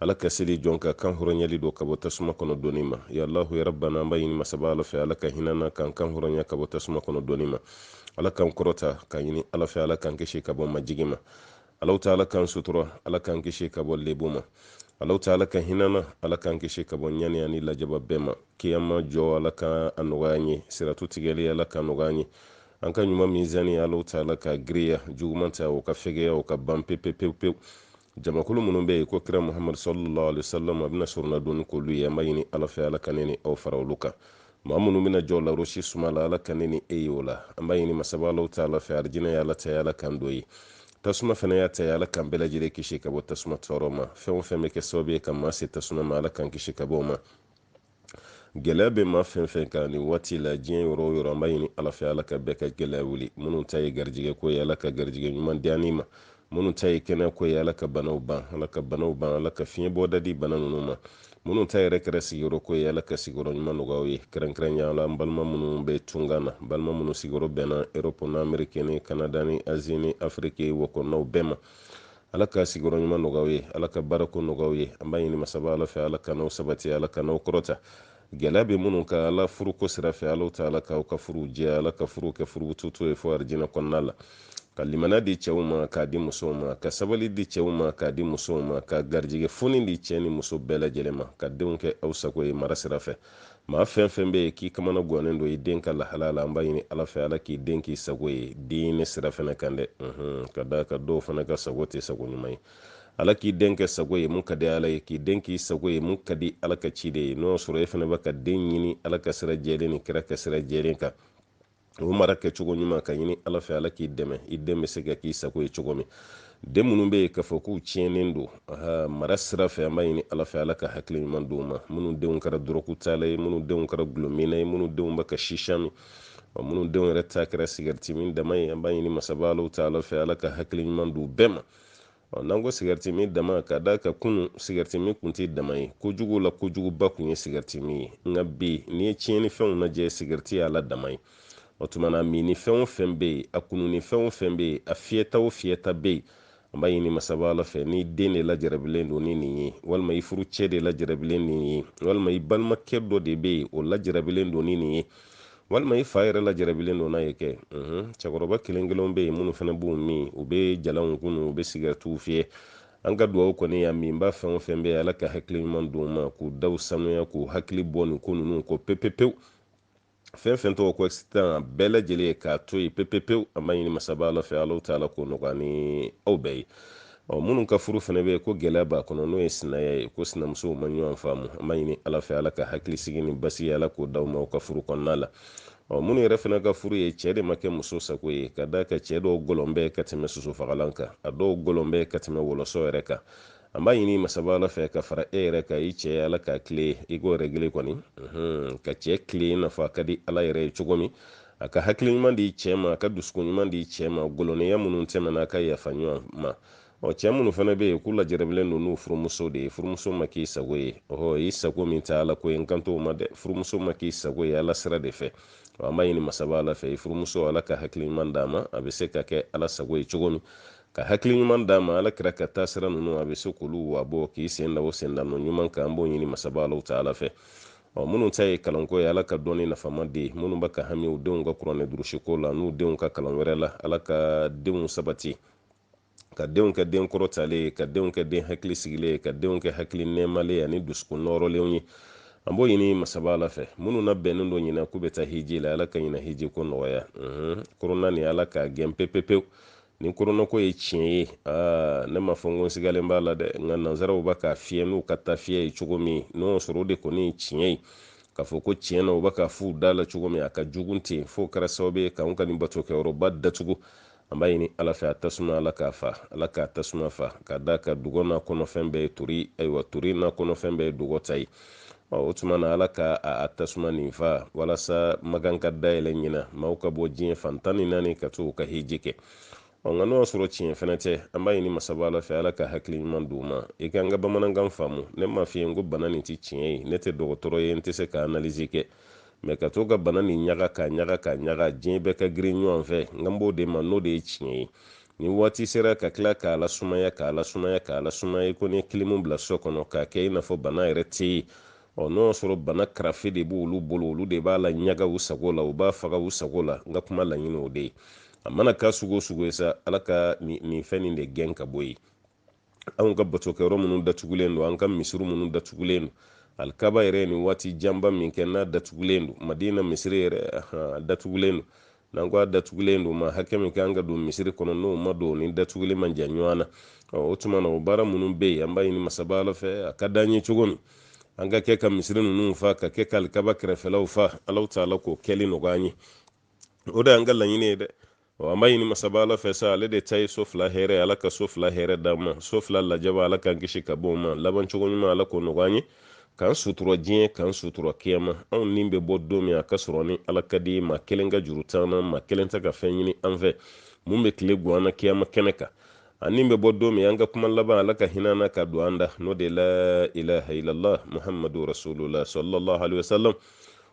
ala ka seli jɔn ka kan hɔrɔnyali don ka bɔ tasuma kɔnɔ donni ma ya allahu ya rabbana an b'a ɲini masaba ala fɛ ala ka hina an na k'an kan hɔrɔnya ka bɔ tasuma kɔnɔ donni ma ala k'an kɔrɔta k'a ɲini ala fɛ ala k'an kisi ka bɔ majigi ma allahu ta'ala k'an sutura ala k'an kisi ka bɔ lebu ma allahu ta'ala ka hina an na ala k'an kisi ka bɔ ɲani ani lajaba bɛɛ ma kiyama jɔ ala ka a nɔgɔya an ye siratu tigɛli ala ka nɔgɔya an ye an ka ɲuman minzani allahu ta'ala ka giriya juguman ta o ka fɛgɛya o ka ban pepepewu jamakulu minnu bɛ yen ko kira muhamadu sallallahu alaihi wasallam a bɛna sorona donni k'olu ye an b'a ɲini ala fɛ ala ka ne ni aw fara olu kan maa minnu bɛna jɔ larosi suma la ala ka ne ni e ye o la an b'a ɲini masaba allahu ta'ala fɛ arijinɛ ye ala ta ye ala k'an don yen tasuma fana y'a ta ye ala k'an bɛɛ lajɛlen kisi ka bɔ tasuma tɔɔrɔ ma fɛn o fɛn bɛ kɛ sababu ye ka maa se tasuma ma ala k'an kisi ka bɔ o ma gɛlɛya bɛ maa fɛn fɛn kan nin waati la diɲɛ yɔrɔ yɔrɔ an b'a ɲini ala fɛ ala ka bɛɛ ka gɛlɛya wuli minnu ta ye garijɛgɛ ko ye ala ka garijɛgɛ ɲuman di ani ma minnu ta ye kɛnɛ ko ye ala ka banaw ban ala ka banaw ban ala ka fiɲɛ bɔda di bana ninnu ma minnu ta yɛrɛ kɛra sigiyɔrɔ ko ye ala ka sigiyɔrɔ ɲuman nɔgɔya aw ye kɛrɛnkɛrɛnya la an balima minnu bɛ tunkan na balima minnu sigiyɔrɔ bɛnna erɔpu ni ameriki ni kanada ni azi ni afiriki o kɔnɔnaw bɛɛ ma ala ka sigiyɔrɔ ɲuman nɔgɔya aw ye ala ka baarako nɔgɔya aw ye an b'a ɲini masaba ala fɛ ala k'an n'aw sabati ala k'an n'aw kɔrɔta gɛlɛya bɛ minnu kan ala furuko sira fɛ allahu ta'ala k'aw ka furuw jɛ ala ka furuw kɛ furubututo ye fo arijinɛ kɔnɔna ala ka limana di cɛw ma k'a di musow ma ka sabali di cɛw ma k'a di musow ma ka garijɛgɛ foni di cɛɛ ni muso bɛɛ lajɛlen ma ka denw kɛ aw sago ye mara sira fɛ maa fɛn fɛn bɛ yen k'i kamana gwannen don i den ka lahala la an b'a ɲini ala fɛ ala k'i den k'i sago ye diinɛ sira fana kan dɛ ka d'a kan dɔw fana ka sago tɛ sago ɲuman ye ala k'i den kɛ sago ye mun ka di ala ye k'i den k'i sago ye mun ka di ala ka ciden ye n'o y'a sɔrɔ e fana bɛ ka den ɲini ala ka sira jɛlen ni kira ka sira jɛlen kan o mara kɛ cogo ɲuman k'a ɲini ala fɛ ala k'i dɛmɛ i den bɛ se ka k'i sago ye cogo min den minnu bɛ yen k'a fɔ k'u tiɲɛnen don mara sira fɛ an b'a ɲini ala fɛ ala ka hakili ɲuman d'u ma minnu denw kɛra dɔrɔgutala ye minnu denw kɛra dɔlɔminna ye minnu denw bɛ ka shisha min wa minnu denw yɛrɛ ta kɛra sigɛriti min dama ye an b'a ɲini masaba ala ta'ala fɛ ala ka hakili ɲuman d'u bɛɛ ma Ɔ n'an ko sigaritimin dama ka d'a kan kunun sigaritimin kun tɛ dama ye kojugu la kojuguba kun ye sigaritimin ye nka bi n'i ye tiɲɛni fɛnw lajɛ sigariti y'a la dama ye o tuma na minni fɛn o fɛn bɛ yen a kununi fɛn o fɛn bɛ yen a fiyɛta o fiyɛta bɛ yen an b'a ɲini masaba ala fɛ n'i den de lajarabilen don ni nin ye walima i furucɛ de lajarabilen nin ye walima i balimakɛ dɔ de bɛ yen o lajarabilen don ni nin ye walima i fa yɛrɛ lajarabilen don n'a ye kɛ cɛkɔrɔba kelen kelenw bɛ yen minnu fana b'u min u bɛ jalanw kunu u bɛ sigɛritiw fiyɛ an ka dugawu kɔni y'a minbaa fɛn o fɛn bɛ yen ala ka hakili ɲuman d'u ma k'u daw sanuya k'u hakili bɔ nin ko ninnu kɔ pepepewu fɛn fɛn tɔgɔ ko excitant a bɛɛ lajɛlen ye k'a to yen pepepewu an b'a ɲini masaba ala fɛ ala ta'ala k'o nɔgɔya an ni aw bɛɛ ye ɔ minnu ka furu fana bɛ yen ko gɛlɛya b'a kɔnɔ n'o ye sinaya ye ko sinamusow ma ɲɔgɔn faamu an b'a ɲini ala fɛ ala ka hakilisigi ni basigi ala k'o d'aw ma aw ka furu kɔnɔna la ɔ minnu yɛrɛ fana ka furu ye cɛɛ de ma kɛ muso sago ye ka d'a kan cɛɛ dɔw gɔlɔn bɛ ka tɛmɛ sosofagalan kan a dɔw gɔlɔn bɛ ka tɛmɛ wɔlɔsɔ yɛrɛ kan an b'a ɲini masaba ala fɛ ka fara e yɛrɛ kan i cɛɛ ala k'a kile i ko rɛgile kɔni ka cɛɛ kile i n'a fɔ a ka di ala yɛrɛ ye cogo min a ka hakili ɲuman di cɛɛ ma a ka dusukun ɲuman di cɛɛ ma gɔlɔnniya minnu tɛmɛna a ka yafa ɲɔgɔn ma ɔ cɛɛ minnu fana be yen k'u lajarabilen don n'u furumuso de ye furumuso ma k'i sago ye ɔhɔ i sago min tɛ ala ko ye n kan t'o ma dɛ furumuso ma k'i sago ye ala sira de fɛ ɔ an b'a ɲini masaba ala fɛ i furumuso ala ka hakili ɲuman d'a ma a be se ka kɛ ala sago ye cogo min ka hakili ɲuman d'a ma ala kira ka taasira nunu a be se k'olu wabɔ k'i sen da o sendanɔ ɲuman kan an b'o ɲini masaba alaw taala fɛ ɔ minnu ta ye kalanko ye ala ka dɔnni nafama di minnu bɛ ka hami u denw ka kuranɛ durusiko la n'u denw ka kalan wɛrɛ la ala ka denw sabati ka denw kɛ den kɔrɔtalen ye ka denw kɛ den hakili sigilen ye ka denw kɛ hakili nɛɛmalen ye ani dusukun nɔɔrɔlenw ye an b'o ɲini masaba ala fɛ minnu nabɛnnen don ɲinɛ k'u bɛ taa hiji la ala ka ɲinɛ hiji ko nɔgɔya korona nin ala k'a gɛn pepepewu ni koronako ye tiɲɛ ye aa ne m'a fɔ n ko n sigalen b'a la dɛ nka nanzaraw bɛ k'a fiyɛ n'u ka tafiyɛ ye cogo min n'o sɔrɔ o de kɔni ye tiɲɛ ye k'a fɔ ko tiɲɛ na u bɛ k'a f'u da la cogo min a ka jugun ten f'o kɛra sababu ye k'anw ka nin batokɛyɔrɔba datugu an b'a ɲini ala fɛ a tasuma ala k'a fa ala k'a tasuma fa ka d'a kan dugɔ n'a kɔnɔfɛn bɛɛ ye tori ayiwa tori n'a kɔnɔfɛn bɛɛ ye dugɔ ta ye o tuma na ala ka a tasuma nin fa walasa makan ka dayɛlɛ ɲina maaw ka bɔ diɲɛ fan tan ni naani ka to ka hiji kɛ ɔ nka n'o y'a sɔrɔ tiɲɛ fɛnɛ tɛ an b'a ɲini masaba ala fɛ ala ka hakili ɲuman d'u ma i ka n ka bamanankan faamu ne m'a f'i ye n ko bana nin tɛ tiɲɛ ye ne tɛ dɔgɔtɔrɔ ye n tɛ se ka analizi kɛ mɛ ka to ka bana nin ɲaga ka ɲaga ka ɲaga diɲɛ bɛɛ ka girin ɲɔgɔn fɛ n kan b'o de ma n'o de ye tiɲɛ ye ni waati sera ka tila k'a lasumaya k'a lasumaya k'a lasumaya i ko n'i ye kilimu bila so kɔnɔ k'a kɛ i n'a fɔ bana yɛrɛ tɛ yen ɔ n'o y'a sɔrɔ bana karafe de b'olu bolo olu de b'a laɲaga u sago la u b'a faga u sago la n ka kuma laɲini o de ye a mana k'a sugu o sugu ye sa ala ka nin fɛn nin de gɛn ka bɔ yen anw ka batokɛyɔrɔ minnu datugulen don an ka misiri minnu datugulen don alikaba yɛrɛ ni waati janba min kɛ n'a datugulen don madina misiri yɛrɛ datugulen don n'an ko a datugulen don maa hakɛ min ka kan ka don misiri kɔnɔ n'o ma don ni datuguli man jan ɲɔgɔn na o tuma na o baara minnu bɛ yen an b'a ɲini masaba ala fɛ a ka d'an ye cogo min an ka kɛ ka misiri ninnu fa ka kɛ ka alikaba kɛrɛfɛlaw fa alaw taala k'o kɛli nɔgɔya an ye o de y'an ka laɲini ye dɛ an b'a ɲini masaba ala fɛ sa ale de ta ye so fila hɛrɛ ala ka so fila hɛrɛ d'an ma so fila lajaba ala k'an kisi ka bɔ o ma laban cogo ɲuman ala k'o nɔgɔya an ye k'an sutura diɲɛ k'an sutura kiyama anw ni bɛ bɔ don min a ka sɔrɔ ni ala ka di maa kelen ka juru t'an na maa kelen tɛ ka fɛn ɲini an fɛ mun bɛ tile gan an na kiyama kɛnɛ kan an ni bɛ bɔ don min an ka kuma laban ala ka hinɛ an na k'a don an da n'o de la ilaha illallah muhammadu rasulullah sallallahu alaihi wasallam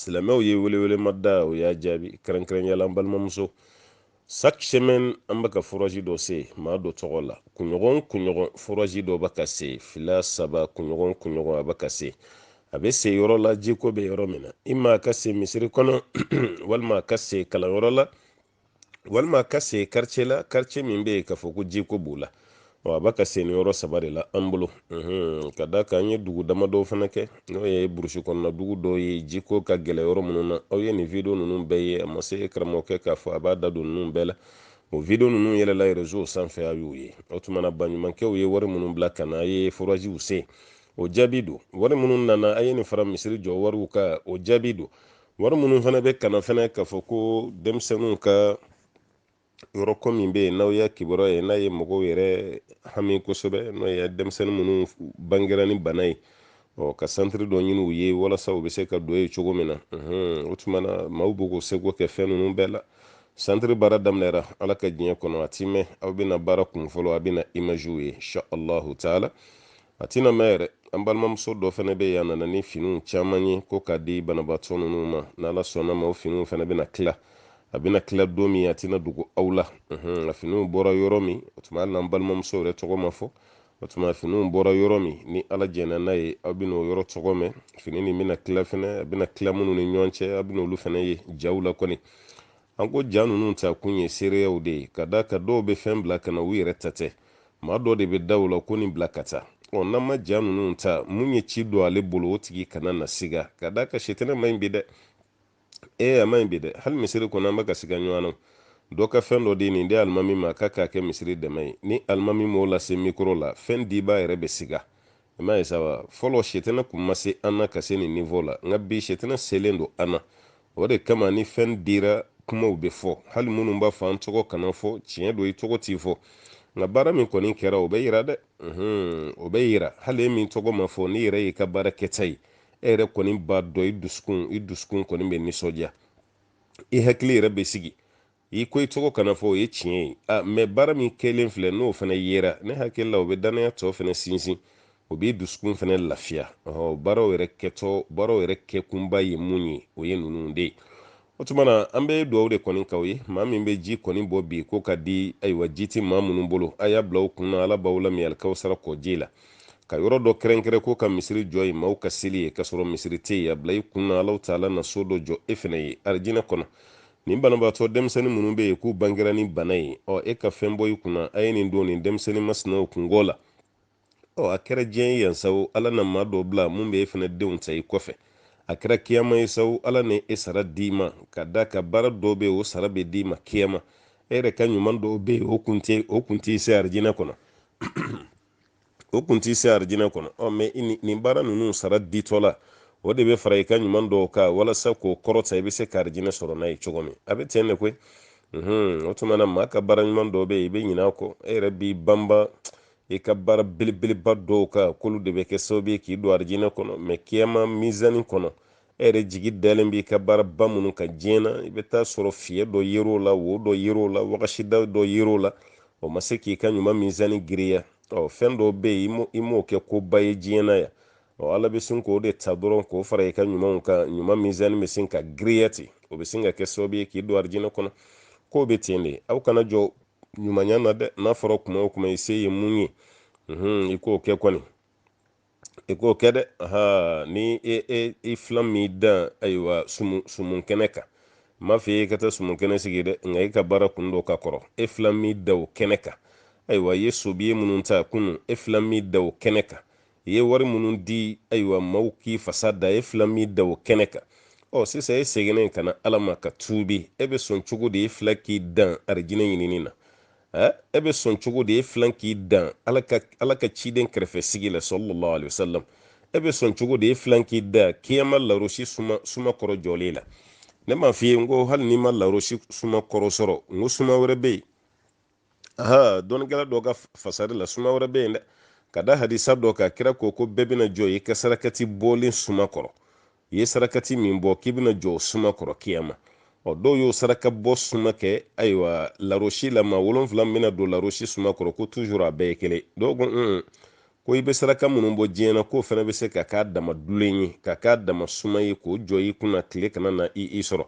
silamɛw ye welewele ma da o y'a jaabi kɛrɛnkɛrɛnyala an balimamuso chaque semaine an bɛ ka forazi dɔ sen maa dɔ tɔgɔ la kunɲɔgɔn kunɲɔgɔn forazi dɔ bɛ ka sen fila saba kunɲɔgɔn kunɲɔgɔn a bɛ ka sen a bɛ sen yɔrɔ la jiko bɛ yɔrɔ min na i ma a ka sen misiri kɔnɔ walima a ka sen kalanyɔrɔ la walima ka sen quartier la quartier min bɛ yen k'a fɔ ko jiko b'o la a bɛ ka sen nin yɔrɔ saba de la an bolo ka d'a kan an ye dugu dama dɔw fana kɛ n'o ye burusi kɔnɔna dugu dɔw ye jiko ka gɛlɛn yɔrɔ minnu na aw ye nin video ninnu bɛɛ ye a ma se karamɔgɔkɛ k'a fɔ a b'a da don ninnu bɛɛ la o video ninnu yɛlɛla reseau sanfɛ a y'u ye o tuma na baɲumankɛw ye wari minnu bila ka na a ye foraziw sen o jaabi don wari minnu nana a ye nin fara misiri jɔ wariw kan o jaabi don wari minnu fana bɛ ka na fana k'a fɔ ko denmisɛnninw ka yɔrɔ ko min bɛ yen n'aw y'a kibaruya ye n'a ye mɔgɔw yɛrɛ hami kosɛbɛ n'o ye denmisɛnnin minnu bangera ni bana ye ɔ ka santiri dɔ ɲini u ye walasa u bɛ se ka don yen cogo min na o tuma na maaw bɛ k'u seko kɛ fɛn ninnu bɛɛ la santiri baara daminɛra ala ka diɲɛ kɔnɔ a ti mɛn aw bɛna baara kunfɔlɔ aw bɛna imaziw ye insha allahu taala a tɛna mɛn yɛrɛ an balimamuso dɔ fana bɛ yen a nana ni finiw caman ye ko k'a di banabaatɔ ninnu ma n'ala sɔnna a ma o finiw fana bɛna tila a bɛna tila don min a tɛna dogo aw la nka finiw bɔra yɔrɔ min o tuma hali n'an balimamuso yɛrɛ tɔgɔ ma fɔ o tuma finiw bɔra yɔrɔ min ni ala jɛnna n'a ye aw bɛna o yɔrɔ tɔgɔ mɛn fini nin bɛna tila fana a bɛna tila minnu ni ɲɔgɔn cɛ aw bɛna olu fana ye jaw la kɔni an ko ja ninnu ta kun ye seereyaw de ye ka d'a kan dɔw bɛ fɛn bila ka na u yɛrɛ ta tɛ maa dɔ de bɛ da u la ko nin bila ka taa ɔ n'an ma ja ninnu ta mun ye ci don ale bolo o tigi kana na siga ka d'a kan sitanɛ ma ɲi bi dɛ ee a ma ɲi bi dɛ hali misiri kɔnɔ an bɛ ka siga ɲɔgɔn na dɔ ka fɛn dɔ di nin di alimami ma k'a k'a kɛ misiri dɛmɛ ye ni alimami m'o lase mikoro la fɛn dibaa yɛrɛ bɛ siga i m'a ye saba fɔlɔ sitanɛ kun ma se an na ka se nin nivo la nka bi sitanɛ selen don an na o de kama ni fɛn dira kumaw bɛ fɔ hali minnu b'a fɔ an tɔgɔ kana fɔ tiɲɛ don i tɔgɔ ti fɔ nka baara min kɔni kɛra o bɛ yira dɛ o bɛ yira hali e min tɔgɔ ma fɔ n'i yɛrɛ y'i ka baara kɛta ye e yɛrɛ kɔni b'a dɔn i dusukun i dusukun kɔni bɛ nisɔndiya i hakili yɛrɛ bɛ sigi i ko i tɔgɔ kana fɔ o ye tiɲɛ ye a mɛ baara min kɛlen filɛ n'o fana yera ne hakili la o bɛ dannaya tɔ fana sinsin o b'i dusukun fana lafiya ɔhɔ baaraw yɛrɛ kɛtɔ baaraw yɛrɛ kɛkunba ye mun ye o ye ninnu de ye o tuma na an bɛ dugawu de kɔni k'aw ye maa min bɛ ji kɔni bɔ bi ko ka di ayiwa ji tɛ maa minnu bolo a y'a bila u kun na ala b'aw lamin alikawusara kɔji la ka yɔrɔ dɔ kɛrɛnkɛrɛn ko ka misiri jɔ yen maaw ka seli yen k'a sɔrɔ misiri tɛ yen a bila i kun na allahu taala na so dɔ jɔ e fana ye arijinɛ kɔnɔ nin banabaatɔ denmisɛnnin minnu bɛ yen k'u bangera ni bana ye ɔ e ka fɛn bɔ i kunna a ye nin don nin denmisɛnnin masinaw kunko la ɔ a kɛra diɲɛ ye yan sawo ala na maa dɔ bila min bɛ e fana denw ta i kɔfɛ a kɛra kiyama ye sawo ala na e sara d'i ma ka d'a kan baara dɔ bɛ o sara bɛ d'i ma kiyama e yɛrɛ ka ɲuman dɔw bɛ yen o kun tɛ o kun t'i se arijinɛ kɔnɔ o kun t'i se arijinɛ kɔnɔ ɔ mɛ nin baara ninnu sara ditɔ la o de bɛ fara i ka ɲuman dɔw kan walasa k'o kɔrɔta i bɛ se ka arijinɛ sɔrɔ n'a ye cogo min a bɛ ten de koyi o tuma na maa ka baara ɲuman dɔw bɛ yen i bɛ ɲinɛ a kɔ e yɛrɛ b'i banba i ka baara belebeleba dɔw kan k'olu de bɛ kɛ sababu ye k'i don arijinɛ kɔnɔ mɛ kiyama mizani kɔnɔ e yɛrɛ jigi dalen b'i ka baara ba minnu kan diɲɛ na i bɛ taa sɔrɔ fiɲɛ dɔ yer'o la wo dɔ yer'o la wagasida dɔ yer'o la o ma se k'i ka ɲuman mizani giriya ɔ fɛn dɔw bɛ yen i m'o kɛ ko ba ye diɲɛ na yan ɔ ala bɛ sin k'o de ta dɔrɔn k'o fara i ka ɲumanw kan ɲuman mizani bɛ sin ka giriya ten o bɛ sin ka kɛ sababu ye k'i don arijinɛ kɔnɔ k'o bɛ ten de aw kana jɔn ɲumanya na dɛ n'a fɔra kuma o kuma i se ye mun ye i k'o kɛ kɔni i k'o kɛ dɛ ni e, e, i filan m'i dan ayiwa sumun kɛnɛ kan m'a f'i ye i ka taa sumun kɛnɛ sigi dɛ nka i ka baara kun don ka kɔrɔ e filan m'i dan o kɛnɛ kan ayiwa i ye sobiye minnu ta kunun e filan m'i dan o kɛnɛ kan i ye wari minnu di ayiwa maaw k'i fasa da e filan m'i dan o kɛnɛ kan ɔ sisan e seginnen ka na ala ma ka tuubi e bɛ sɔn cogo di e filan k'i dan arijinɛ ɲinini na ɛ e bɛ sɔn cogo di e filan k'i dan ala ka ala ka ciden kɛrɛfɛ sigi la sallallahu alaihi wasallam e bɛ sɔn cogo di e filan k'i dan kiyama larosi suma suma kɔrɔ jɔli la ne m'a f'i ye n ko hali n'i ma larosi suma kɔrɔ sɔrɔ n ko suma wɛrɛ bɛ yen aha dɔnnikɛla dɔ ka fasari la suma wɛrɛ bɛ yen dɛ ka da hadisa dɔ kan kira ko ko bɛɛ bɛna jɔ i ka sarakati bɔlen suma kɔrɔ i ye sarakati min bɔ k'i bɛna jɔ suma kɔrɔ kiyama ɔ dɔw y'o saraka bɔ suma kɛ ayiwa larosi la maa wolonfila bɛna don larosi suma kɔrɔ ko tuzuru a bɛɛ ye kelen dɔw ko un ko i bɛ saraka minnu bɔ diɲɛ na k'o fana bɛ se ka k'a dama dulen ye ka k'a dama suma ye k'o jɔ i kunna tile kana na i i sɔrɔ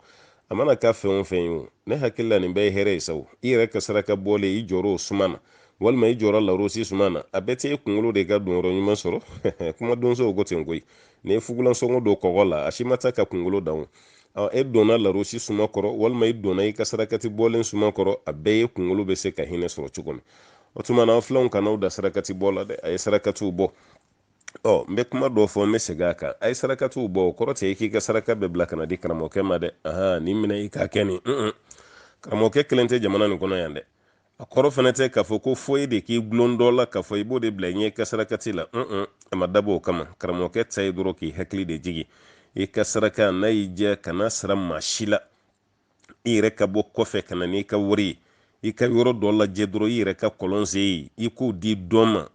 a mana k'a fɛn o fɛn ye o ne hakili la nin bɛɛ ye hɛrɛ ye sawo i yɛrɛ ka saraka bɔlen i jɔra o suma na walima i jɔra larosi suma na a bɛɛ tɛ e kunkolo de ka donyɔrɔ ɲuman sɔrɔ kumadonsow ko ten koyi n'i ye fugulansɔngɔ don kɔgɔ la a si ma taa ka kungolo dan o e donna larosi suma kɔrɔ walima i donna i ka sarakati bɔlen suma kɔrɔ a bɛɛ ye kungolo bɛ se ka hinɛ sɔrɔ cogo min o tuma na filanw kana u da sarakati bɔ la dɛ a ye sarakatiw bɔ ɔ n bɛ kuma dɔ fɔ n bɛ segin a kan a ye sarakatiw bɔ o kɔrɔ tɛ i k'i ka saraka bɛɛ bila ka n'a di karamɔgɔkɛ ma dɛ ahan nin minɛ i k'a kɛ nin karamɔgɔkɛ kelen tɛ jamana nin kɔnɔ yan dɛ a kɔrɔ fana tɛ k'a fɔ ko fo e de k'i gulon dɔ la k'a fɔ i b'o de bila i ɲɛ i ka sarakati la un a ma dabɔ o kama karamɔgɔkɛ ta ye dɔrɔn k'i hakili de jigi i ka saraka n'a y'i diya kana sara maa si la i yɛrɛ ka bɔ kɔfɛ ka na n'i ka wari ye i ka yɔrɔ dɔ lajɛ dɔrɔn i yɛrɛ ka kɔlɔn sen ye i k'o di dɔ ma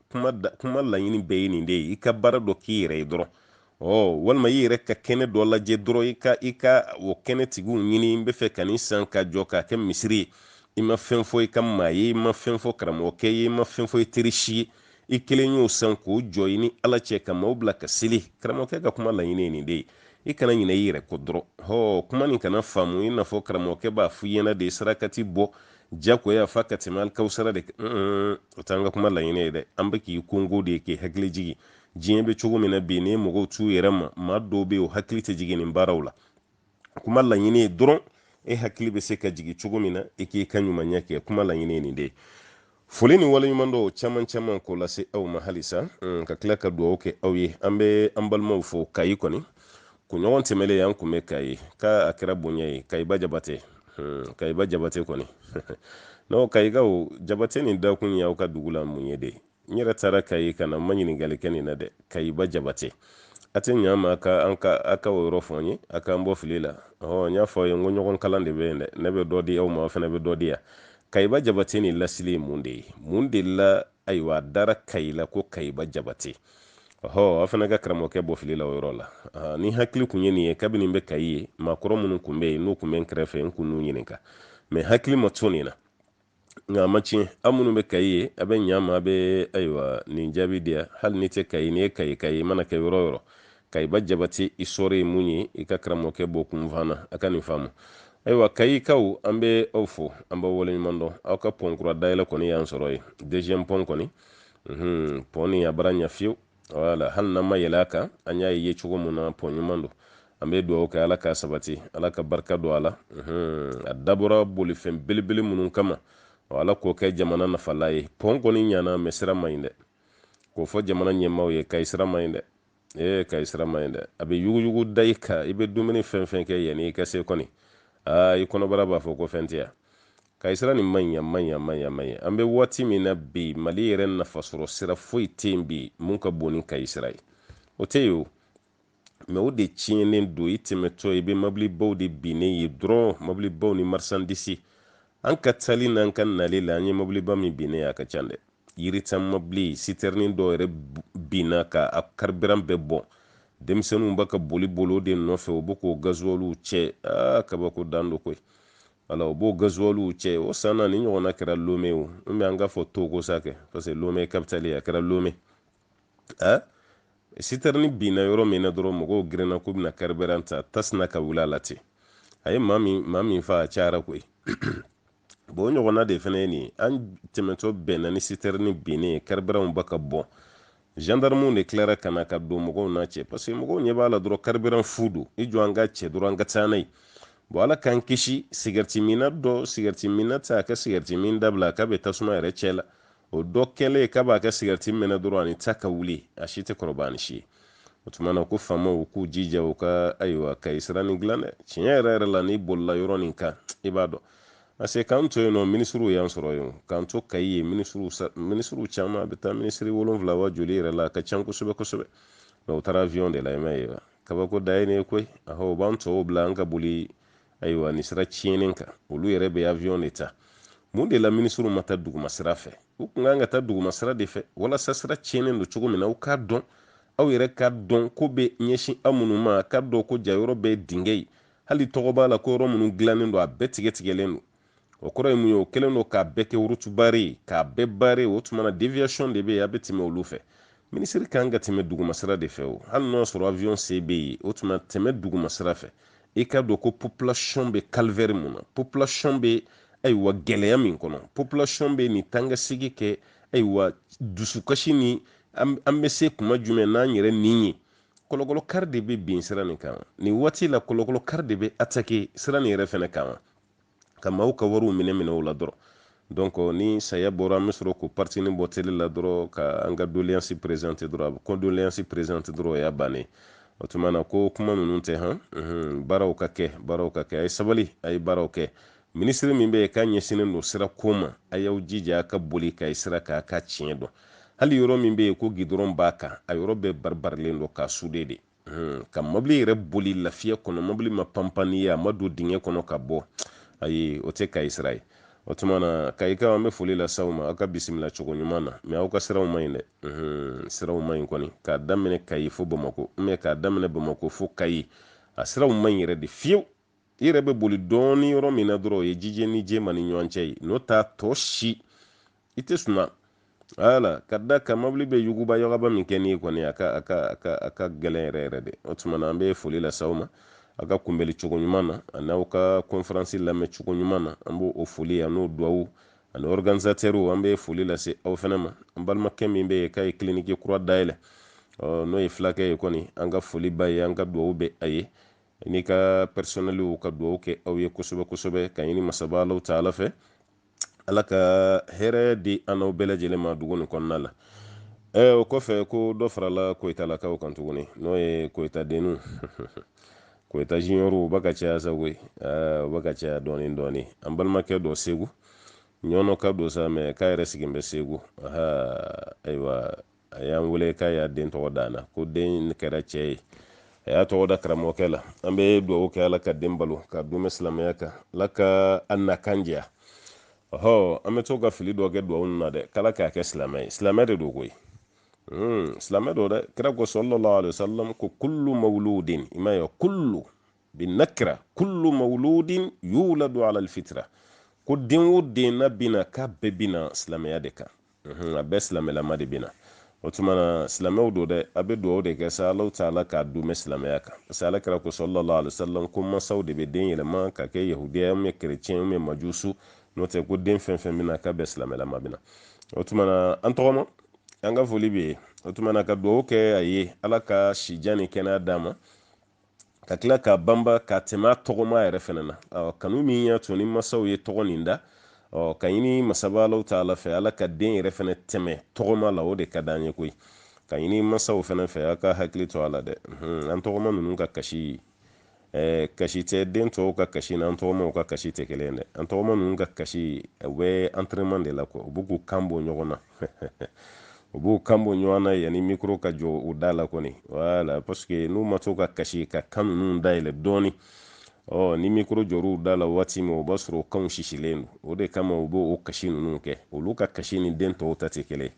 kuma laɲini bɛɛ ye nin de ye i ka baara dɔ k'i yɛrɛ ye dɔrɔn ɔ walima i yɛrɛ ka kɛnɛ dɔ lajɛ dɔrɔn i ka i ka o kɛnɛ tigiw ɲini n bɛ fɛ ka nin san ka jɔ k'a kɛ misiri ye i ma fɛn fɔ i ka maa ye i ma fɛn fɔ karamɔgɔkɛ ye i ma fɛn fɔ i teri si ye i kelen y'o san k'o jɔ i ni ala cɛ ka maaw bila ka seli karamɔgɔkɛ ka kuma laɲini ye nin de ye i kana ɲinɛ i yɛrɛ kɔ dɔrɔn hɔ kuma nin kana faamu i n'a fɔ karamɔgɔkɛ b'a f'i ɲɛ na de sarakati bɔ jagoya fa ka tɛmɛ alikawusara de kan o t'an ka kuma laɲini ye dɛ an bɛ k'i konko de ye k'i hakili jigin diɲɛ bɛ cogo min na bi ni mɔgɔw t'u yɛrɛ ma maa dɔw bɛ yen o hakili tɛ jigin nin baaraw la kuma laɲini ye dɔrɔn e hakili bɛ se ka jigin cogo min na i k'i ka ɲumanya kɛ kuma laɲini ye nin de ye foli ni waleɲumandɔn caman caman k'o lase aw ma halisa mm, ka tila ka dugawu kɛ aw ye an bɛ an balimaw fo kayi kɔni kunɲɔgɔn tɛmɛlen an kun bɛ kayi k'a a kɛra bonya ye kayiba jabate mm, kayiba jabate kɔni n'o kayikaw jabate nin dakun ye aw ka dugu la mun ye de n yɛrɛ taara kayi ka na n ma ɲininkali kɛ nin na dɛ kayiba jabate a tɛ ɲa ma a ka o yɔrɔ fɔ n ye a k'an bɔ fili la ɔhɔ n y'a fɔ a ye n ko ɲɔgɔn kalan de bɛ yen dɛ ne bɛ dɔ di aw ma aw fana bɛ dɔ di yan kayiba jabate nin lasili ye mun de ye mun de la ayiwa a dara kayi la ko kayiba jabate ɔhɔ aw fana ka karamɔgɔkɛ bɔ fili la o yɔrɔ la ni hakili kun ye nin ye kabini n bɛ kayi ye maakɔrɔ minnu kun bɛ yen n'u kun bɛ n kɛrɛfɛ n kun n'u ɲininka mɛ hakili ma to nin na nka a ma tiɲɛ aw minnu bɛ kayi ye a bɛ ɲa ma a bɛ ayiwa nin jaabi di yan hali n'i tɛ kayi n'i ye kayika ye mana kɛ yɔrɔ yɔrɔ kayiba jabate i sɔrɔ ye mun ye i ka karamɔgɔkɛ bɔ kunfan na a ka nin faamu ayiwa kayikaw an bɛ aw fo an b'aw waleɲuman dɔn aw ka pɔn kura dayɛlɛ kɔni y'an sɔrɔ ye deuxième pɔn kɔni pɔn nin a bara ɲa fiyewu wala hali n'an ma yɛlɛ a kan an y'a ye cogo min na pɔn ɲuman don an bɛ dugawu kɛ ala ka sabati ala ka barika don a la a dabɔra bolifɛn belebele minnu kama ala k'o kɛ jamana nafala ye pɔn kɔni ɲana mɛ sira man ɲi dɛ k'o fɔ jamana ɲɛmaaw ye kayi sira man ɲi dɛ ee kayi sira man ɲi dɛ a bɛ yuguyugu da i kan i bɛ dumuni fɛn fɛn kɛ yani i ka se kɔni aa i kɔnɔbara b'a fɔ ko fɛn tɛ yan Kayi sira nin man ɲi a man ɲi a man ɲi a man ɲi an bɛ waati min na bi mali yɛrɛ nafasɔrɔ sira foyi tɛ yen bi mun ka bon ni kayi sira ye o tɛ yen o mɛ o de tiɲɛnen don i tɛmɛtɔ i bɛ mɔbilibaw de binnen ye dɔrɔn mɔbilibaw ni marisandisi an ka taali n'an ka nali la an ye mɔbiliba min binnen a ka ca dɛ yiritan mɔbili sitɛrini dɔw yɛrɛ binna ka a karibiran bɛɛ bɔn denmisɛnninw b'a ka boli boli o de nɔfɛ u bɛ k'o gazuwaliw cɛ aa kabako dan don koyi wala o b'o gazuwaliw cɛ o san na nin ɲɔgɔnna kɛra lome o n bɛ an ka fɔ togo sa kɛ parce que lome kapitali a kɛra lome a sitɛrini binna yɔrɔ min na dɔrɔn mɔgɔw girinna k'u bɛna kariberan ta tasuma ka wuli a la ten a ye maa min maa min fa a cayara koyi bon o ɲɔgɔnna de fana ye nin ye an tɛmɛtɔ bɛnna ni sitɛrini binnen ye kariberanw b'a ka bɔn gendarmew de tilara ka na ka don mɔgɔw n'a cɛ parce que mɔgɔw ɲɛ b'a la dɔrɔn karibiran fu don i jɔ an ka cɛ dɔrɔn an ka taa n'a ye bon ala k'an kisi sigarɛti minna dɔ sigarɛti minna tɛ a ka sigarɛti min dabila k'a bɛ tasuma yɛrɛ cɛ la o dɔ kɛlen k'a b'a ka sigarɛti mɛnɛ dɔrɔn ani ta ka wuli a si tɛ kɔrɔba ni si ye o tuma na ko faamaw k'u jija u ka ayiwa kayi sira nin dilan dɛ tiɲɛ yɛrɛ yɛrɛ la n'i bolila yɔrɔ nin kan i b'a dɔn parce que k'an to yen nɔ minisiriw y'an sɔrɔ yen k'an to kayi yen minisiriw minisiriw caman a bɛ taa minisiri wolonwula wa joli yɛrɛ la a ka can kosɛbɛ kosɛbɛ mɛ u taara avion de la i m'a ye wa kabako dan ye nin ye koyi ahɔ u b'an tɔw bila an ka boli ayiwa nin sira tiɲɛnen kan olu yɛrɛ bɛ avion de ta mun de la minisiriw ma taa duguma sira fɛ u kun kan ka taa duguma sira de fɛ walasa sira tiɲɛnen don cogo min na aw k'a dɔn aw yɛrɛ k'a dɔn ko bɛ ɲɛsin aw minnu ma k'a dɔn ko jaa yɔrɔ bɛɛ ye dingɛ ye hali tɔgɔ b'a la ko yɔrɔ minnu dilannen don a bɛɛ tigɛtigɛlen don o kɔrɔ ye mun ye o kɛlen don k'a bɛɛ kɛ route barrée ye k'a bɛɛ bare o tuma na deviation de bɛ yen a bɛ tɛmɛ olu fɛ minisiri kan ka tɛmɛ dugumasira de fɛ o hali n'o sɔrɔ avion se bɛ yen o tuma tɛmɛ dugumasira fɛ i k'a dɔn ko population bɛ calvaire mun na population bɛ ayiwa gɛlɛya min kɔnɔ population bɛ nin tangasigi kɛ ayiwa dusukasi nin an bɛ se kuma jumɛn na yɛrɛ nin ye kalo o kalo kari de bɛ bin sira nin kan nin waati la kalo o kalo kari de bɛ atake sira nin yɛrɛ fɛnɛ kan ka maaw ka wariw minɛ minɛ o la dɔrɔn donc ni saya bɔra an bɛ sɔrɔ ko partini bɔ tele la dɔrɔn ka an ka doléance présenter dɔrɔn a bɛ condoléance présenter dɔrɔn o y'a bannen o tuma na ko kuma ninnu tɛ han baaraw ka kɛ baaraw ka kɛ a ye sabali a ye baaraw kɛ minisiri min bɛ yen k'a ɲɛsinnen don sira ko ma a y'aw jija ka boli kayi sira kan k'a tiɲɛ dɔn hali yɔrɔ min bɛ yen ko gidɔrɔn b'a kan a yɔrɔ bɛɛ baribarilen don k'a sude de hmm, ka mɔbili yɛrɛ boli lafiya kɔnɔ mɔbili ma panpan n'i ye a ma don dingɛ kɔnɔ ka bɔ ayi o tɛ kayi sira ye o tuma na kayikaw an bɛ foli lase aw ma aw ka bisimila cogo ɲuman na mɛ aw ka siraw man ɲi dɛ hmm, siraw man ɲi kɔni k'a daminɛ kayi fo bamako mɛ k'a daminɛ bamako fo kayi a siraw man ɲi yɛrɛ de fiyewu i yɛrɛ bɛ boli dɔɔni yɔrɔ min na dɔrɔn o ye jijeni jema ni ɲɔgɔn cɛ ye n'o t'a tɔ si i tɛ suma wala ka da ka mobili bɛ yuguba yagaba min kɛ n'i kɔni a ka a ka a ka a ka gɛlɛn yɛrɛ yɛrɛ de o tuma na an bɛ foli lase aw ma a ka kunbɛli cogo ɲuman na ani aw ka kɔnferansi lamɛn cogo ɲuman na an b'o o foli a n'o duwawu ani ɔriganisatɛriw an bɛ foli lase aw fana ma an balimakɛ min bɛ yen k'a ye kiliniki kura dayɛlɛ n'o ye fulakɛ ye kɔni an ka foli ba ye an ka duwawu bɛ a ye ani ka pɛrisɔnɛliw ka dugawu kɛ aw ye kosɛbɛ kosɛbɛ ka ɲini masaba alahu taala fɛ ala ka hɛrɛ di an n'aw bɛɛ lajɛlen ma dugu nin kɔnɔna la ɛ o kɔfɛ ko dɔ farala koyitalakaw kan tuguni n'o ye koyita denninw koyita juniɔrw u bɛ ka caya sa koyi u bɛ ka caya dɔɔnin dɔɔnin an balimakɛ dɔ segu ɲɔnɔka don sa mɛ k'a yɛrɛ sigin bɛ segu ayiwa a y'an wele k'a y'a den tɔgɔ da na ko den kɛra cɛ ye a y'a tɔgɔ da karamɔgɔkɛ la an bɛ dugawu kɛ ala ka den balo k'a dumɛ silamɛya kan ala k'a nakan diya ɔhɔ an bɛ to ka fili dɔ kɛ dugawu na dɛ k'ala k'a kɛ silamɛ ye silamɛ de don koyi hmm, silamɛ don dɛ kira ko sallallahu alaihi wasallam ko kullu mawludin i m'a ye kullu bi nakira kullu mawludin yuladu ala alfitra ko den o den na bɛ na k'a bɛɛ bɛ na silamɛya de kan a bɛɛ silamɛlama de bɛ na o tuma na silamɛw don dɛ a bɛ dugawu de kɛ sa alahu taala k'a dumɛ silamɛya kan parce que ala kira ko sallallahu alaihi wasallam ko mansaw de bɛ den yɛlɛma ka kɛ yahudiya mɛ kerecɛn mɛ majusu n'o tɛ ko den fɛn fɛn bɛ na k'a bɛɛ silamɛlama bɛ na o tuma na an tɔgɔma an ka foli bɛ yen o tuma na ka dugawu kɛ a ye ala ka sijan ni kɛnɛya d'a ma ka tila k'a banba ka tɛmɛ a tɔgɔma yɛrɛ fana na kanu min y'a to ni masaw ye tɔgɔ nin da ka ɲini masaba alahu taala fɛ ala ka den yɛrɛ fana tɛmɛ tɔgɔma la o de ka d'an ye koyi ka ɲini masaw fana fɛ a ka hakili to a la dɛ an tɔgɔma ninnu ka kasi kasi tɛ den tɔw ka kasi n'an tɔgɔmaw ka kasi tɛ kelen dɛ an tɔgɔma ninnu ka kasi u bɛ entraînement de la quoi u b'u k'u kan bɔ ɲɔgɔn na u b'u kan bɔ ɲɔgɔn na yanni mikoro ka jɔ u da la kɔni wala paseke n'u ma to ka kasi ka kan ninnu dayɛlɛ dɔɔni ɔ ni mikoro jɔr'u da la waati min o b'a sɔrɔ kanw sisilen don o de kama u b'o o kasi ninnu kɛ olu ka kasi ni den tɔw ta tɛ kelen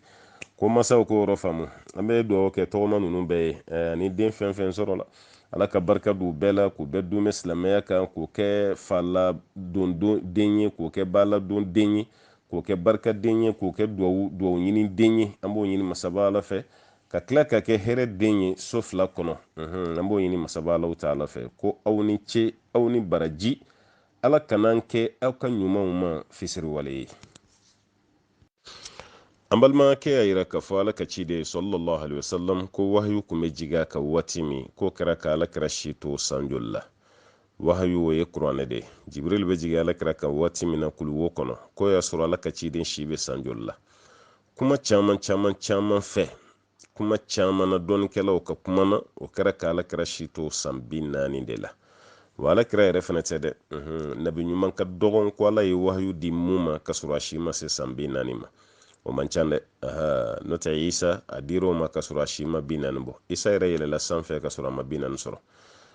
ko masaw k'o yɔrɔ faamu an bɛ dugawu kɛ tɔgɔma ninnu bɛɛ ye eh, ani den fɛn fɛn sɔrɔla ala ka barika don bɛɛ la k'u bɛɛ dumɛ silamɛya kan k'u kɛ fa ladon den ye k'u kɛ ba ladon den ye k'u kɛ barikaden ye k'u kɛ duwawu duwawu ɲini den ye an b'o ɲini masaba ala fɛ ka tila ka kɛ hɛrɛ den ye so fila kɔnɔ an b'o ɲini masaba alahu taala fɛ ko aw ni ce aw ni baraji ala kan'an kɛ aw ka ɲumanw ma fisiriwale ye an balimakɛ y'a yira k'a fɔ ala ka ciden sallallahu alaihi wasallam ko wahayu kun bɛ jigin a kan waati min k'o kɛra ka ala kira si to sanjoli la wahayu o ye kuranɛ de jibril bɛ jigin alakira kan waati min na kulu wo kɔnɔ k'o y'a sɔrɔ ala ka ciden si bɛ san joli la kuma caman caman caman fɛ kuma caman na dɔnnikɛlaw ka kuma na o kɛra ka alakira si to san bi naani de la wa alakira yɛrɛ fana tɛ dɛ nabi ɲuman ka dɔgɔn ko ala ye wahayu di min ma ka sɔrɔ a si ma se san bi naani ma o man ca dɛ n'o tɛ isa a dir'o ma ka sɔrɔ a si ma bi naani bɔ isa yɛrɛ yɛlɛla sanfɛ ka sɔrɔ a ma bi naani sɔrɔ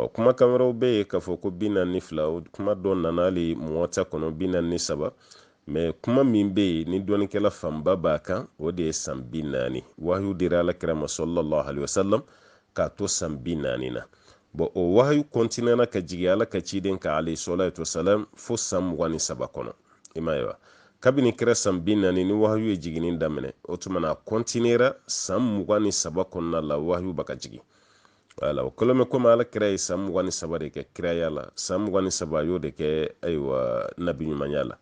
ɔ kumakan wɛrɛw bɛ yen k'a fɔ ko bi naani ni fila o kuma dɔ nana hali muwata kɔnɔ bi naani ni saba mɛ kuma min bɛ yen ni dɔnnikɛla fanba b'a kan o de ye san bi naani wahayu dira alakira ma sallallahu alayhi wa salam k'a to san bi naani na bɔn o wahayu kɔntinɛna ka jigin ala ka ciden kan alayhi sɔlatu wasalam fo san mugan ni saba kɔnɔ i m'a ye wa kabini kira san bi naani ni wahayu ye jiginni daminɛ o tuma na a kɔntinera san mugan ni saba kɔnɔna la wahayu b'a ka jigin wala o kɛlen bɛ komi ala kira ye san mugan ni saba de kɛ kiraya la san mugan ni saba a y'o de kɛ ayiwa nabi ɲumanya la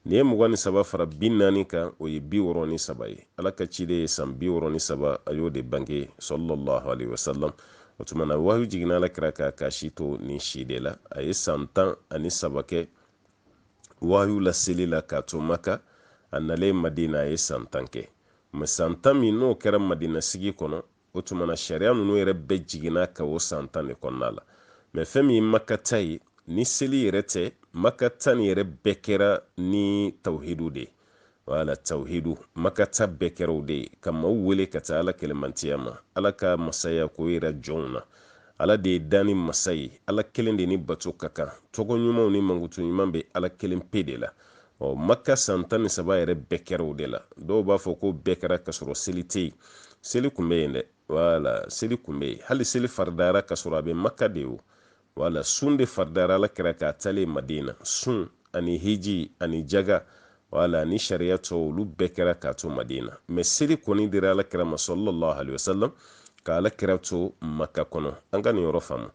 n'i ye mugan ni saba fara bi naani kan o ye bi wɔɔrɔ ni saba ye ala ka ciden ye san bi wɔɔrɔ ni saba a y'o de bange sallallahu alayhi wa sallam o tuma na wahiyu jiginna ala kira kan k'a si to nin si de la a ye san tan ani saba kɛ wahiyu laseli la k'a to maka a nalen madina a ye san tan kɛ mɛ san tan min n'o kɛra madina sigi kɔnɔ o tuma na sariya ninnu yɛrɛ bɛɛ jiginna ka o san tan de kɔnɔna la mɛ fɛn min ye maka ta ye ni seli yɛrɛ tɛ maka ta nin yɛrɛ bɛɛ kɛra ni tawhidu de ye wala tawhidu maka ta bɛɛ kɛra o de ye ka maaw wele ka taa ala kelenmantiya ma ala ka masaya k'o yira jɔnw na ala de ye danni masa ye ala kelen de ni bato ka kan tɔgɔ ɲumanw ni mankutu ɲuman bɛ ala kelen pe de la ɔ maka san tan ni saba yɛrɛ bɛɛ kɛra o de la dɔw b'a fɔ ko bɛɛ kɛra ka sɔrɔ seli tɛ yen seli kun bɛ yen dɛ wala seli kun bɛ yen hali seli faridayara ka sɔrɔ a bɛ maka de o wala sun de faridayara alakira kan a taalen madina sun ani hiji ani jaga wala ni sariya tɔ olu bɛɛ kɛra k'a to madina mɛ seli kɔni dira alakira ma sallallahu alaihi wasallam ka alakira to maka kɔnɔ an ka nin yɔrɔ faamu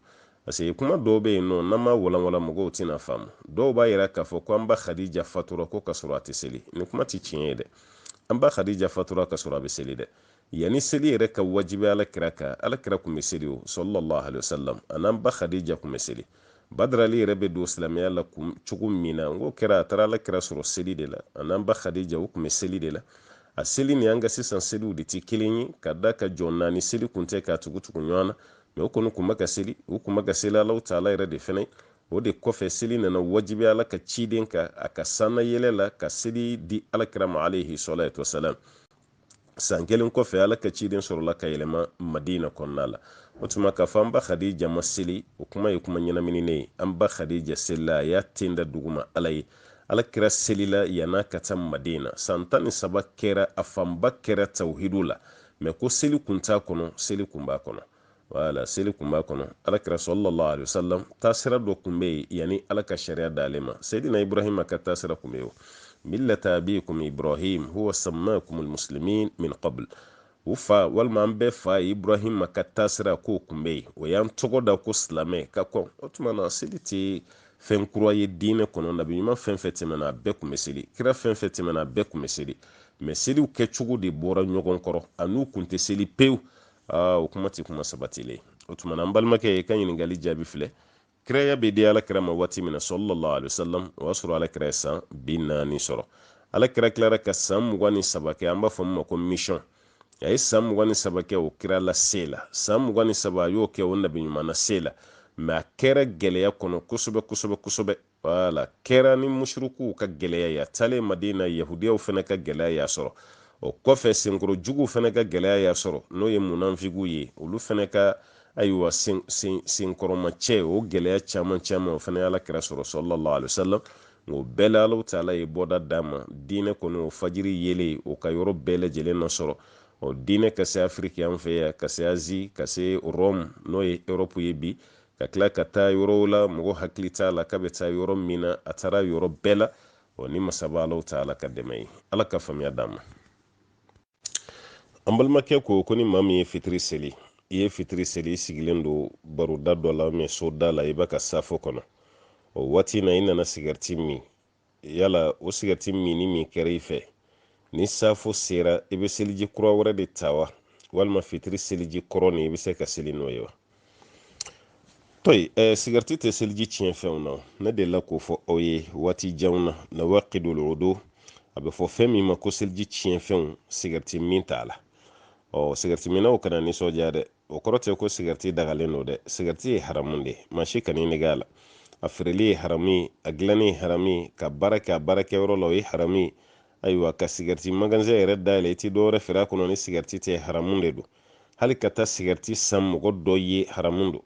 Parce que kuma dɔw bɛ yen nɔ n'an m'a walanwalan mɔgɔw tɛna faamu dɔw b'a yira k'a fɔ ko an ba Khadija fatura ko ka sɔrɔ a tɛ seli nin kuma tɛ tiɲɛ ye dɛ an ba Khadija fatura ka sɔrɔ a bɛ seli dɛ yanni seli yɛrɛ ka wajibi alakira kan alakira tun bɛ seli o sallallahu alaihi wasallam a n'an ba Khadija tun bɛ seli badara ali yɛrɛ bɛ don silamɛya la kun cogo min na n'o kɛra a taara alakira sɔrɔ seli de la a n'an ba Khadija u tun bɛ seli de la a seli ni an ka sisan seliw de tɛ kelen ye ka d'a kan jɔ naani seli kun tɛ k'a tugu tugu ɲɔgɔn na mɛ u kɔni kun bɛ ka seli u kun bɛ ka seli alaw taala yɛrɛ de fɛnɛ o de kɔfɛ seli nana wajibi ala ka ciden kan a ka sanna yɛlɛ la ka seli di alakira ma alayhi salatu wasalam san kelen kɔfɛ ala ka ciden sɔrɔla ka yɛlɛma madina kɔnɔna la o tuma k'a fɔ an ba khadija ma seli o kuma ye kuma ɲɛnamininen ye an ba khadija selila a y'a ten da duguma ala ye ala kira selila yann'a ka taa madina san tan ni saba kɛra a fanba kɛra tawhidu la mɛ ko seli kun t'a kɔnɔ seli kun b'a kɔnɔ wala seli kun b'a kɔnɔ alakira sallallahu alaihi wasallam taasira dɔ kun bɛ yen yanni ala ka sariya d'ale ma seyidina ibrahima ka taasira kun bɛ yen o millata abikum ibrahim huwa sammakum almuslimin min qabl aw fa walima an bɛɛ fa ibrahima ka taasira k'o kun bɛ yen o y'an tɔgɔ da ko silamɛ ka kɔn o tuma na seli tɛ fɛn kura ye diinɛ kɔnɔ nabi ɲuman fɛn fɛn tɛmɛna a bɛɛ kun bɛ seli kira fɛn fɛn tɛmɛna a bɛɛ kun bɛ seli mɛ seliw kɛcogo de bɔra ɲɔgɔn kɔrɔ a n'u kun tɛ seli pewu o kuma tɛ kuma sabatilen o tuma na an balimakɛ i ka ɲininkali jaabi filɛ kiraya bɛ di alakira ma waati min na sallallahu alaihi wasallam o y'a sɔrɔ alakira ye san bi naani sɔrɔ alakira tilara ka san mugan ni saba kɛ an b'a fɔ min ma ko mission a ye san mugan ni saba kɛ o kira lase la san mugan ni saba a y'o kɛ o nabi ɲuman nase la mɛ a kɛra gɛlɛya kɔnɔ kosɛbɛ kosɛbɛ kosɛbɛ wala kɛra ni musurikuw ka gɛlɛya ye a taalen madina yahudiyaw fɛnɛ ka gɛlɛya y'a sɔrɔ o kɔfɛ senkɔrɔjuguw fɛnɛ ka gɛlɛya y'a sɔrɔ n'o ye munanfigiw ye olu fɛnɛ ka ayiwa senkɔrɔmacɛ o gɛlɛya caman caman o fana y'alakira sɔrɔ sallallahu alaihi wasallam o bɛɛ la alaw taala ye bɔda d'a ma diinɛ kɔni o fajiri yeelen o ka yɔrɔ bɛɛ lajɛlen nasɔrɔ ɔ diinɛ ka se afiriki an fɛ yan ka se azi ka se rɔmu n'o ye erɔpu ye bi ka tila ka taa yɔrɔw la mɔgɔ hakili t'a la k'a bɛ taa yɔrɔ min na a taara yɔrɔ bɛɛ la ɔ ni masaba alaw taala ka dɛmɛ ye ala ka faamuya d'an ma an balimakɛ ko ko ni maa min ye fitiri seli i ye fitiri seli i sigilen don baroda dɔ la mɛ soda la i bɛ ka safo kɔnɔ o waati na i nana sigɛriti min yala o sigɛriti minni min kɛra i fɛ ni safo sera i bɛ seliji kura wɛrɛ de ta wa walima fitiri seliji kɔrɔ nin i bɛ se ka seli n'o ye wa tɔyi ɛ eh, sigariti tɛ seliji tiɲɛ fɛnw na ne delila k'o fɔ aw ye waati janw na nawaqidul wudu a bɛ fɔ fɛn min ma ko seliji tiɲɛ fɛnw sigariti min t'a la ɔ sigariti minnaw kana nisɔndiya dɛ o kɔrɔ tɛ ko sigariti dagalen don dɛ sigariti ye haramu de ye maa si kana i nɛgɛn a la a feereli ye haramu ye a dilanni ye haramu ye ka baara kɛ a baarakɛyɔrɔ la o ye haramu ye ayiwa ka sigɛriti magazɛn yɛrɛ dayɛlɛ i ti dɔwɛrɛ feere a kɔnɔ ni sigɛriti tɛ haramun de don hali ka taa sigɛriti san mɔgɔ dɔ ye haramun don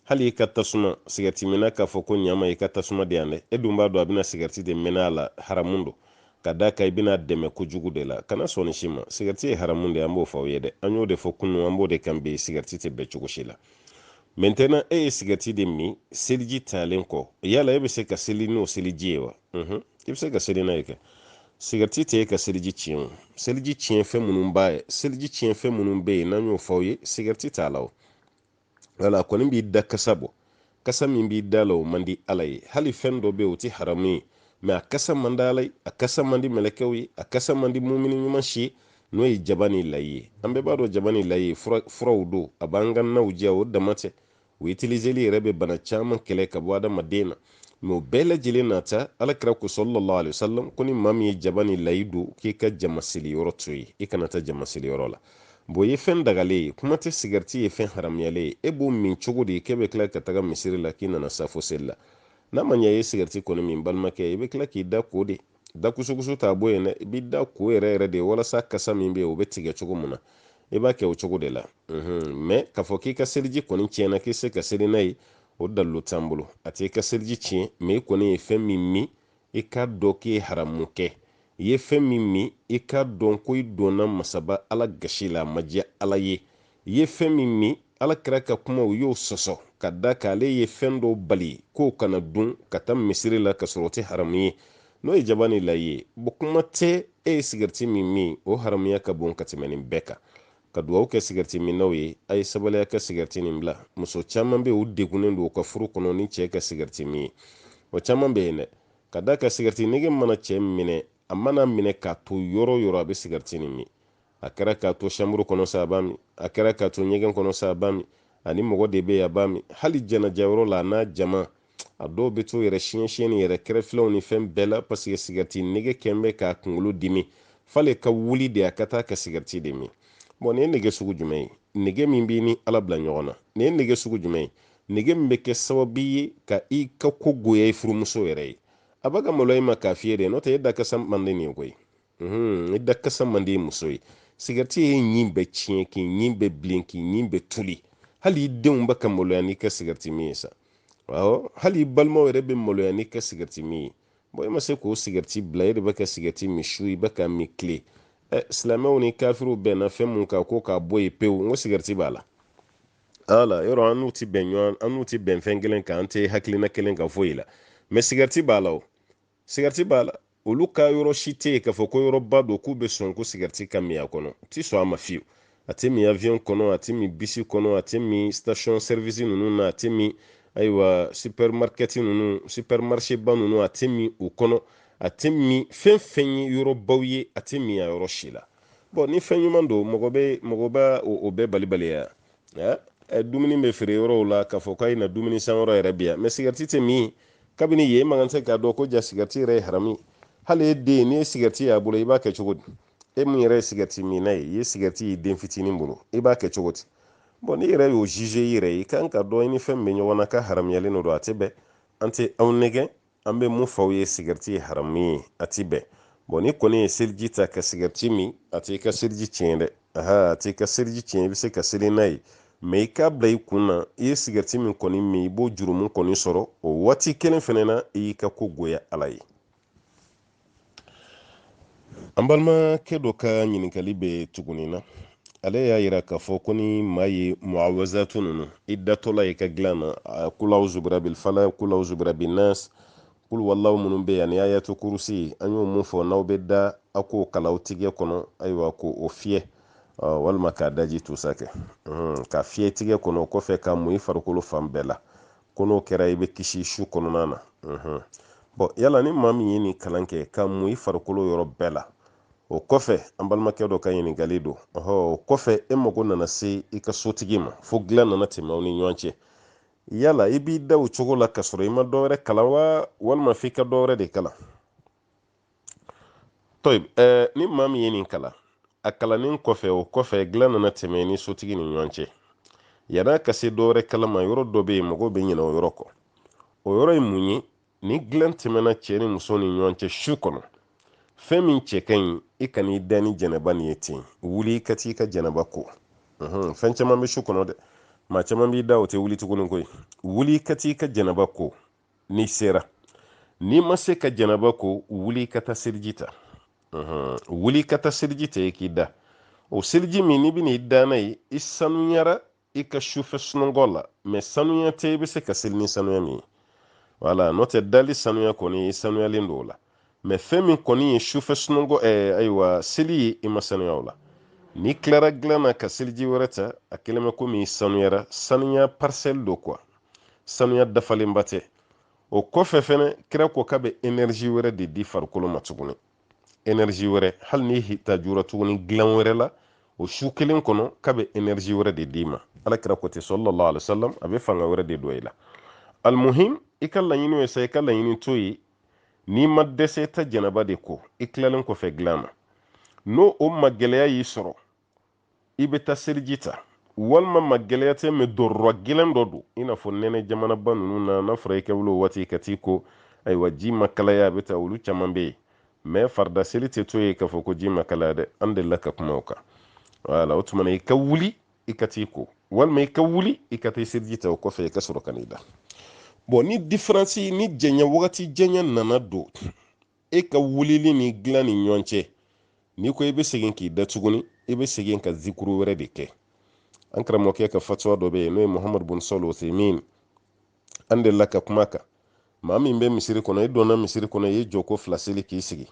hali i ka tasuma sigɛriti minna k'a fɔ ko ɲama i ka tasuma di yan dɛ e dun b'a dɔn a bɛna sigɛriti de mɛnɛ a la haramun don ka da kan i bɛn'a dɛmɛ kojugu de la kana sɔn nin si ma sigɛriti ye haramun de an b'o fɔ aw ye dɛ an y'o de fɔ kunu an b'o de kan bi sigɛriti tɛ bɛn cogo si la mɛntɛnan e ye sigɛriti de min seliji talen kɔ yala e bɛ se ka seli n'o seliji ye wa mhm. i bɛ se ka seli n'a ye kɛ sigɛriti tɛ e ka seliji tiɲɛ o seliji tiɲɛ fɛn minnu b'a ye seliji tiɲɛ fɛn minnu bɛ yen n'an y'o fɔ aw ye sigɛriti t'a la o wala a kɔni b'i da kasa bɔ kasa min b'i da la o man di ala ye hali fɛn dɔ bɛ yen o tɛ haramu ye mɛ a kasa man di ala ye a kasa man di mɛlɛkɛw ye a kasa man di mumini ɲuman si ye n'o ye jaba ni layi ye an bɛɛ b'a dɔn jaba ni layi ye furaw don a b'an ka naw diya o dama tɛ o itiliseli yɛrɛ bɛ bana caman kɛlɛ ka bɔ adamaden na mɛ o bɛɛ lajɛlen n'a ta alakira ko salalahu alayhi wasallam ko ni maa min ye jaba ni layi dun k'i ka jama seli yɔrɔ to yen i kana taa jama seli yɔrɔ la bon ye fɛn dagalen ye kuma tɛ sigariti ye fɛn haramuyalen ye e b'o min cogo di k'e bɛ tila ka taga misiri la k'i nana safo seli la n'a ma ɲɛ i ye sigariti kɔni min balimakɛ i bɛ tila k'i da ko de da kusukusu t'a bɔ yen dɛ i b'i da ko yɛrɛ yɛrɛ de walasa kasa min bɛ yen o bɛ tigɛ cogo min na i b'a kɛ o cogo de la mɛ k'a fɔ k'i ka seliji kɔni tiɲɛna k'i se ka seli n'a ye o dalilu t'an bolo a t'i ka seliji tiɲɛ mɛ i kɔni ye fɛn min min i k'a dɔn k'i ye haramu kɛ i ye fɛn min min i k'a dɔn ko i donna masaba ala gasi la a ma diya ala ye ye fɛn min min alakira ka kumaw y'o sɔsɔ ka da kan ale ye fɛn dɔ bali k'o kana dun ka taa misiri la ka sɔrɔ o tɛ haramu ye n'o ye jaba ni layi ye bon kuma tɛ e ye sigɛriti min min o haramuya ka bon ka tɛmɛ nin bɛɛ kan ka dugawu kɛ sigɛriti minnaw ye a ye sabali a ka sigɛriti nin bila muso caman bɛ u degunnen don u ka furu kɔnɔ ni cɛ ka sigɛriti min ye o caman bɛ yen dɛ ka da kan sigɛriti nege mana cɛ minɛ a man'a minɛ k'a to yɔrɔ o yɔrɔ a bɛ sigɛriti nin min a kɛra k'a to shamburu kɔnɔ sa a b'a min a kɛra k'a to ɲɛgɛn kɔnɔ sa a b'a min ani mɔgɔ de bɛ yen a b'a min hali janajayɔrɔ la a n'a jama a dɔw bɛ to yɛrɛ siɲɛ siɲɛ ni yɛrɛ kɛrɛfɛlaw ni fɛn bɛɛ la paseke sigɛriti nege kɛlen bɛ k'a kunkolo dimi f'ale ka wuli de a ka taa ka sigɛriti de min bɔn nin ye nege sugu jumɛn ye nege min b'i ni ala bila ɲɔgɔn na nin ye nege sugu jumɛn ye nege min bɛ kɛ sababu ye ka i ka ko goya i furumuso yɛrɛ ye a bɛ ka malo i ma k'a f'i ye de n'o tɛ e da kasa man di nin ye koyi mhm, i da kasa man di muso ye sigɛriti y'i ɲin bɛɛ tiɲɛ k'i ɲin bɛɛ bilen k'i ɲin bɛɛ toli hali i denw bɛ ka maloya n'i ka sigɛriti min ye sa awɔ hali i balimaw yɛrɛ bɛ maloya n'i ka sigɛriti min ye bɔn i ma se k'o sigɛriti bila e de bɛ ka sigɛriti min su i bɛ k'a min tile ɛ silamɛw ni kafiriw bɛnna fɛn min kan ko k'a bɔ yen pewu n ko sigɛriti b'a la ala yɔrɔ an n'u ti bɛn ɲɔgɔn an n'u ti bɛn fɛn kelen kan an tɛ hakilina kelen kan foyi la mɛ sigɛriti b'a la o sigarɛti b'a la olu ka yɔrɔ si tɛ yen k'a fɔ ko yɔrɔba don k'u bɛ sɔn ko sigarɛti ka min a kɔnɔ u tɛ sɔn a ma fiyewu a tɛ min avion kɔnɔ a tɛ min bisi kɔnɔ a tɛ min station service ninnu na a tɛ min ayiwa supermarket ninnu supermarché ba ninnu a tɛ min u kɔnɔ a tɛ min fɛn fɛn ye yɔrɔbaw ye a tɛ min a yɔrɔ si la bɔn ni fɛn ɲuman don mɔgɔ bɛ o bɛɛ balibaliya dumuni bɛ feere yɔrɔw la k'a fɔ k'a ye na dumuni san yɔrɔ yɛrɛ bi yan mɛ sigɛriti tɛ min kabini yen man kan tɛ k'a dɔn ko jaa sigɛriti yɛrɛ ye haramu hali e den n'i ye sigɛriti y'a bolo i b'a kɛ cogo di e min yɛrɛ ye sigɛriti minna ye i ye sigɛriti ye den fitinin bolo i b'a kɛ cogo di bɔn n'i yɛrɛ y'o zize i yɛrɛ ye i kan k'a dɔn i ni fɛn min bɛ ɲɔgɔn na k'a haramuyalen don a tɛ bɛn an tɛ aw nɛgɛn an bɛ min f'aw ye sigɛriti ye haramu ye a ti bɛn bɔn n'i kɔni ye seliji ta ka sigɛriti min a t'i ka seliji tiɲɛ dɛ aha a t'i ka seliji tiɲɛ i bɛ se ka seli n'a ye mɛ i k'a bila i kun na i ye sigɛriti min kɔni min i b'o jurumu kɔni sɔrɔ o waati kelen fɛnɛ na i y'i ka ko goya ala ye an balimakɛ dɔ ka ɲininkali bɛ tuguni na ale y'a yira k'a fɔ ko ni maa ye muawazatu ninnu i datɔla i ka dilan na kul auzu birabil falaq kul auzu birabin nas kul huwallahu minnu bɛ yan ni ayatu kurusi an y'o min fɔ n'aw bɛ da a k'o kalan aw tigɛ kɔnɔ ayiwa k'o fiyɛ walima k'a daji tusa kɛ ka fiyɛ tigɛ kɔnɔ o kɔfɛ ka mun i farikolo fan bɛɛ la ko n'o kɛra i bɛ kisi su kɔnɔna na bɔn yala ni maa min ye nin kalan kɛ ka mun i farikolo yɔrɔ bɛɛ la o kɔfɛ an balimakɛ dɔ ka ɲininkali don ɔhɔ o kɔfɛ e mago nana se i ka sotigi ma fo dilan nana tɛmɛ aw ni ɲɔgɔn cɛ yala i b'i da o cogo la ka sɔrɔ i ma dɔwɛrɛ kalan wa walima f'i ka dɔwɛrɛ de kalan tɔyib ɛɛ ni maa min ye nin kalan a kalannen kɔfɛ o kɔfɛ dilan nana tɛmɛ ni sotigi ni ɲɔgɔn cɛ yan'a ka se dɔ wɛrɛ kalan ma yɔrɔ dɔ bɛ yen mɔgɔw bɛ ɲinɛ o yɔrɔ kɔ o yɔrɔ ye mun ye ni dilan tɛmɛna cɛ ni muso ni ɲɔgɔn cɛ su kɔnɔ fɛn min cɛ ka ɲi i kan'i da ni janaba nin ye ten wuli i ka t'i ka janaba ko fɛn caman bɛ su kɔnɔ dɛ maa caman b'i da o tɛ wuli tuguni koyi wuli i ka t'i ka janaba ko n'i sera n'i ma se ka janaba ko wuli ka taa seliji ta wuli ka taa seliji ta i k'i da o seliji min n'i bɛna i da n'a ye i sanuyara i ka sufɛ sunɔgɔ la mɛ sanuya tɛ i bɛ se ka seli ni sanuya min ye wala n'o tɛ dali sanuya kɔni i sanuyalen don o la mɛ fɛn min kɔni ye sufɛ sunɔgɔ ɛɛ ayiwa seli ye i ma sanuya o la n'i tilara dilan na ka seliji wɛrɛ ta a kelen bɛ komi i sanuyara sanuya parisiyɛli don kuwa sanuya dafalenba tɛ o kɔfɛ fɛnɛ kira ko k'a bɛ enɛrizi wɛrɛ de di farikolo ma tuguni enɛrizi wɛrɛ hali n'i hitajura tuguni dilan wɛrɛ la o su kelen kɔnɔ k'a bɛ enɛrizi wɛrɛ de d'i ma ala kira ko ten sallallahu alayhi wa sallam a bɛ fanga wɛrɛ de don i la alimuhim i ka laɲini ye sa i ka laɲini to yen n'i ma dɛsɛ taa janaba de ko i tilalen kɔfɛ dilan ma n'o o ma gɛlɛya y'i sɔrɔ i bɛ taa seliji ta walima ma gɛlɛya tɛ mɛ darura gɛlɛn dɔ don i n'a fɔ nɛnɛ jamanaba ninnu na n'a fɔra i ka wuli o waati ka t'i ko ayiwa ji ma kalaya a bɛ taa olu caman bɛ yen mɛ farida seli tɛ to yen k'a fɔ ko ji ma kalaya dɛ an delila ka kuma o kan wala o tuma na i ka wuli i ka t'i ko walima i ka wuli i ka taa i seliji ta o kɔfɛ i ka sɔrɔ ka n'i da bɔn ni diferansi ni janya wagati janya nana don e ka wulili ni dilan ni ɲɔgɔn cɛ n'i ko i bɛ segin k'i da tuguni i bɛ segin ka zikuru wɛrɛ de kɛ an karamɔgɔkɛ ka fatuwa dɔ bɛ yen n'o ye muhamadu bun sɔli usayimin an delila ka kuma kan maa min bɛ misiri kɔnɔ i donna misiri kɔnɔ i ye jɔko fila seli k'i sigi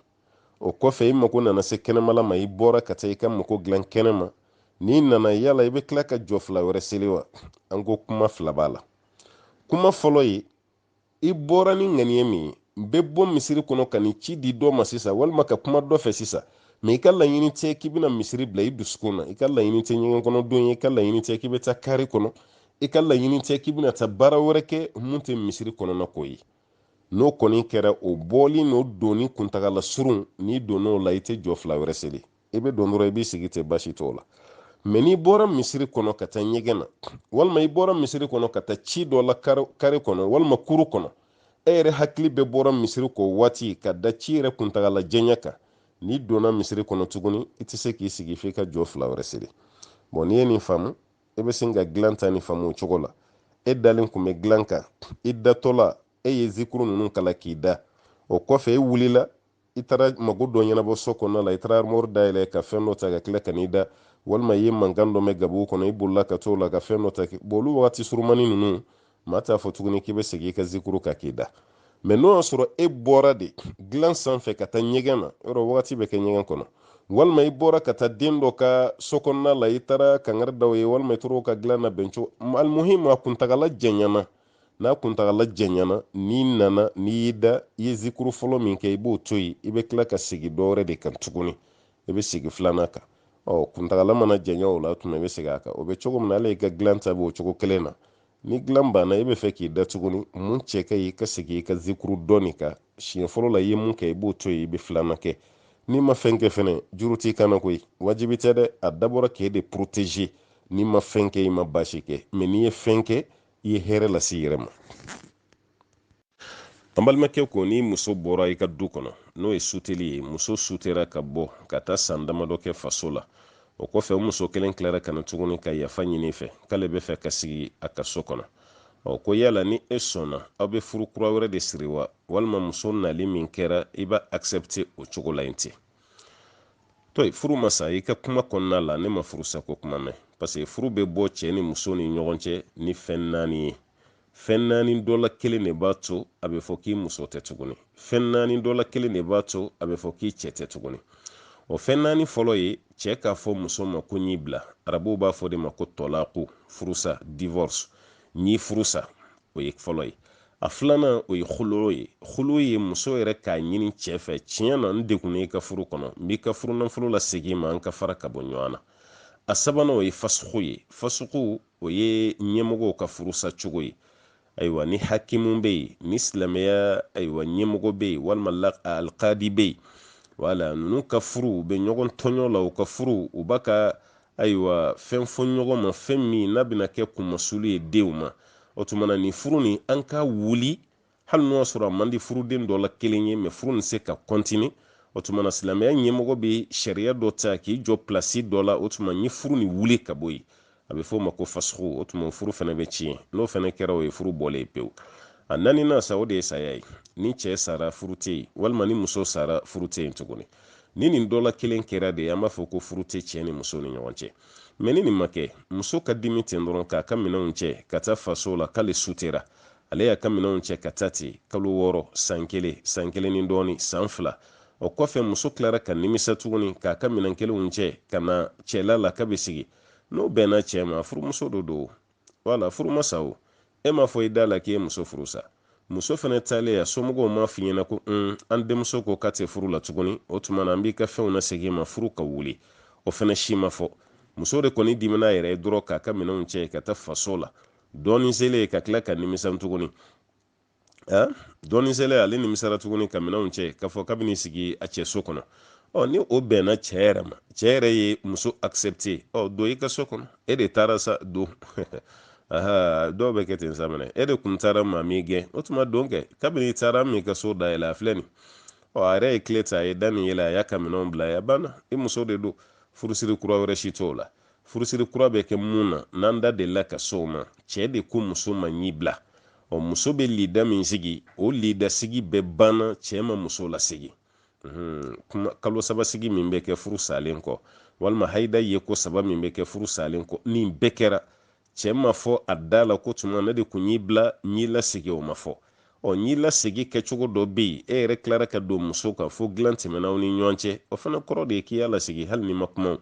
o kɔfɛ i mago nana se kɛnɛmala ma i bɔra ka taa i ka mago dilan kɛnɛ ma n'i nana yala i bɛ tila ka jɔ fila wɛrɛ seli wa an ko kuma fila b'a la kuma fɔlɔ ye i bɔra ni ŋaniya min ye n bɛ bɔ misiri kɔnɔ ka ni ci di dɔ ma sisan walima ka kuma dɔ fɛ sisan mɛ i ka laɲini tɛ k'i bɛna misiri bila i dusukun na i ka laɲini tɛ ɲɛgɛn kɔnɔ don ye i ka laɲini tɛ k'i bɛ taa kari kɔnɔ i ka laɲini tɛ k'i bɛna taa baara wɛrɛ kɛ mun tɛ misiri kɔnɔna ko ye n'o kɔni kɛra o bɔli n'o donni kuntagala surun n'i donn'o la i tɛ jɔ fila wɛrɛ seli i bɛ don dɔrɔn i b'i sigi ten baasi t'o la mɛ n'i bɔra misiri kɔnɔ ka taa ɲɛgɛn na walima i bɔra misiri kɔnɔ ka taa ci dɔ la kari kɔnɔ walima kuru kɔnɔ e yɛrɛ hakili bɛɛ bɔra misiri kɔ waati ka da ci yɛrɛ kuntagala janya kan n'i donna misiri kɔnɔ tuguni i tɛ se k'i sigi f'i ka jɔ fila wɛrɛ seli bɔn n'i ye nin faamu e bɛ se ka dilan ta nin faamu o cogo la e dalen tun bɛ dilan kan i datɔla e ye zikuru ninnu kalan k'i da o kɔfɛ e wulila i taara mago dɔ ɲɛnabɔ so kɔnɔna la i taara armɔri dayɛlɛ ka fɛn dɔ ta ka tila ka n'i da walima i ye mankan dɔ mɛn gabugu kɔnɔ i bolila ka t'o la ka fɛn dɔ ta bɔn olu wagati surumani ninnu maa t'a fɔ tuguni k'i bɛ segin i ka zikuru kan k'i da mɛ n'o y'a sɔrɔ e bɔra de dilan sanfɛ ka taa ɲɛgɛn na yɔrɔ wagati bɛ kɛ ɲɛgɛn kɔnɔ walima i bɔra ka taa den dɔ ka so kɔnɔna la i taara kangari d'a ye walima i taar'o ka dilan nabɛn cogo alimuhim a kuntagala janyana n'a kuntagala janyana n'i nana n'i y'i da i ye zikuru fɔlɔ min kɛ i b'o to yen i bɛ tila ka segin dɔwɛrɛ de kan tuguni i bɛ segin filanan kan ɔ kuntagala mana janya o la tuma i bɛ segin a kan o bɛ cogo min na ale ka dilan ta bɛ o cogo kelen na ni dilan banna i bɛ fɛ k'i da tuguni mun cɛ ka ɲi i ka segin i ka zikuru dɔɔni kan siɲɛ fɔlɔ la i ye mun kɛ i b'o to yen i bɛ filanan kɛ n'i ma fɛn kɛ fɛnɛ juru t'i kan na koyi wajibi tɛ dɛ a dabɔra k'e de protéger n'i ma fɛn kɛ i ma baasi kɛ mɛ n'i ye fɛn kɛ i ye hɛrɛ lase i yɛrɛ ma an balimakɛ ko ni muso bɔra i ka du kɔnɔ n'o ye suteli ye muso sutera ka bɔ ka taa san damadɔ kɛ faso la o kɔfɛ o muso kelen tilara ka na tuguni ka yafa ɲin'i fɛ k'ale bɛ fɛ ka sigi a ka so kɔnɔ ɔ ko yala ni e sɔnna aw bɛ furu kura wɛrɛ de siri wa walima muso nali min kɛra i b'a accepte o cogo la in ten to yen furu ma sa i ka kuma kɔnɔna la ne ma furusako kuma mɛn paseke furu bɛ bɔ cɛ ni muso ni ɲɔgɔn cɛ ni fɛn naani ye fɛn naani dɔ la kelen de b'a to a bɛ fɔ k'i muso tɛ tuguni fɛn naani dɔ la kelen de b'a to a bɛ fɔ k'i cɛ tɛ tuguni o fɛn naani fɔlɔ ye cɛ k'a fɔ muso ma ko n y'i bila arabuw b'a f'o de ma ko tɔlaku furusa divorce n y'i furusa o ye fɔlɔ ye a filanan o ye huloo ye huloo ye muso yɛrɛ k'a ɲini cɛ fɛ tiɲɛ na n degunna i ka furu kɔnɔ n b'i ka furunafolo lasegin i ma an ka fara ka bɔ ɲɔgɔn na a sabanan o ye fasuku ye fasuku o ye ɲɛmɔgɔw ka furusa cogo ye ayiwa ni hakimu bɛ yen ni silamɛya ayiwa ɲɛmɔgɔ bɛ yen walima alikadi bɛ yen wala ninnu ka furu u bɛ ɲɔgɔn tɔɲɔ la u ka furu u bɛ ka ayiwa fɛn fɔ ɲɔgɔn ma fɛn min n'a bɛna kɛ kunmasulu ye denw ma o tuma na nin furu nin an k'a wuli hali n'o y'a sɔrɔ a man di furuden dɔ la kelen ye mɛ furu nin tɛ se ka kɔntini o tuma na silamɛya ɲɛmɔgɔ bɛ sariya dɔ ta k'i jɔ pilasi dɔ la o tuma ni furu nin wuli ka bɔ yen a bɛ f'o ma ko fasuku o tuma furu fana bɛ tiɲɛ n'o fana kɛra o ye furu bɔlen pewu a naaninan sa o de ye saya ye ni cɛ sara furu tɛ yen walima ni muso sara furu tɛ yen tuguni ni nin dɔ la kelen kɛra de an b'a fɔ ko furu tɛ cɛ ni muso ni ɲɔgɔn cɛ mɛ ni nin ma kɛ muso ka dimi ten dɔrɔn k'a ka minɛnw cɛ ka taa faso la k'ale sutera ale y'a ka minɛnw cɛ ka taa ten kalo wɔɔrɔ san kelen san kelen ni dɔɔni san fila o kɔfɛ muso tilara ka nimisa tuguni k'a ka minɛn kelenw cɛ ka na cɛla la k'a bɛ sigi n'o bɛnna cɛ ma furumuso dɔ don wala furu ma sa o e m'a fɔ i da la k'i ye muso furu sa muso fana taalen a somɔgɔw m'a f'i ɲɛna ko un an denmuso ko k'a tɛ furu la tuguni o tuma na an b'i ka fɛnw nasegin i ma furu ka wuli o fana si ma fɔ muso de kɔni dimina a yɛrɛ ye dɔrɔn k'a ka minɛnw cɛ ka taa faso la dɔɔni selen ka tila ka nimisa tuguni dɔɔni selen ale nimisara tuguni ka minɛnw cɛ k'a fɔ k'a bɛ n'i sigi a cɛ so kɔnɔ ɔ ni o bɛnna cɛ yɛrɛ ma cɛ yɛrɛ ye muso accepte ɔ don i ka so kɔnɔ e de taara sa don aha dɔw b'a kɛ ten sa minɛ e de kun taara maa m'i gɛn o tuma don kɛ kabini i taara n m'i ka so dayɛlɛ a filɛ nin ɔ a yɛrɛ ye kile ta a ye da nin yɛlɛ a y'a ka minɛnw bila a banna i muso de don furusiri kura wɛrɛ si t'o la furusiri kura bɛ kɛ mun na n'an da delila ka se o ma cɛɛ de ko muso ma n y'i bila ɔ muso bɛ lida min sigi o lidasigi bɛɛ banna cɛɛ ma muso lasigi kalo saba sigi min bɛ kɛ furu salen kɔ walima hayida yeko saba min bɛ kɛ furu salen kɔ nin bɛɛ kɛra cɛ ma fɔ a da la ko tuma ne de kun y'i bila n y'i lasegin o ma fɔ ɔ n y'i lasegin kɛcogo dɔ bɛ yen e yɛrɛ tilara ka don muso kan fo dilan tɛmɛna aw ni ɲɔgɔn cɛ o fana kɔrɔ de ye k'i y'a lasegin hali ni ma kuma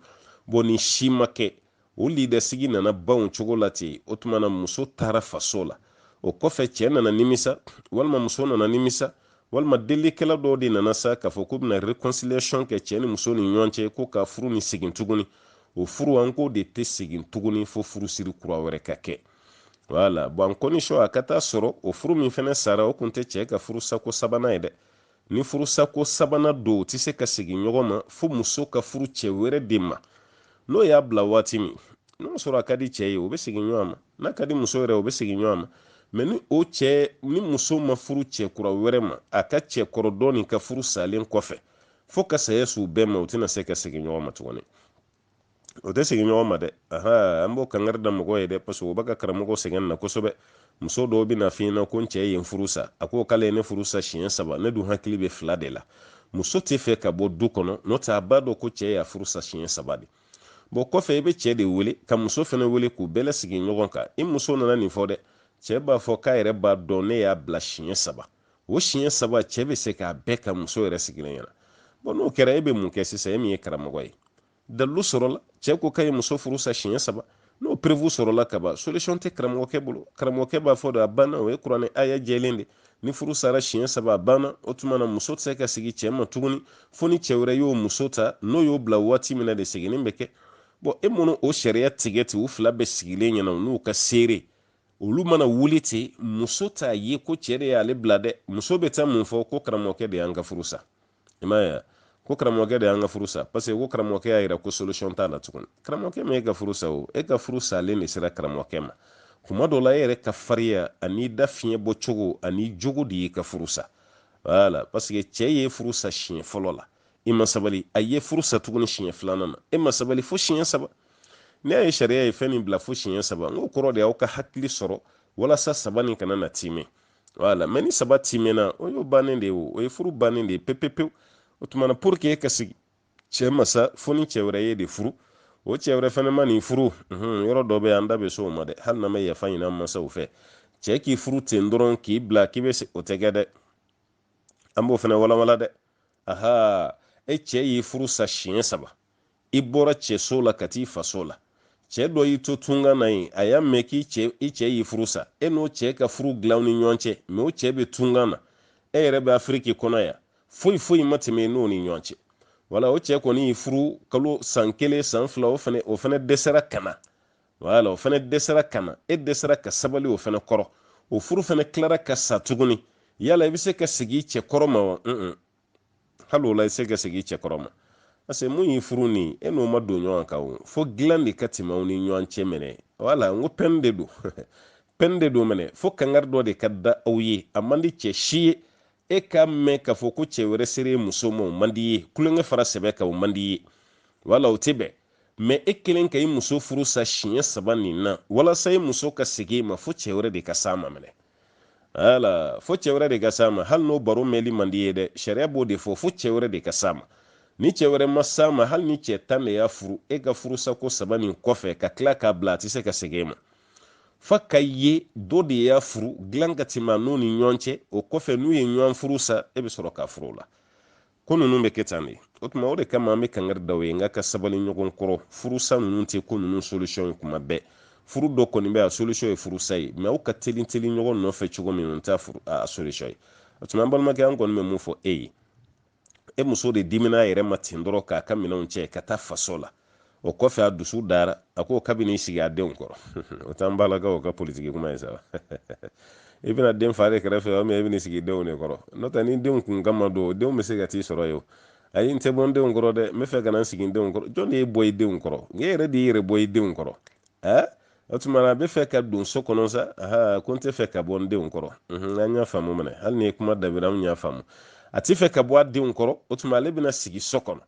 bɔ ni si ma kɛ o lidasigi nana ban cogo la ten o tuma na muso taara faso la o kɔfɛ cɛ nana nimisa walima muso nana nimisa walima delikɛla dɔw de nana sa k'a fɔ k'u bɛna réconciliation kɛ cɛɛ ni muso ni ɲɔgɔn cɛ ko ka furu nin segin tuguni o furu an k'o de tɛ segin tuguni fo furusiri kura wɛrɛ ka kɛ wala bɔn en condition a ka taa sɔrɔ o furu min fɛnɛ sara o kun tɛ cɛɛ ka furusako sabanan ye dɛ ni furusako sabanan don o tɛ se ka segin ɲɔgɔn ma fo muso ka furu cɛɛ wɛrɛ de ma n'o y'a bila waati min n'o sɔrɔ a ka di cɛɛ ye o bɛ segin ɲɔgɔn ma n'a ka di muso yɛrɛ o bɛ segin ɲɔgɔn ma mɛ ni muso ma furu cɛ kura wɛrɛ ma a ka cɛ kɔrɔ dɔɔnin ka furu salen kɔfɛ fo ka saya s'u bɛɛ ma o tɛna se ka segin ɲɔgɔn ma tuguni o tɛ segin ɲɔgɔn ma dɛ aha an b'o kangari da mɔgɔ ye dɛ paseke o bɛ ka karamɔgɔ sɛgɛn na kosɛbɛ muso dɔw bɛ n'a f'i ɲɛna ko n cɛ ye n furu sa a ko k'ale ye ne furu sa siɲɛ saba ne dun hakili bɛ fila de la muso t'a fɛ ka bɔ du kɔnɔ n'o tɛ a b'a dɔn ko cɛ y'a furu sa siɲɛ saba de bɔn kɔfɛ i bɛ cɛ de wele ka muso fana wele k'u bɛɛ lasigi ɲɔgɔn kan i muso nana nin fɔ dɛ cɛ b'a fɔ k'a yɛrɛ b'a dɔn ne y'a bila siɲɛ saba o siɲɛ saba cɛ bɛ se k'a bɛɛ ka muso yɛrɛ sigilen ɲɛna bɔn n'o kɛra e bɛ mun kɛ sisan e min ye karamɔgɔ ye dalilu sɔrɔla cɛ ko k'a ye muso furu sa siɲɛ saba n'o preuve sɔrɔla kaban solution tɛ karamɔgɔkɛ bolo karamɔgɔkɛ b'a fɔ de a banna o ye kuranɛ aya jɛlen de ni furu sara siɲɛ saba a banna o tuma na muso tɛ se ka segin cɛ ma tuguni fo ni cɛ wɛrɛ y'o muso ta n'o y'o bila waati min na de seginni bɛ kɛ bɔn e mana o sariya tigɛ ten u fila bɛɛ sigilen ɲɛna u n'u ka seere olu mana wuli ten muso t'a ye ko cɛ de y'ale bila dɛ muso bɛ taa mun fɔ ko karamɔgɔkɛ de y'an ka furu sa i m'a ye ko karamɔgɔkɛ de y'an ka furu sa paseke ko karamɔgɔkɛ y'a yira ko solution t'a la tuguni karamɔgɔkɛ ma e ka furu sa o e ka furu salen de sera karamɔgɔkɛ ma kuma dɔ la e yɛrɛ ka fariya ani da fiɲɛ bɔ cogo ani jogo de y'i ka furu sa wala paseke cɛ ye furu sa siɲɛ fɔlɔ la i ma sabali a ye furu sa tuguni siɲɛ filanan na e ma sabali fo siɲɛ saba n'e y'a ye sariya ye fɛn min bila fo siɲɛ saba n k'o kɔrɔ de y'aw ka hakili sɔrɔ walasa saba nin kana na tiimɛ wala mɛ ni saba tiimɛna o y'o bannen de ye o ye furu bannen de ye pepepewu o tuma na pour que e ka segin cɛ ma sa fo ni cɛ wɛrɛ y'e de furu o cɛ wɛrɛ fɛnɛ man'i furu yɔrɔ dɔ bɛ an da bɛ se o ma dɛ hali n'an bɛ yafa ɲini an masaw fɛ cɛ k'i furu ten dɔrɔn k'i bila k'i bɛ o tɛ kɛ dɛ an b'o fɛnɛ walawala dɛ aha e cɛ y'i furu sa siɲɛ saba i bɔra cɛso la ka t'i faso la cɛ dɔ y'i to tunga na yen a y'a mɛn k'i cɛ i cɛ y'i furu sa e n'o cɛ ka furu dilan aw ni ɲɔgɔn cɛ mɛ o cɛ bɛ tunga na e yɛrɛ bɛ afiriki kɔnɔ yan foyi foyi ma tɛmɛ i n'o ni ɲɔgɔn cɛ wala o cɛ kɔni y'i furu kalo san kelen san fila o fana o fana dɛsɛra ka na wala o fana dɛsɛra ka na e dɛsɛra ka sabali o fana kɔrɔ o furu fana tilara ka sa tuguni yala i bɛ se ka segin i cɛ kɔrɔ ma wa hali o la i tɛ se ka segin i cɛ kɔrɔ ma parce que min y'i furu nin e n'o ma don ɲɔgɔn kan o fo dilan de ka tɛmɛ aw ni ɲɔgɔn cɛ minɛ wala n ko pɛn de don pɛn de don minɛ fo kangari dɔ de ka da aw ye a man di cɛ si ye e k'a mɛn k'a fɔ ko cɛ wɛrɛ sera i muso ma o man di i ye tulonkɛ fara sɛbɛ kan o man di i ye wala o tɛ bɛn mɛ e kelen ka i muso furu sa siɲɛ saba nin na walasa i muso ka segin i ma fo cɛ wɛrɛ de ka s'a ma minɛ ala fo cɛ wɛrɛ de ka s'a ma hali n'o baro mɛnli man di i ye dɛ sariya b'o de fɔ fo cɛ wɛrɛ de ka s'a ma ni cɛ wɛrɛ ma s'a ma hali ni cɛ tan de y'a furu e ka furusako saba nin kɔfɛ ka tila k'a bila a tɛ se ka segin e ma fo k'a ye dɔ de y'a furu dilan ka tɛmɛ a n'o ni ɲɔgɔn cɛ o kɔfɛ n'u ye ɲɔgɔn furu sa e bɛ sɔrɔ k'a furu o la ko ninnu bɛ kɛ tan de o tuma o de kama an bɛ kangari da aw ye n k'aw ka sabali ɲɔgɔn kɔrɔ furusa ninnu tɛ ko ninnu solution ye tuma bɛɛ furu dɔ kɔni bɛ a solution ye furusa ye mɛ aw ka teli teli ɲɔgɔn nɔfɛ cogo min o t'a solution ye o tuma an balimakɛ an kɔni bɛ min fɔ e ye e muso de dimina a yɛrɛ ma ten dɔrɔn k'a ka minɛnw cɛ ka taa faso la o kɔfɛ a dusu dara a ko k'a bɛ n'i sigi a denw kɔrɔ o t'an barakaw ka politiki kuma ye sa i bɛna den fa de kɛrɛfɛ o mɛ i bɛna sigi denw de kɔrɔ n'o tɛ ni denw kun kama don o denw bɛ se ka t'i sɔrɔ yen o ayi n tɛ bɔ n denw kɔrɔ dɛ n bɛ fɛ ka na n sigi n denw kɔrɔ jɔn de y'i bɔ i denw kɔrɔ i yɛrɛ de y'i yɛrɛ bɔ i denw kɔrɔ ɛɛ o tuma na a bɛ fɛ ka don so kɔnɔ sa aa ko n tɛ fɛ ka bɔ n denw kɔrɔ an y'a faamu minɛ hali ni kuma dabira an y'a faamu a tɛ fɛ ka bɔ a denw kɔrɔ o tuma ale bɛna sigi so kɔnɔ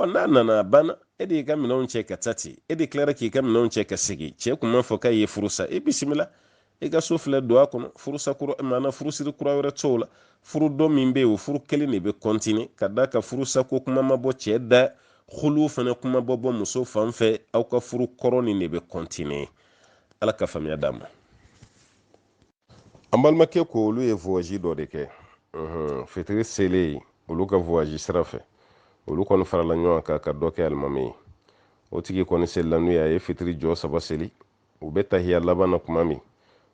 ɔ n'a nana a banna e de y'i ka minɛnw cɛ ka taa ten e de tilara k'i ka minɛnw cɛ ka segin cɛ tun m'a fɔ k'a y'i furu sa e bisimila i ka so filɛ don a kɔnɔ furusa kura maana furusiri kura wɛrɛ t'o la furu dɔ min bɛ yen o furu kelen de bɛ kɔntini ka d'a kan furusako kuma ma bɔ cɛ da hulu fana kuma ma bɔ muso fan fɛ aw ka furu kɔrɔ nin de bɛ kɔntini ala ka faamuya d'an ma an balimakɛ ko olu ye voyage dɔ de kɛ fitiri selen olu ka voyage sira fɛ olu kɔni farala ɲɔgɔn kan ka dɔ kɛ alimami ye o tigi kɔni selila n'u ye a ye fitiri jɔ saba seli u bɛ tahiya laban na tuma min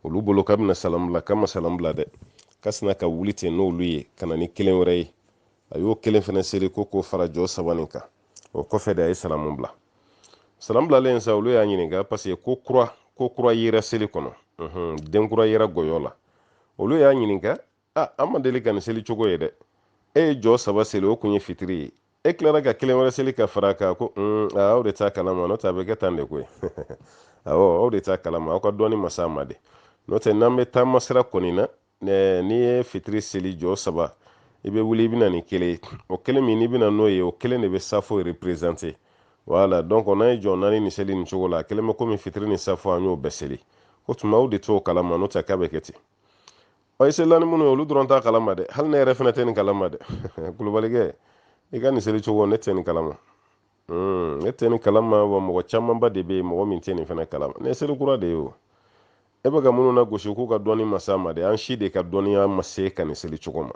olu bolo k'a bɛna salamu bila k'a ma salamu bila dɛ ka sina ka wuli ten n'olu ye ka na ni kelen wɛrɛ ye a y'o kelen fana seli ko k'o fara jɔ saba nin kan o kɔfɛ de a ye salamu bila salamu bilalen sa olu y'a ɲininka paseke ko kura yera seli kɔnɔ den kura yera gɔyɔ la olu y'a ɲininka a an ma deli ka nin seli cogo ye dɛ e ye jɔ saba seli o kun ye fitiri ye e tilara ka kelen wɛrɛ seli ka fara kan ko aw de t'a kalama n'o tɛ a bɛ kɛ tan de koyi awɔ aw de t'a kalama aw ka dɔnni ma s'a ma de n'o tɛ n'an bɛ taama sira kɔni na n'i ye fitiri seli jɔ saba i bɛ wuli i bɛ na ni kelen ye o kelen min n'i bɛ na n'o ye o kelen de bɛ safo reperezante wala dɔnki n'an ye jɔ naani nin seli nin cogo la a kɛlen bɛ komi fitiri ni safo an y'o bɛɛ seli k'o tuma aw de t'o kalama n'o tɛ k'a bɛ kɛ ten ɔ i selila ni minnu ye olu dɔrɔn t'a kalama dɛ hali ne yɛrɛ fana tɛ nin kalama dɛ kulubalikɛ i ka nin seli cogo ne tɛ nin kalama hmm, ne tɛ nin kalama wa mɔgɔ camanba de bɛ yen mɔgɔ min tɛ nin fana kalama nin ye seli kura de ye o e bɛ ka minnu nagosi k'u ka dɔnni ma s'a ma de an si de ka dɔnniya ma s'i ka nin seli cogo ma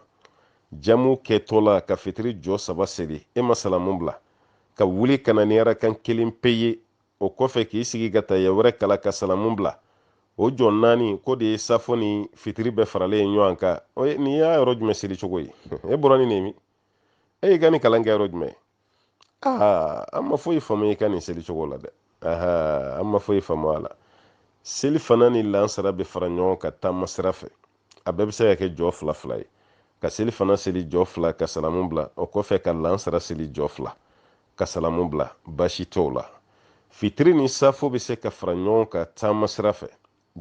jamu kɛtɔ la ka fitiri jɔ saba seli e ma salamu bila ka wuli ka na ni arakan kelen pe ye o kɔfɛ k'i sigi ka tayiya wɛrɛ kalan ka salamu bila o jɔ naani k'o de ye safo ni fitiri bɛɛ faralen ye ɲɔgɔn kan nin ye yɔrɔ jumɛn seli cogo ye e bɔra ni nin ye min e y'i ka nin kalan kɛ yɔrɔ jumɛn aa an ma foyi faamu i ka nin seli cogo la dɛ an ma foyi faamu a la selifana ni lansara bɛ fara ɲɔgɔn kan taama sira fɛ a bɛɛ bɛ se ka kɛ jɔ fila fila ye ka selifana seli jɔ fila ka salamu bila o kɔfɛ ka lansara seli jɔ fila ka salamu bila baasi t'o la fitiri ni safo bɛ se ka fara ɲɔgɔn kan taama sira fɛ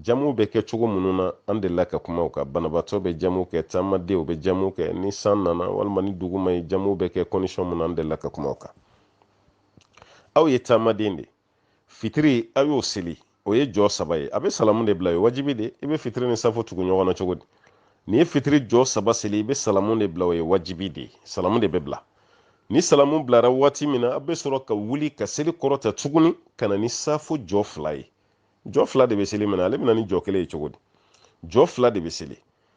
jamu bɛ kɛ cogo minnu na an delila ka kuma u kan banabaatɔ bɛ jamu kɛ taamadenw bɛ jamu kɛ ni san nana walima ni dugu ma ye jamu bɛ kɛ kɔndisɔn minnu na an delila ka kuma u kan aw ye taamaden de fitiri aw y'o seli o ye jɔ saba ye a bɛ salamu de bila o ye wajibi de i bɛ fitiri ni safo tugu ɲɔgɔn na cogo di n'i ye fitiri jɔ saba seli i bɛ salamu de bila o ye wajibi de ye salamu de bɛ bila ni salamu bilara waati min na a bɛ sɔrɔ ka wuli ka seli kɔrɔta tuguni ka na ni safo jɔ fila ye jɔ fila de bɛ seli minɛ ale bɛ na ni jɔ kelen ye cogo di jɔ fila de bɛ seli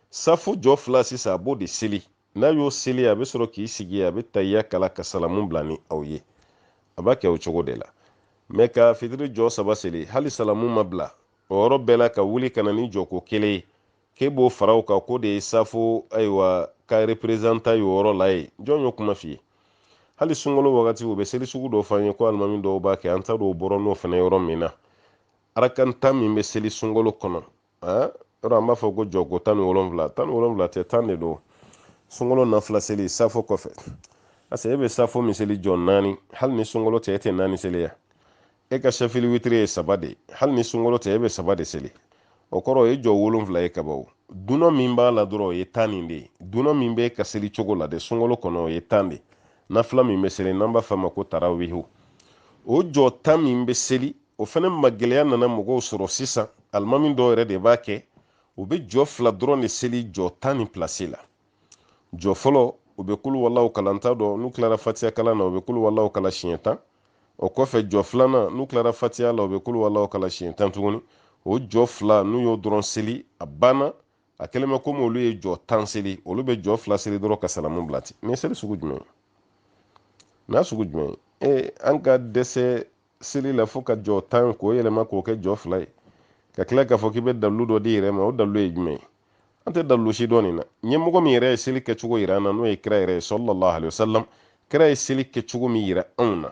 safo jɔ fila sisan a b'o de seli n'a y'o seli a bɛ sɔrɔ k'i sigi a bɛ tayiya kalan ka salamu bila ni aw ye a b'a kɛ o cogo de la mɛ ka fitiri jɔ saba seli hali salamu ma bila o yɔrɔ bɛɛ la ka wuli ka na ni jɔko kelen ye k'e b'o fara o kan k'o de ye safo ayiwa ka reperezantan ye o yɔrɔ la yen jɔn y'o kuma f'i ye hali sunkalo wagati u bɛ seli sugu dɔ f'an ye ko alimami dɔw b'a kɛ an t'a dɔn u bɔra n'o fana yɔrɔ min na arakan tan min bɛ seli sunkalo kɔnɔ yɔrɔ an b'a fɔ ko jɔko tan ni wolonwula tan ni wolonwula tɛ tan de don sunkalo nafila seli safo kɔfɛ paseke e bɛ safo min seli jɔ naani hali ni sunkalo tɛ e tɛ naani seli ya e ka sɛfili witiri ye saba de hali ni sunkalo tɛ e bɛ saba de seli o kɔrɔ o ye jɔ wolonfila ye kaban dunan min b'a la dɔrɔn o ye tan nin de ye dunan min bɛ ka seli cogo la de sunkalo kɔnɔ o ye tan de nafila min bɛ seli n'an b'a f'a ma ko tarawihu o jɔ tan min bɛ seli o fana ma gɛlɛya nana mɔgɔw sɔrɔ sisan alimami dɔw yɛrɛ de b'a kɛ u bɛ jɔ fila dɔrɔn de seli jɔ tan ni pilasi la jɔ fɔlɔ u bɛ kulu walaw kalan t'a dɔn n'u tilara fatiya kalan na u bɛ kulu walaw kalan siɲɛ tan o kɔfɛ jɔ filanan n'u tilara fatiya la u bɛ kulu walaw kalan siɲɛ tan tuguni o jɔ fila n'u y'o dɔrɔn seli a banna a kɛlen bɛ komi olu ye jɔ tan seli olu bɛ jɔ fila seli dɔrɔn ka salamu bila ten nin ye seli sugu jumɛn ye n'a sugu jumɛn ye ee an ka dɛsɛ seli la fo ka jɔ tan k'o yɛlɛma k'o kɛ jɔ fila ye ka tila k'a fɔ k'i bɛ dalilu dɔ d'i yɛrɛ ma o dalilu ye jumɛn ye an tɛ dalilu si dɔn nin na ɲɛmɔgɔ min yɛrɛ ye seli kɛcogo yira an na n'o ye kira yɛrɛ ye salalahu alayhi wa salam kira ye seli kɛcogo min yira anw na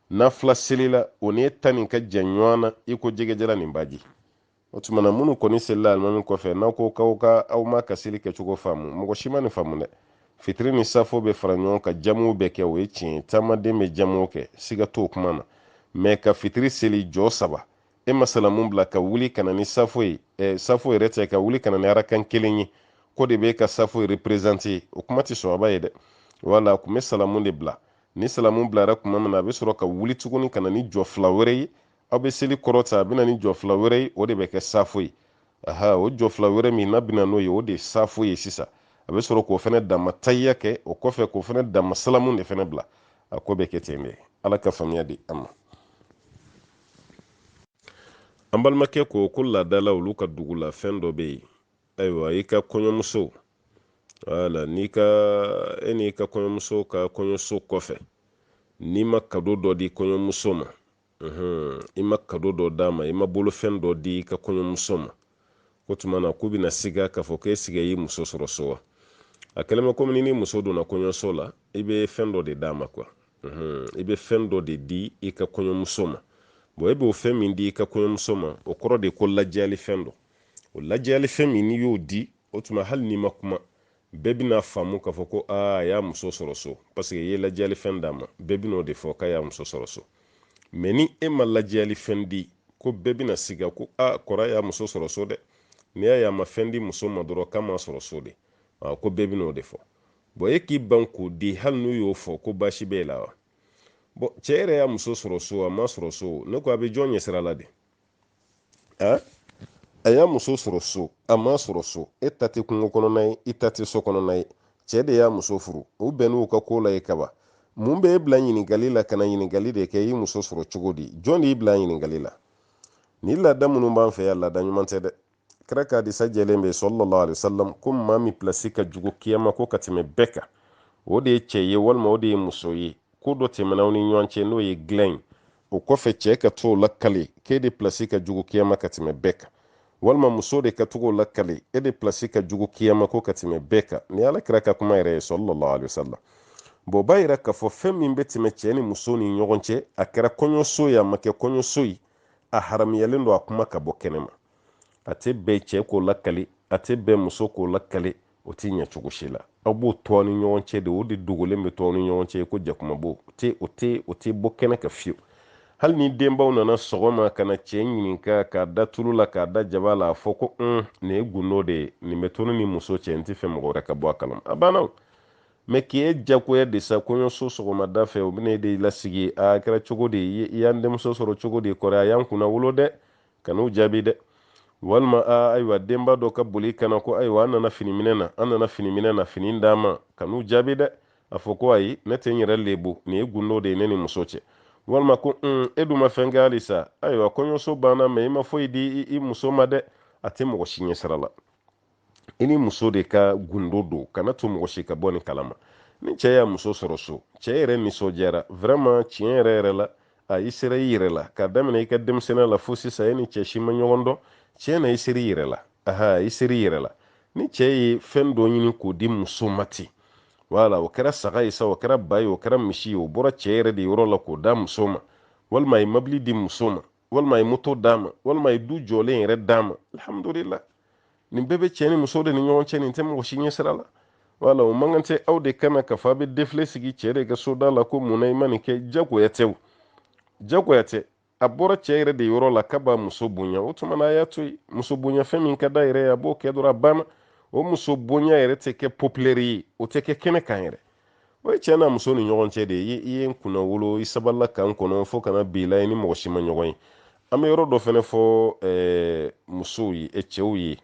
nafila seli la o ni e ta nin ka jan ɲɔgɔn na i ko jɛgɛjalan ni baji o tuma na minnu kɔni selila alimami kɔfɛ n'aw ko k'aw ka aw m'a ka seli kɛcogo faamu mɔgɔ si ma nin faamu dɛ fitiri ni safo bɛ fara ɲɔgɔn kan jamuw bɛ kɛ o ye tiɲɛ ye taamaden bɛ jamuw kɛ siga t'o kuma na mɛ ka fitiri seli jɔ saba e ma salamu bila ka wuli ka na ni safo ye ɛ safo yɛrɛ tɛ ka wuli ka na ni arakan kelen ye k'o de bɛ ka safo reperezante o kuma tɛ sɔrɔba ye dɛ wala a tun bɛ salamu de bila ni salamu bilara tuma min na a bɛ sɔrɔ ka wuli tuguni ka na ni jɔ fila wɛrɛ ye aw bɛ seli kɔrɔta a bɛna ni jɔ fila wɛrɛ ye o de bɛ kɛ safo ye aha o jɔ fila wɛrɛ min n'a bɛna n'o ye o de ye safo ye sisan a bɛ sɔrɔ k'o fana dama tayiya kɛ o kɔfɛ k'o fana dama salamu de fana bila a ko bɛ kɛ ten de ala ka faamuya di an ma an balimakɛ ko ko laada la olu ka dugu la fɛn dɔ bɛ yen ayiwa i ka kɔɲɔmuso wala n'i ka e n'i ka kɔɲɔmuso ka kɔɲɔso kɔfɛ n'i ma kado dɔ di kɔɲɔmuso ma i ma kado dɔ d'a ma i ma bolofɛn dɔ di i ka kɔɲɔmuso ma k'o tuma na k'u bɛna siga k'a fɔ k'e siga y'i muso sɔrɔ so wa a kɛlen bɛ komi ni ni muso donna kɔɲɔso la i bɛ fɛn dɔ de d'a ma kuwa i bɛ fɛn dɔ de di i ka kɔɲɔmuso ma bɔn e b'o fɛn min di i ka kɔɲɔmuso ma o kɔrɔ de ko lajɛyalifɛn don o lajɛyalifɛn min n'i y'o di o tuma hali n'i ma kuma bɛɛ bɛna faamu k'a fɔ ko aa a y'a muso sɔrɔ so paseke i ye lajɛyali fɛn d'a ma bɛɛ bɛna o de fɔ k'a y'a muso sɔrɔ so mɛ ni e ma lajɛyali fɛn di ko bɛɛ bɛna siga ko a kɔrɔ y'a muso sɔrɔ so dɛ n'i y'a ye a ma fɛn di muso ma dɔrɔn k'a m'a sɔrɔ so de ko bɛɛ bɛna o de fɔ bɔn e k'i ban k'o di hali n'u y'o fɔ ko baasi b'e la wa bɔn cɛ yɛrɛ y'a muso sɔrɔ so a m'a sɔrɔ so ne ko a bɛ jɔn ɲɛsira la de a a y'a muso sɔrɔ so a m'a sɔrɔ so e ta tɛ kungo kɔnɔna ye i ta tɛ so kɔnɔna ye cɛ de y'a muso furu u bɛnn'u ka ko la yen kaban mun bɛ e bila ɲininkali la ka na ɲininkali de kɛ i muso sɔrɔ cogo di jɔn de y'i bila ɲininkali la ni laada minnu b'an fɛ yan laada ɲuman tɛ dɛ kira ka hadisa jɛlen bɛ sallallahu alaihi wasallam ko maa min pilasi ka jugu kiyama ko ka tɛmɛ bɛɛ kan o de ye cɛ ye walima o de ye muso ye ko dɔ tɛmɛna aw ni ɲɔgɔn cɛ n'o ye dilan ye o kɔfɛ cɛ ka t'o lakali k'e de pilasi ka jugu kiyama ka tɛmɛ bɛɛ kan walima muso de ka t'o lakali e de pilasi ka jugu kiyama ko ka tɛmɛ bɛɛ kan nin ala kira ka kuma yɛrɛ ye sallallahu alaihi wasallam bɔn b'a yira k'a fɔ fɛn min bɛ tɛmɛ cɛ ni muso ni ɲɔgɔn cɛ a kɛra kɔɲɔso ye a ma kɛ kɔɲɔso ye a haramuyalen don a kuma ka bɔ kɛnɛ ma a tɛ bɛn cɛ k'o lakali a tɛ bɛn muso k'o lakali o tɛ ɲɛ cogo si la aw b'o to aw ni ɲɔgɔn cɛ de o de dogolen bɛ to aw ni ɲɔgɔn cɛ ko jakumabo o tɛ o tɛ o tɛ bɔ kɛnɛ kan fiyewu hali ni denbaw nana sɔgɔma ka na cɛ ɲininka k'a da tulu la k'a da jaba la a fɔ ko un nin ye gundo de ye nin bɛ to ne ni muso cɛ n t'a fɛ mɔgɔ wɛrɛ ka bɔ a kalama a banna o mɛ k'i ye jagoya de sa kɔɲɔso sɔgɔmada fɛ u bɛna e de lasigi a kɛra cogo di i y'an denmuso sɔrɔ cogo di kɔri a y'an kunnawolo dɛ kan'u jaabi dɛ walima a ayiwa denba dɔ ka boli ka na ko ayiwa an nana fini minɛ na an nana fini minɛ na fini d'an ma kan'u jaabi dɛ a fɔ ko ayi ne tɛ n yɛrɛ lebu nin ye gundo de ye ne ni muso cɛ walima ko un e dun ma fɛn kɛ halisa ayiwa kɔɲɔso banna mɛ i ma foyi di i muso ma dɛ a tɛ mɔgɔ si ɲɛ sira la i ni muso de ka gundo don kan'a to mɔgɔ si ka bɔ nin kalama ni cɛ y'a muso sɔrɔ so cɛ yɛrɛ nisɔndiyara vraiment tiɲɛ yɛrɛ yɛrɛ la a i sera i yɛrɛ la k'a daminɛ i ka denmisɛnniya la fo sisan e ni cɛ si ma ɲɔgɔn dɔn tiɲɛ na i sera i yɛrɛ la aha i sera i yɛrɛ la ni cɛ ye fɛn dɔ ɲini k'o di muso ma ten wala o kɛra saga ye sa o kɛra ba ye o kɛra misi ye o bɔra cɛ yɛrɛ de yɔrɔ la k'o d'a muso ma walima a ye mobili di muso ma walima a ye moto d'a ma walima a ye du jɔlen yɛrɛ d'a ma alhamdulila nin bɛɛ bɛ cɛ ni muso de ni ɲɔgɔn cɛ nin tɛ mɔgɔ si ɲɛ sira la wala o man kan tɛ aw de ka na k'a fɔ a bɛ defile sigi cɛ de ka soda la ko mun na i ma nin kɛ jagoya tɛ o jagoya tɛ a bɔra cɛ yɛrɛ de yɔrɔ la k'a b'a muso bonya o tuma na a y'a to yen muso bonya fɛn min ka d'a yɛrɛ ye a b'o kɛ dɔrɔn a banna o muso bonya yɛrɛ tɛ kɛ popilɛri ye o tɛ kɛ kɛnɛ kan yɛrɛ o ye cɛ n'a muso ni ɲɔgɔn cɛ de ye i ye n kunnawolo i sabalila ka n kɔnɔ fo ka na bi la i ni mɔgɔ si ma ɲɔgɔn ye an bɛ yɔrɔ dɔ fɛnɛ fɔ eh, musow ye eh, cɛw ye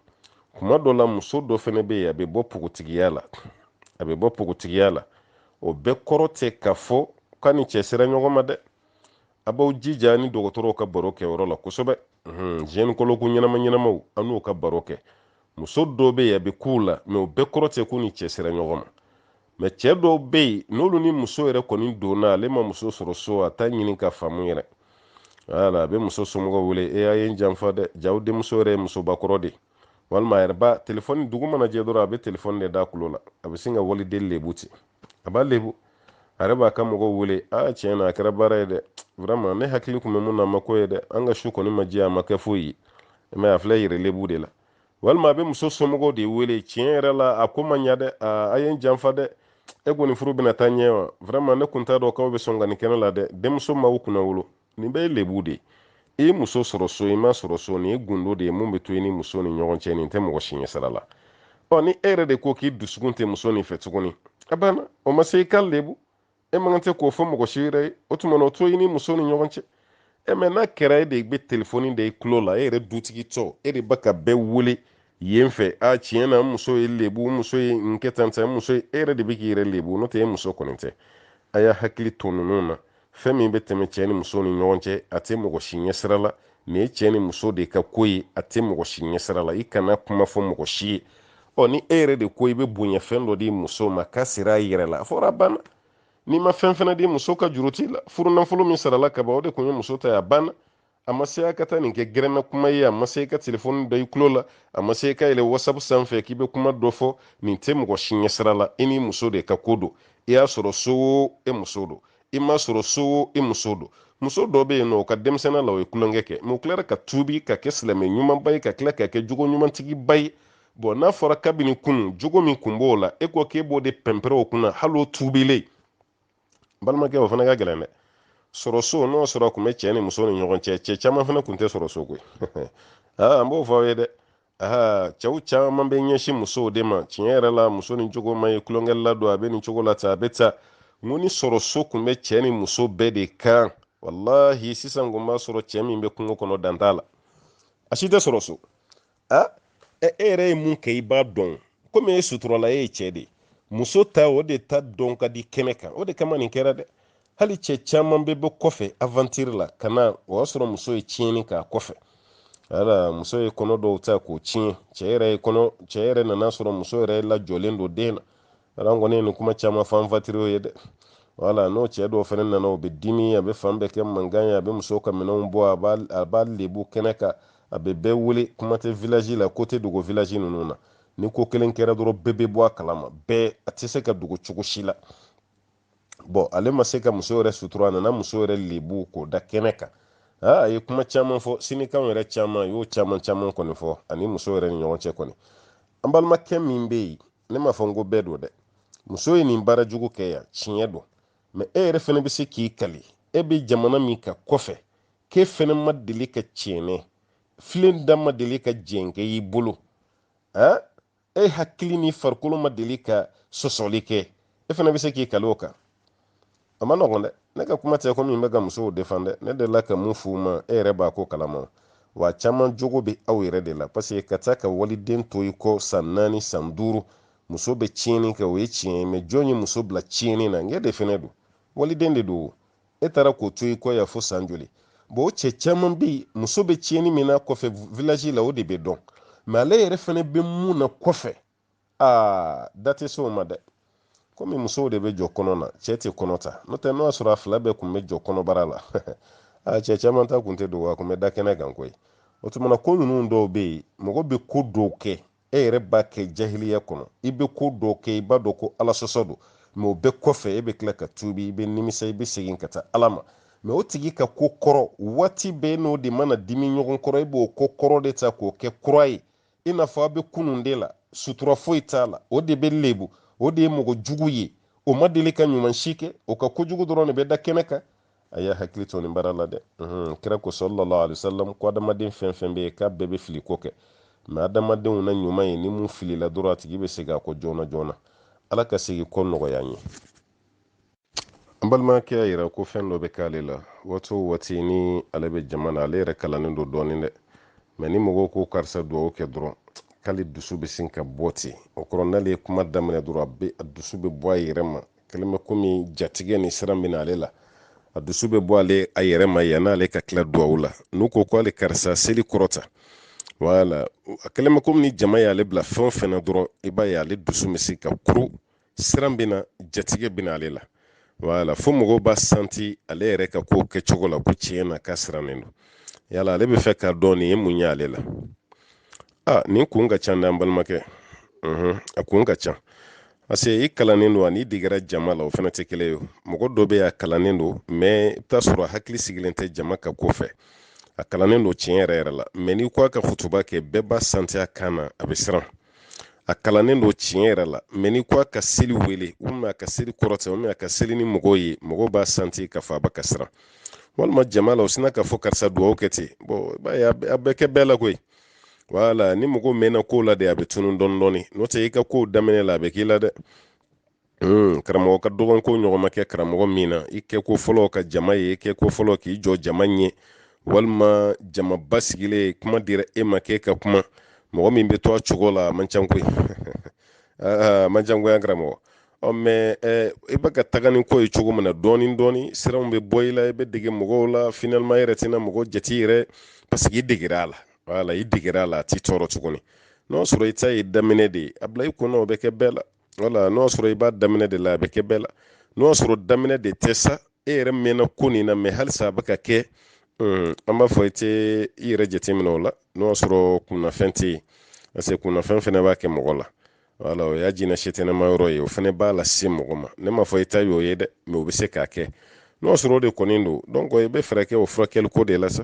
kuma dɔ la muso dɔ fɛnɛ bɛ yen a bɛ bɔ pogotigiya la a bɛ bɔ pogotigiya la o bɛɛ kɔrɔ tɛ k'a fɔ k'a ni cɛ sera ɲɔgɔn ma dɛ a b'aw jija ni dɔgɔtɔrɔw ka baro kɛ yɔrɔ la kosɛbɛ gynécologue ɲɛnama ɲɛnamaw an n'u ka baro kɛ muso dɔw bɛ yen a bɛ k'u la mɛ o bɛɛ kɔrɔ tɛ k'u ni cɛ sera ɲɔgɔn ma mɛ cɛ dɔw bɛ yen n'olu ni muso yɛrɛ kɔni donna ale ma muso sɔrɔ so a t'a ɲini ka faamu yɛrɛ wala a bɛ muso somɔgɔw wele e a ye n janfa dɛ j'aw denmuso yɛrɛ ye musobakɔrɔ de walima a yɛrɛ ba telefɔni dugu mana jɛ dɔrɔn a bɛ telefɔni de d'a kulo la a bɛ sin ka waliden lebu ten a b'a lebu a yɛrɛ b'a ka mɔgɔw wele a tiɲɛ na a kɛra baara ye dɛ vraiment ne hakili kun bɛ mun na a ma ko ye dɛ an ka su kɔni ma jɛ a ma kɛ foyi ye mɛ a filɛ yɛrɛ lebu de la walima a bɛ muso somɔgɔw de wele tiɲɛ yɛrɛ la a ko ma ɲa dɛ a ye n janfa dɛ e kɔni furu bɛna taa ɲɛ wa vraiment ne kun t'a dɔn k'aw bɛ sɔn ka nin kɛ ne la dɛ denmuso m'aw kunna wolo nin bɛɛ ye lebu de i ye muso sɔrɔ so i m'a sɔrɔ so nin ye gundo de ye mun bɛ to i ni muso ni ɲɔgɔn cɛ nin tɛ mɔgɔ si ɲɛsira la ɔ ni e yɛrɛ de ko k'i dusukun tɛ muso nin fɛ tuguni a banna o ma se i k'a lebu e man kan tɛ k'o fɔ mɔgɔ si yɛrɛ ye o tuma na o to i ni muso ni ɲɔgɔn cɛ e mɛ n'a kɛra e de bɛ telefɔni da i tulo la e yɛrɛ dutigi tɔ e de bɛ ka bɛɛ wele yen fɛ a tiɲɛ na n muso ye n lebu n muso ye n kɛ tan n muso ye e yɛrɛ de bɛ k'i yɛrɛ lebu n'o tɛ e muso kɔni tɛ a y'a hakili to ninnu na fɛn min bɛ tɛmɛ cɛɛ ni muso ni ɲɔgɔn cɛ a tɛ mɔgɔ si ɲɛsira la nin ye cɛɛ ni muso de ka ko ye a tɛ mɔgɔ si ɲɛsira la i kana kuma fɔ mɔgɔ si ye ɔ ni e yɛrɛ de ko i bɛ bonya fɛn dɔ di muso ma k'a sera a yɛrɛ la a fɔra a banna n'i ma fɛn fɛnɛ di muso ka juru t'i la furu nafolo min sarala ka ban o de kun ye muso ta ye a banna a ma se a ka taa nin kɛ gɛrɛnna kuma ye a ma se ka telefɔni da i kulo la a ma se ka yɛlɛ wasapu sanfɛ k'i bɛ kuma dɔ fɔ nin tɛ mɔgɔ si ɲɛsira la i ni muso de ka ko don i y'a sɔrɔ so o e muso don i m'a sɔrɔ so o i muso don muso dɔ bɛ yen nɔ o ka denmisɛnninya la o ye tulonkɛ kɛ mɛ o tilara ka tuubi ka kɛ silamɛ ɲumanba ye ka tila ka kɛ jogo ɲumantigiba ye bɔn n'a fɔra kabini kunun jogo min kun b'o la e ko k'e b'o de pɛnpɛrɛ o kunna hali o tuubilen balimakɛ o fana ka gɛlɛn dɛ sɔrɔ so n'o sɔrɔ kun bɛ cɛ ni muso ni ɲɔgɔn cɛ cɛ caman fana kun tɛ sɔrɔ so koyi aa n b'o fɔ aw ye dɛ aa cɛw caman bɛ ɲɛsin musow de ma tiɲɛ yɛrɛ la muso nin jogo man ɲi tulonkɛla don a bɛ nin cogo la tan a bɛ tan n ko ni sɔrɔ so kun bɛ cɛ ni muso bɛɛ de kan walahi sisan kun b'a sɔrɔ cɛ min bɛ kungo kɔnɔ dan t'a la a si tɛ sɔrɔ so a e yɛrɛ ye mun kɛ i b'a dɔn komi e suturala e ye cɛ de muso ta o de ta dɔn ka di kɛnɛ kan o de kama nin kɛra dɛ hali cɛ caman bɛ bɔ kɔfɛ aventure la ka na o y'a sɔrɔ muso ye tiɲɛni k'a kɔfɛ wala muso ye kɔnɔ dɔw ta k'o tiɲɛ cɛ yɛrɛ ye kɔnɔ cɛ yɛrɛ nan'a sɔrɔ muso yɛrɛ lajɔlen don den na ala kɔni ye nin kuma caman fɔ aventurierw ye dɛ wala n'o cɛ dɔw fɛnɛ nana o bɛ dimi a bɛ fan bɛɛ kɛ mankan ye a bɛ muso ka minɛnw bɔ a b'a lebu kɛnɛ kan a bɛ bɛɛ wele kuma tɛ village la ko tɛ dogo village ninnu na ni ko kelen kɛra dɔrɔn bɛɛ bɛ bɔ a kalama bɛɛ a tɛ se ka dogo cogo si la bon ale ma se ka muso yɛrɛ sutura a nana muso yɛrɛ lebu k'o da kɛnɛ kan a ye kuma caman fɔ sinikanw yɛrɛ caman y'o caman caman kɔni fɔ ani muso yɛrɛ ni ɲɔgɔn cɛ kɔni an balimakɛ min bɛ yen ne m'a fɔ n ko bɛɛ don dɛ muso ye nin baara jugu kɛ yan tiɲɛ don mɛ e yɛrɛ fana bɛ se k'i kali e bɛ jamana min kan kɔfɛ k'e fana ma deli ka tiɲɛni filen da ma deli ka jɛnkɛ i bolo e hakili ni farikolo ma deli ka sɔsɔli kɛ e fana bɛ se k'i kali o kan a man nɔgɔn dɛ ne ka kuma tɛ ko ne bɛ ka musow defan dɛ ne delila ka mun f'u ma e yɛrɛ b'a ko kalama wa caman jogo bɛ aw yɛrɛ de la parce que ka taa ka waliden to i kɔ san naani san duuru muso bɛ tiɲɛni kɛ o ye tiɲɛ ye mɛ jɔn ye muso bila tiɲɛni na e de fɛnɛ don waliden de don e taara k'o to i kɔ yan fo san joli bon o cɛ caman bɛ yen muso bɛ tiɲɛni min na kɔfɛ village la o de bɛ dɔn mɛ ale yɛrɛ fana bɛ mun na kɔfɛ aa da tɛ se o ma dɛ komi musow de bɛ jɔ kɔnɔ na cɛ tɛ kɔnɔ ta n'o tɛ n'o y'a sɔrɔ a fila bɛɛ tun bɛ jɔ kɔnɔbara la a cɛ caman ta tun tɛ dogo a tun bɛ da kɛnɛ kan koyi o tuma na ko ninnu dɔw bɛ yen mɔgɔ bɛ ko dɔw kɛ e yɛrɛ b'a kɛ jahiliya kɔnɔ i bɛ ko dɔ kɛ i b'a dɔn ko ala sɔsɔ don mɛ o bɛɛ kɔfɛ e bɛ tila ka tuubi i bɛ nimisa i bɛ segin ka taa ala ma mɛ o tigi ka ko kɔrɔ waati bɛɛ n'o de mana dimi ɲɔgɔn kɔrɔ i b'o ko kɔrɔ de ta k'o kɛ kura ye i n'a fɔ a bɛ kunun de la sutura foyi t'a la o de bɛ lebu o de ye mɔgɔ jugu ye o ma deli ka ɲuman si kɛ o ka kojugu dɔrɔn de bɛ da kɛnɛ kan a y'a hakili to nin baara la dɛ kira ko sallallahu alaihi wasallam ko adamaden fɛn fɛn bɛ yen k'a bɛɛ bɛ fili ko kɛ mɛ adamadenw na ɲuman ye ni min filila dɔrɔn a tigi bɛ segin a kɔ joona joona ala ka segin kɔ nɔgɔya an ye an balimakɛ y'a yira ko fɛn dɔ bɛ k'ale la waati o waati ni ale bɛ jama na ale yɛrɛ kalannen don dɔɔnin dɛ mɛ ni mɔgɔw ko karisa dugawu kɛ dɔrɔn k'ale dusu bɛ sin ka bɔ ten o kɔrɔ n'ale ye kuma daminɛ dɔrɔn a bɛ a dusu bɛ bɔ a yɛrɛ ma kɛlen bɛ komi jatigɛ ni siran bɛ na ale la a dusu bɛ bɔ ale a yɛrɛ ma yan n'ale ka tila duwawu la n'u ko ko ale karisa seli kɔrɔta wala a kɛlen bɛ komi ni jama y'ale bila fɛn o fɛn na dɔrɔn i b'a ye ale dusu bɛ se ka kuru siran bɛ na jatigɛ bɛ na ale la wala fo mɔgɔw b'a santi ale yɛrɛ ka kow kɛcogo la ko tiɲɛ na k'a sirannen don yala ale b'a fɛ k'a dɔn nin ye mun ye ale la a nin kun ka ca an balimakɛ a kun ka ca parce que i kalannen don ani degera jama la o fana tɛ kelen ye mɔgɔ dɔ bɛ yen a kalannen don mɛ i bɛ t'a sɔrɔ a hakili sigilen tɛ jama ka ko fɛ a kalannen don tiɲɛ yɛrɛ yɛrɛ la mɛ n'i ko a ka kutuba kɛ bɛɛ b'a santi a kan na a bɛ siran a kalannen don tiɲɛ yɛrɛ la mɛ n'i ko a ka seli wele walima a ka seli kɔrɔta walima a ka seli ni mɔgɔw ye mɔgɔw b'a santi k'a fɔ a bɛ ka siran walima jama la u sinna k'a fɔ karisa dugawu kɛ ten bon i b'a ye a bɛ kɛ bɛɛ la koyi wala ni mɔgɔ mɛnna kow la de a bɛ tunun dɔɔni dɔɔni n'o tɛ i ka kow daminɛ la a bɛ k'i la dɛ Hmm, karamɔgɔ ka dɔgɔn ko ɲɔgɔn ma kɛ karamɔgɔ min na i kɛ ko fɔlɔ ka jama ye i kɛ ko fɔlɔ k'i jɔ jama ɲɛ walima jama basigilen kuma dira e ma k'e ka kuma mɔgɔ min bɛ to a cogo la a man ca koyi a man ca koyi an karamɔgɔ ɔ mɛ eh, i bɛ ka taga ni ko ye cogo min na dɔɔni dɔɔni siranw bɛ bɔ i la i bɛ dege mɔgɔw la finalement i yɛrɛ tɛna mɔgɔ jate yɛrɛ parce que i degera a la wala i degera a la a t'i tɔɔrɔ tuguni n'o sɔrɔ i ta ye daminɛ de ye a bila i kun na o bɛ kɛ bɛɛ la wala n'o sɔrɔ i b'a daminɛ de la a bɛ kɛ bɛɛ la n'o sɔrɔ daminɛ de tɛ sa e yɛrɛ mɛnna ko nin na mɛ halisa a bɛ ka kɛ hmm, an b'a fɔ i tɛ i yɛrɛ jateminɛ o la n'o sɔrɔ kunnafɛn tɛ yen parce que kunnafɛn fana b'a kɛ mɔgɔ la wala o y'a jina setɛnɛma yɔrɔ ye o fana b'a lase mɔgɔ ma ne m'a fɔ i ta y'o ye dɛ mɛ o bɛ se k'a kɛ n'o sɔrɔ o de kɔni don donc i bɛ fɛɛrɛ kɛ o furakɛli ko de la sa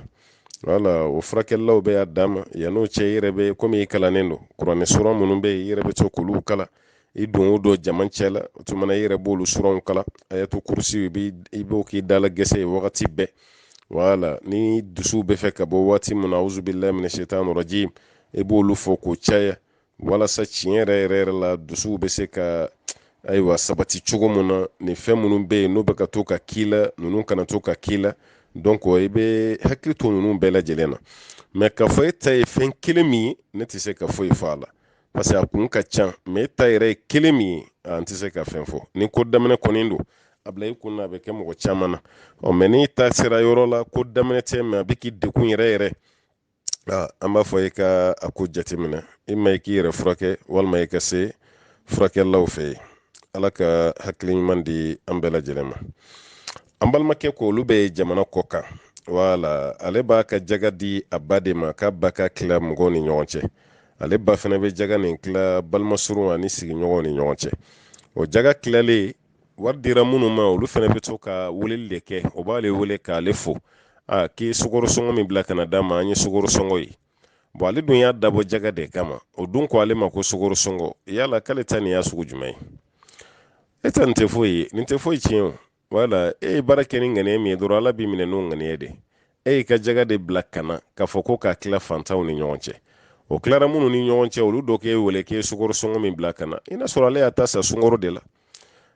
wala o furakɛlilaw bɛ y'a d'a ma yann'o cɛ i yɛrɛ bɛ komi i kalannen don kuranɛ sura minnu bɛ yen i yɛrɛ bɛ to k'olu kalan i don o don jama cɛ la o tuma na i yɛrɛ b'olu suraw kalan ayatul kursi i b'o k'i dala gɛsɛ ye wagati bɛɛ wala ni dusu bɛ fɛ ka bɔ waati min na auzu billahi mina shaitani rajim i b'olu fɔ k'o caya walasa tiɲɛ yɛrɛ yɛrɛ yɛrɛ la dusu bɛ se ka ayiwa sabati cogo min na nin fɛn minnu bɛ yen n'o bɛ ka to ka k'i la ninnu kana to ka k'i la donc i bɛ hakili to ninnu bɛɛ lajɛlen na mɛ k'a fɔ e ta ye fɛn kelen min ye ne tɛ se ka foyi fɔ a la parce que a kun ka ca mɛ e ta yɛrɛ ye kelen min ye n tɛ se ka fɛn fɔ ni ko daminɛ kɔni don a bila i kun na a bɛ kɛ mɔgɔ caman na ɔ mɛ n'i ta sera yɔrɔ la ko daminɛ tɛ mɛ a bɛ k'i degun yɛrɛ yɛrɛ an b'a fɔ i ka a ko jateminɛ imma i k'i yɛrɛ furakɛ walima i ka se furakɛlaw fɛ yen ala ka hakili ɲuman di an bɛɛ lajɛlen ma an balimakɛ ko olu bɛ jamana kɔ kan wala ale b'a ka jaga di a ba de ma k'a ba k'a tila mɔgɔw ni ɲɔgɔn cɛ ale ba fana bɛ jaga nin tila balimasurun ani sigiɲɔgɔnw ni ɲɔgɔn cɛ o jaga tilalen wari dira minnu ma olu fana bɛ to ka weleli de kɛ o b'ale wele k'ale fo a k'i sukoro sɔngɔ min bila ka na d'a ma an ye sukoro sɔngɔ ye bon ale dun y'a dabɔ jaga de kama o dun ko ale ma ko sukoro sɔngɔ yala k'ale ta nin y'a sugu jumɛn ye e ta nin tɛ foyi ye nin tɛ foyi tiɲɛ o wala e ye baara kɛ ni ŋaniya min ye dɔrɔn ala b'i minɛ n'o ŋaniya de e y'i ka jaga de bila ka na k'a fɔ ko k'a tila fantanw ni ɲɔgɔn cɛ o tilara minnu ni ɲɔgɔn cɛ olu dɔ k'e wele k'e sukoro sɔngɔ min bila ka na i n'a sɔrɔ ale y'a ta san sukoro de la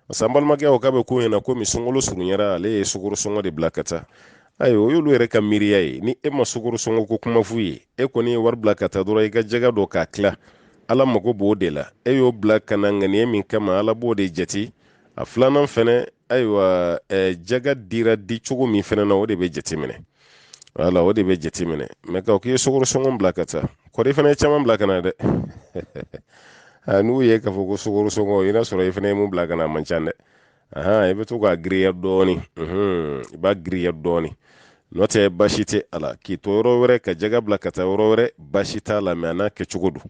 parce que an balimakɛ o k'a bɛ k'u ɲɛna komi sunkalo surunyara ale ye sukoro sɔngɔ de bila ka taa ayiwa o y'olu yɛrɛ ka miiriya ye ni e ma sukoro sɔngɔ ko kuma f'u ye e kɔni ye wari bila ka taa dɔrɔn i ka jaga dɔ k'a tila ala mago b'o de la e y'o bila ka na ŋaniya min kama ala b'o de jate a filanan fɛnɛ ayiwa jaga dira di cogo min fɛnɛ na o de bɛ jateminɛ wala o de bɛ jate minɛ mɛ ka k'i ye sukaro sɔngɔn bila ka taa kɔri i fana ye caman bila ka na dɛ n'u ye k'a fɔ ko sukaro sɔngɔn i n'a sɔrɔ i fana ye mun bila ka na a man ca dɛ i bɛ to k'a giriya dɔɔni i b'a giriya dɔɔni n'o tɛ baasi tɛ a la k'i to yɔrɔ wɛrɛ ka jaga bila ka taa yɔrɔ wɛrɛ baasi t'a la mɛ a n'a kɛcogo don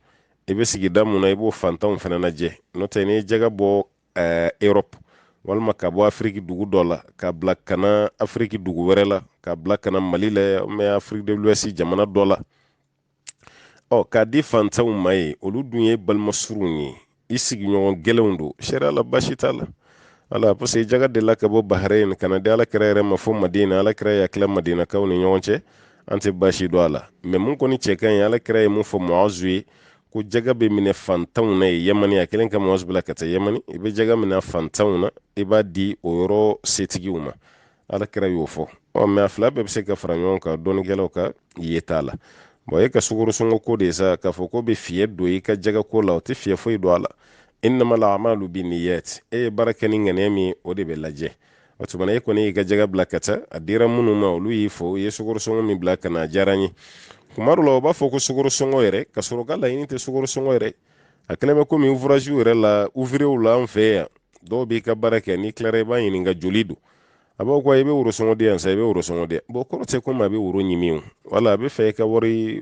i bɛ sigida mun na i b'o fantanw fana lajɛ n'o tɛ n'i ye jaga bɔ eh, europe walima ka bɔ afiriki dugu dɔ la ka bila ka na afiriki dugu wɛrɛ la ka bila ka na mali la mɛ afiriki de l'ouest jamana dɔ la ɔ k'a di fantanw ma yen olu dun ye balimasurunw ye i sigiɲɔgɔn gɛlɛnw don sariya la baasi t'a la ala parce que jaga delila ka bɔ bahrain ka na di ala kira yɛrɛ ma fo madina ala kira y'a tila madinakaw ni ɲɔgɔn cɛ an tɛ baasi don a la mɛ mun kɔni cɛ ka ɲi ala kira ye mun fɔ muazu ye ko jaga bɛ minɛ fantanw na yen yamani a kɛlen ka muazu bila ka taa yamani i bɛ jaga minɛ fantanw na i b'a di o yɔrɔ setigiw ma ala kira y'o fɔ ɔ mɛ a fila bɛɛ bɛ se ka fara ɲɔgɔn kan dɔnnikɛlaw ka yeta la bɔn e ka sukarosɔngɔ ko de sa k'a fɔ k'o bɛ fiyɛ don i ka jaga ko la o tɛ fiyɛ foyi don a la innamal a'malu binniyat e ye baara kɛ ni ŋaniya min o de bɛ lajɛ o tuma na e kɔni y'i ka jaga bila ka taa a dira minnu ma olu y'i fo i ye sukarosɔngɔ min bila ka na a diyara n ye kuma dɔ la u b'a fɔ ko sukarosɔngɔ yɛrɛ k'a sɔrɔ k'a laɲini tɛ sukarosɔngɔ yɛrɛ a kɛlen bɛ komi ouvragew yɛrɛ la ouvriers la an fɛ yan dɔw b'i ka baara kɛ n'i tilara i b'a ɲininka joli don a b'a ko i bɛ worosɔngɔ di yan sa i bɛ worosɔngɔ di bɔn kɔrɔ tɛ komi a bɛ woro ɲimi o wala a bɛ fɛ i ka wari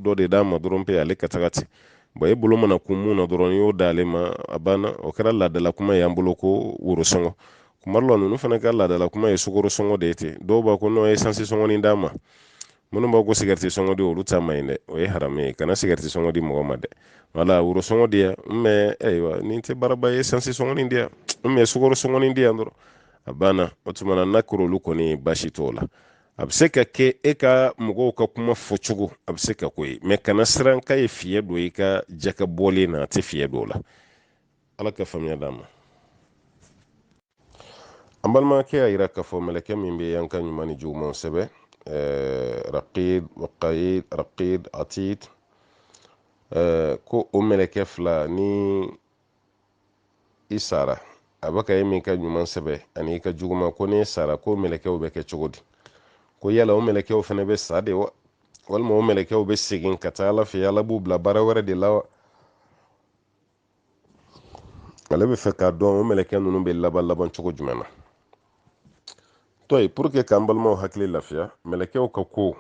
dɔ de d'a ma dɔrɔn pe ale ka taga ten bɔn e bolo mana kun mun na dɔrɔn y'o d'ale ma a banna o kɛra laadala kuma y'an bolo ko worosɔngɔ kuma dɔ la ninnu fana ka laadala kuma ye sukaro sɔngɔ de ye ten dɔw b'a ko n'o ye sansi sɔngɔni d'a ma minnu b'a ko sigɛriti sɔngɔ di olu ta man ɲi dɛ o ye haramu ye kana sigɛriti sɔngɔ di mɔgɔ ma dɛ wala woro sɔngɔ di yan n ma ayiwa nin tɛ baaraba ye sansi sɔngɔni di yan n ma sukaro sɔngɔni di yan dɔrɔn a banna o tuma na n'a kɛr'olu kɔni baasi t'o la a bɛ se ka kɛ e ka mɔgɔw ka kuma fɔcogo a bɛ se ka k'o ye mɛ kana siran k'a ye fiɲɛ don i ka jaga bɔlen na a tɛ fiɲɛ don o la ala ka faamuya d'an ma an balimakɛ y'a yira k'a fɔ mɛlɛkɛ min bɛ an ka ɲuman ni jugumanw sɛbɛn eh, raqib waqayid raqib atid eh, ko o mɛlɛkɛ fila ni i sara a bɛ ka e min ka ɲuman sɛbɛ ani i ka juguman ko n'e sara k'o mɛlɛkɛw bɛ kɛ cogo di ko yala o mɛlɛkɛw fana bɛ sa de wa walima o mɛlɛkɛw bɛ segin ka taa ala fɛ ala b'u bila baara wɛrɛ de la wa ale bɛ fɛ k'a dɔn o mɛlɛkɛ ninnu bɛ laban laban cogo jumɛn na tɔ ye pour que k'an balimaw hakili lafiya mɛlɛkɛw ka ko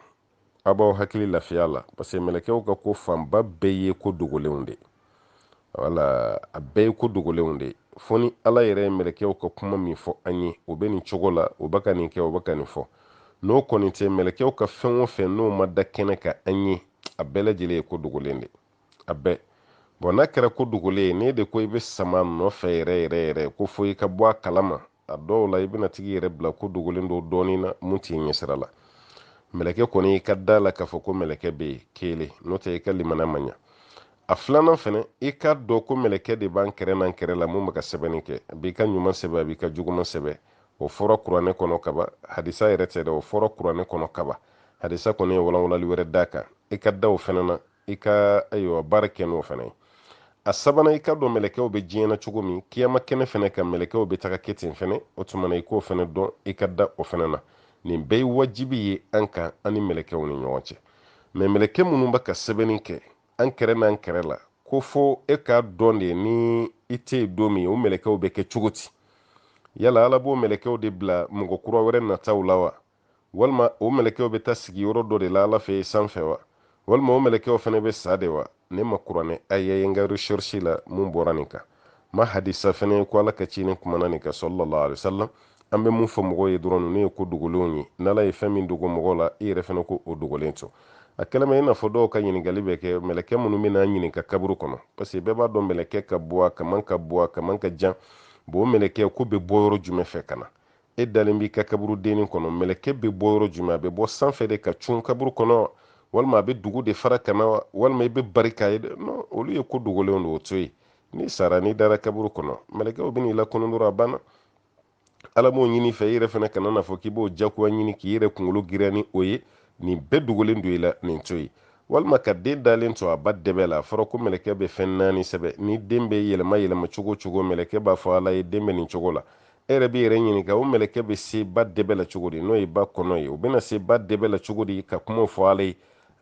a b'aw hakili lafiya la parce que mɛlɛkɛw ka ko fanba bɛɛ ye ko dogolenw de wala a bɛɛ ye ko dogolenw de fo ni ala yɛrɛ ye mɛlɛkɛw ka kuma min fɔ an ye o bɛ nin cogo la o bɛ ka nin kɛ o bɛ ka nin fɔ n'o kɔni tɛ mɛlɛkɛw ka fɛn o fɛn n'o ma da kɛnɛ kan an ye a bɛɛ lajɛlen ye ko dogolen de a bɛɛ bon n'a kɛra ko dogolen ye ne de ko i bɛ sama nɔfɛ yɛrɛ yɛrɛ yɛrɛ ko fo i ka bɔ a kalama a dɔw la i bɛna tag'i yɛrɛ bila ko dogolen dɔ dɔnni na mun t'i ɲɛsira la mɛlɛkɛ kɔni i ka d'a la k'a fɔ ko mɛlɛkɛ bɛ yen kelen n'o tɛ i ka limana ma ɲa a filanan fɛnɛ i k'a dɔn ko mɛlɛkɛ de b'an kɛrɛ n'an kɛrɛ la mun bɛ ka sɛbɛnni kɛ a b'i ka ɲuman sɛbɛn a b'i ka juguman sɛbɛn o fɔra kuranɛ kɔnɔ kaban hadisa yɛrɛ tɛ dɛ o fɔra kuranɛ kɔnɔ kaban hadisa kɔni ye walawalali wɛrɛ d'a kan i ka da o fɛnɛ na i ka ayiwa baara kɛ n'o fɛnɛ ye a sabanan i k'a dɔn mɛlɛkɛw bɛ diɲɛ na cogo min kiyama kɛnɛ fɛnɛ kan mɛlɛkɛw bɛ taga kɛ ten fɛnɛ o tuma na i k'o fɛnɛ dɔn i ka da o fɛnɛ na nin bɛɛ ye wajibi ye an kan an ni mɛlɛkɛw ni ɲɔgɔn cɛ mais mɛlɛkɛ minnu bɛ ka sɛbɛnni kɛ an kɛrɛ n'an kɛrɛ la ko fo e k'a dɔn de ni i tɛ yen don min o mɛlɛkɛw bɛ kɛ cogo di yala ala b'o mɛlɛkɛw de bila mɔgɔ kura wɛrɛ nataw la wa walima o mɛlɛkɛw bɛ taa sigi yɔrɔ dɔ de la ala fɛ sanfɛ wa walima o mɛlɛkɛw fɛnɛ bɛ sa de wa ne ma kuranɛ aya ye n ka recherche la mun bɔra nin kan n ma hadisa fana ko ala ka ciden kumana nin kan sallallahu alaihi wasallam an bɛ mun fɔ mɔgɔw ye dɔrɔn ninnu ye ko dogolenw ye n'ala ye fɛn min dogo mɔgɔw la i yɛrɛ fana k'o dogolen to a kelen ma i n'a fɔ dɔw ka ɲininkali bɛ kɛ mɛlɛkɛ minnu bɛ n'an ɲininka kaburu kɔnɔ parce que bɛɛ b'a dɔn mɛlɛkɛ ka bon a kaman ka bon a kaman ka jan bon o mɛlɛkɛ ko bɛ bɔ yɔrɔ jumɛn fɛ ka na e dalen b'i ka kaburu dennin kɔnɔ mɛlɛkɛ bɛ bɔ yɔrɔ jumɛn a bɛ bɔ sanfɛ de ka cun kaburu kɔnɔ walima a bɛ dugu de fara ka na wa walima i bɛ bari k'a ye dɛ non olu ye ko dogolenw de o to yen n'i sara n'i dara kaburu kɔnɔ mɛlɛkɛw bɛ n'i lakunun dɔrɔn a banna ala m'o ɲini i fɛ i yɛrɛ fana kana n'a fɔ k'i b'o jagoya ɲini k'i yɛrɛ kunkolo giriya ni o ye nin bɛɛ dogolen don i la nin to yen walima ka den dalen to a ba dɛbɛ la a fɔra ko mɛlɛkɛ bɛ fɛn naani sɛbɛn ni den bɛ yɛlɛma yɛlɛma cogo cogo mɛlɛkɛ b'a fɔ ala ye den bɛ nin cogo la e yɛrɛ b'i yɛrɛ ɲininka o mɛlɛkɛ bɛ se ba dɛbɛ la cogo di n'o ye ba kɔnɔ ye o bɛna se ba dɛbɛ la cogo di ka kumaw fɔ ala ye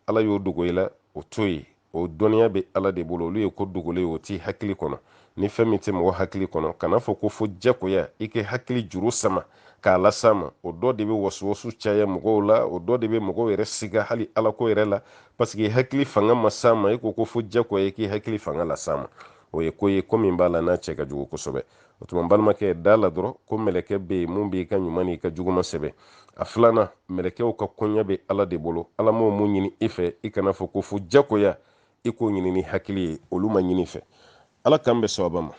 ala y'o dogo i la o to yen o dɔnniya bɛ ala de bolo olu ye ko dogolen o t'i hakili kɔnɔ ni fɛn min tɛ mɔgɔ hakili kɔnɔ kan'a fɔ ko fo jakoya i k'i hakili juru sama k'a las'a ma o dɔ de bɛ wasuwasu caya mɔgɔw la o dɔ de bɛ mɔgɔw yɛrɛ siga hali ala ko yɛrɛ la parce que hakili fanga ma s'a ma i ko ko fo jakoya i k'i hakili fanga las'a ma o ye ko ye ko min b'a la n'a cɛ ka jugu kosɛbɛ o tuma balimakɛ da la dɔrɔn ko mɛlɛkɛ bɛ yen mun b'i ka ɲuman n'i ka juguman sɛbɛn a filanan mɛlɛkɛw ka koɲɛ bɛ ala de bolo ala m'o mun ɲini i fɛ i kana fɔ ko fo jagoya i k'o ɲini ni hakili ye olu ma ɲini i fɛ ala k'an bɛn sawaba ma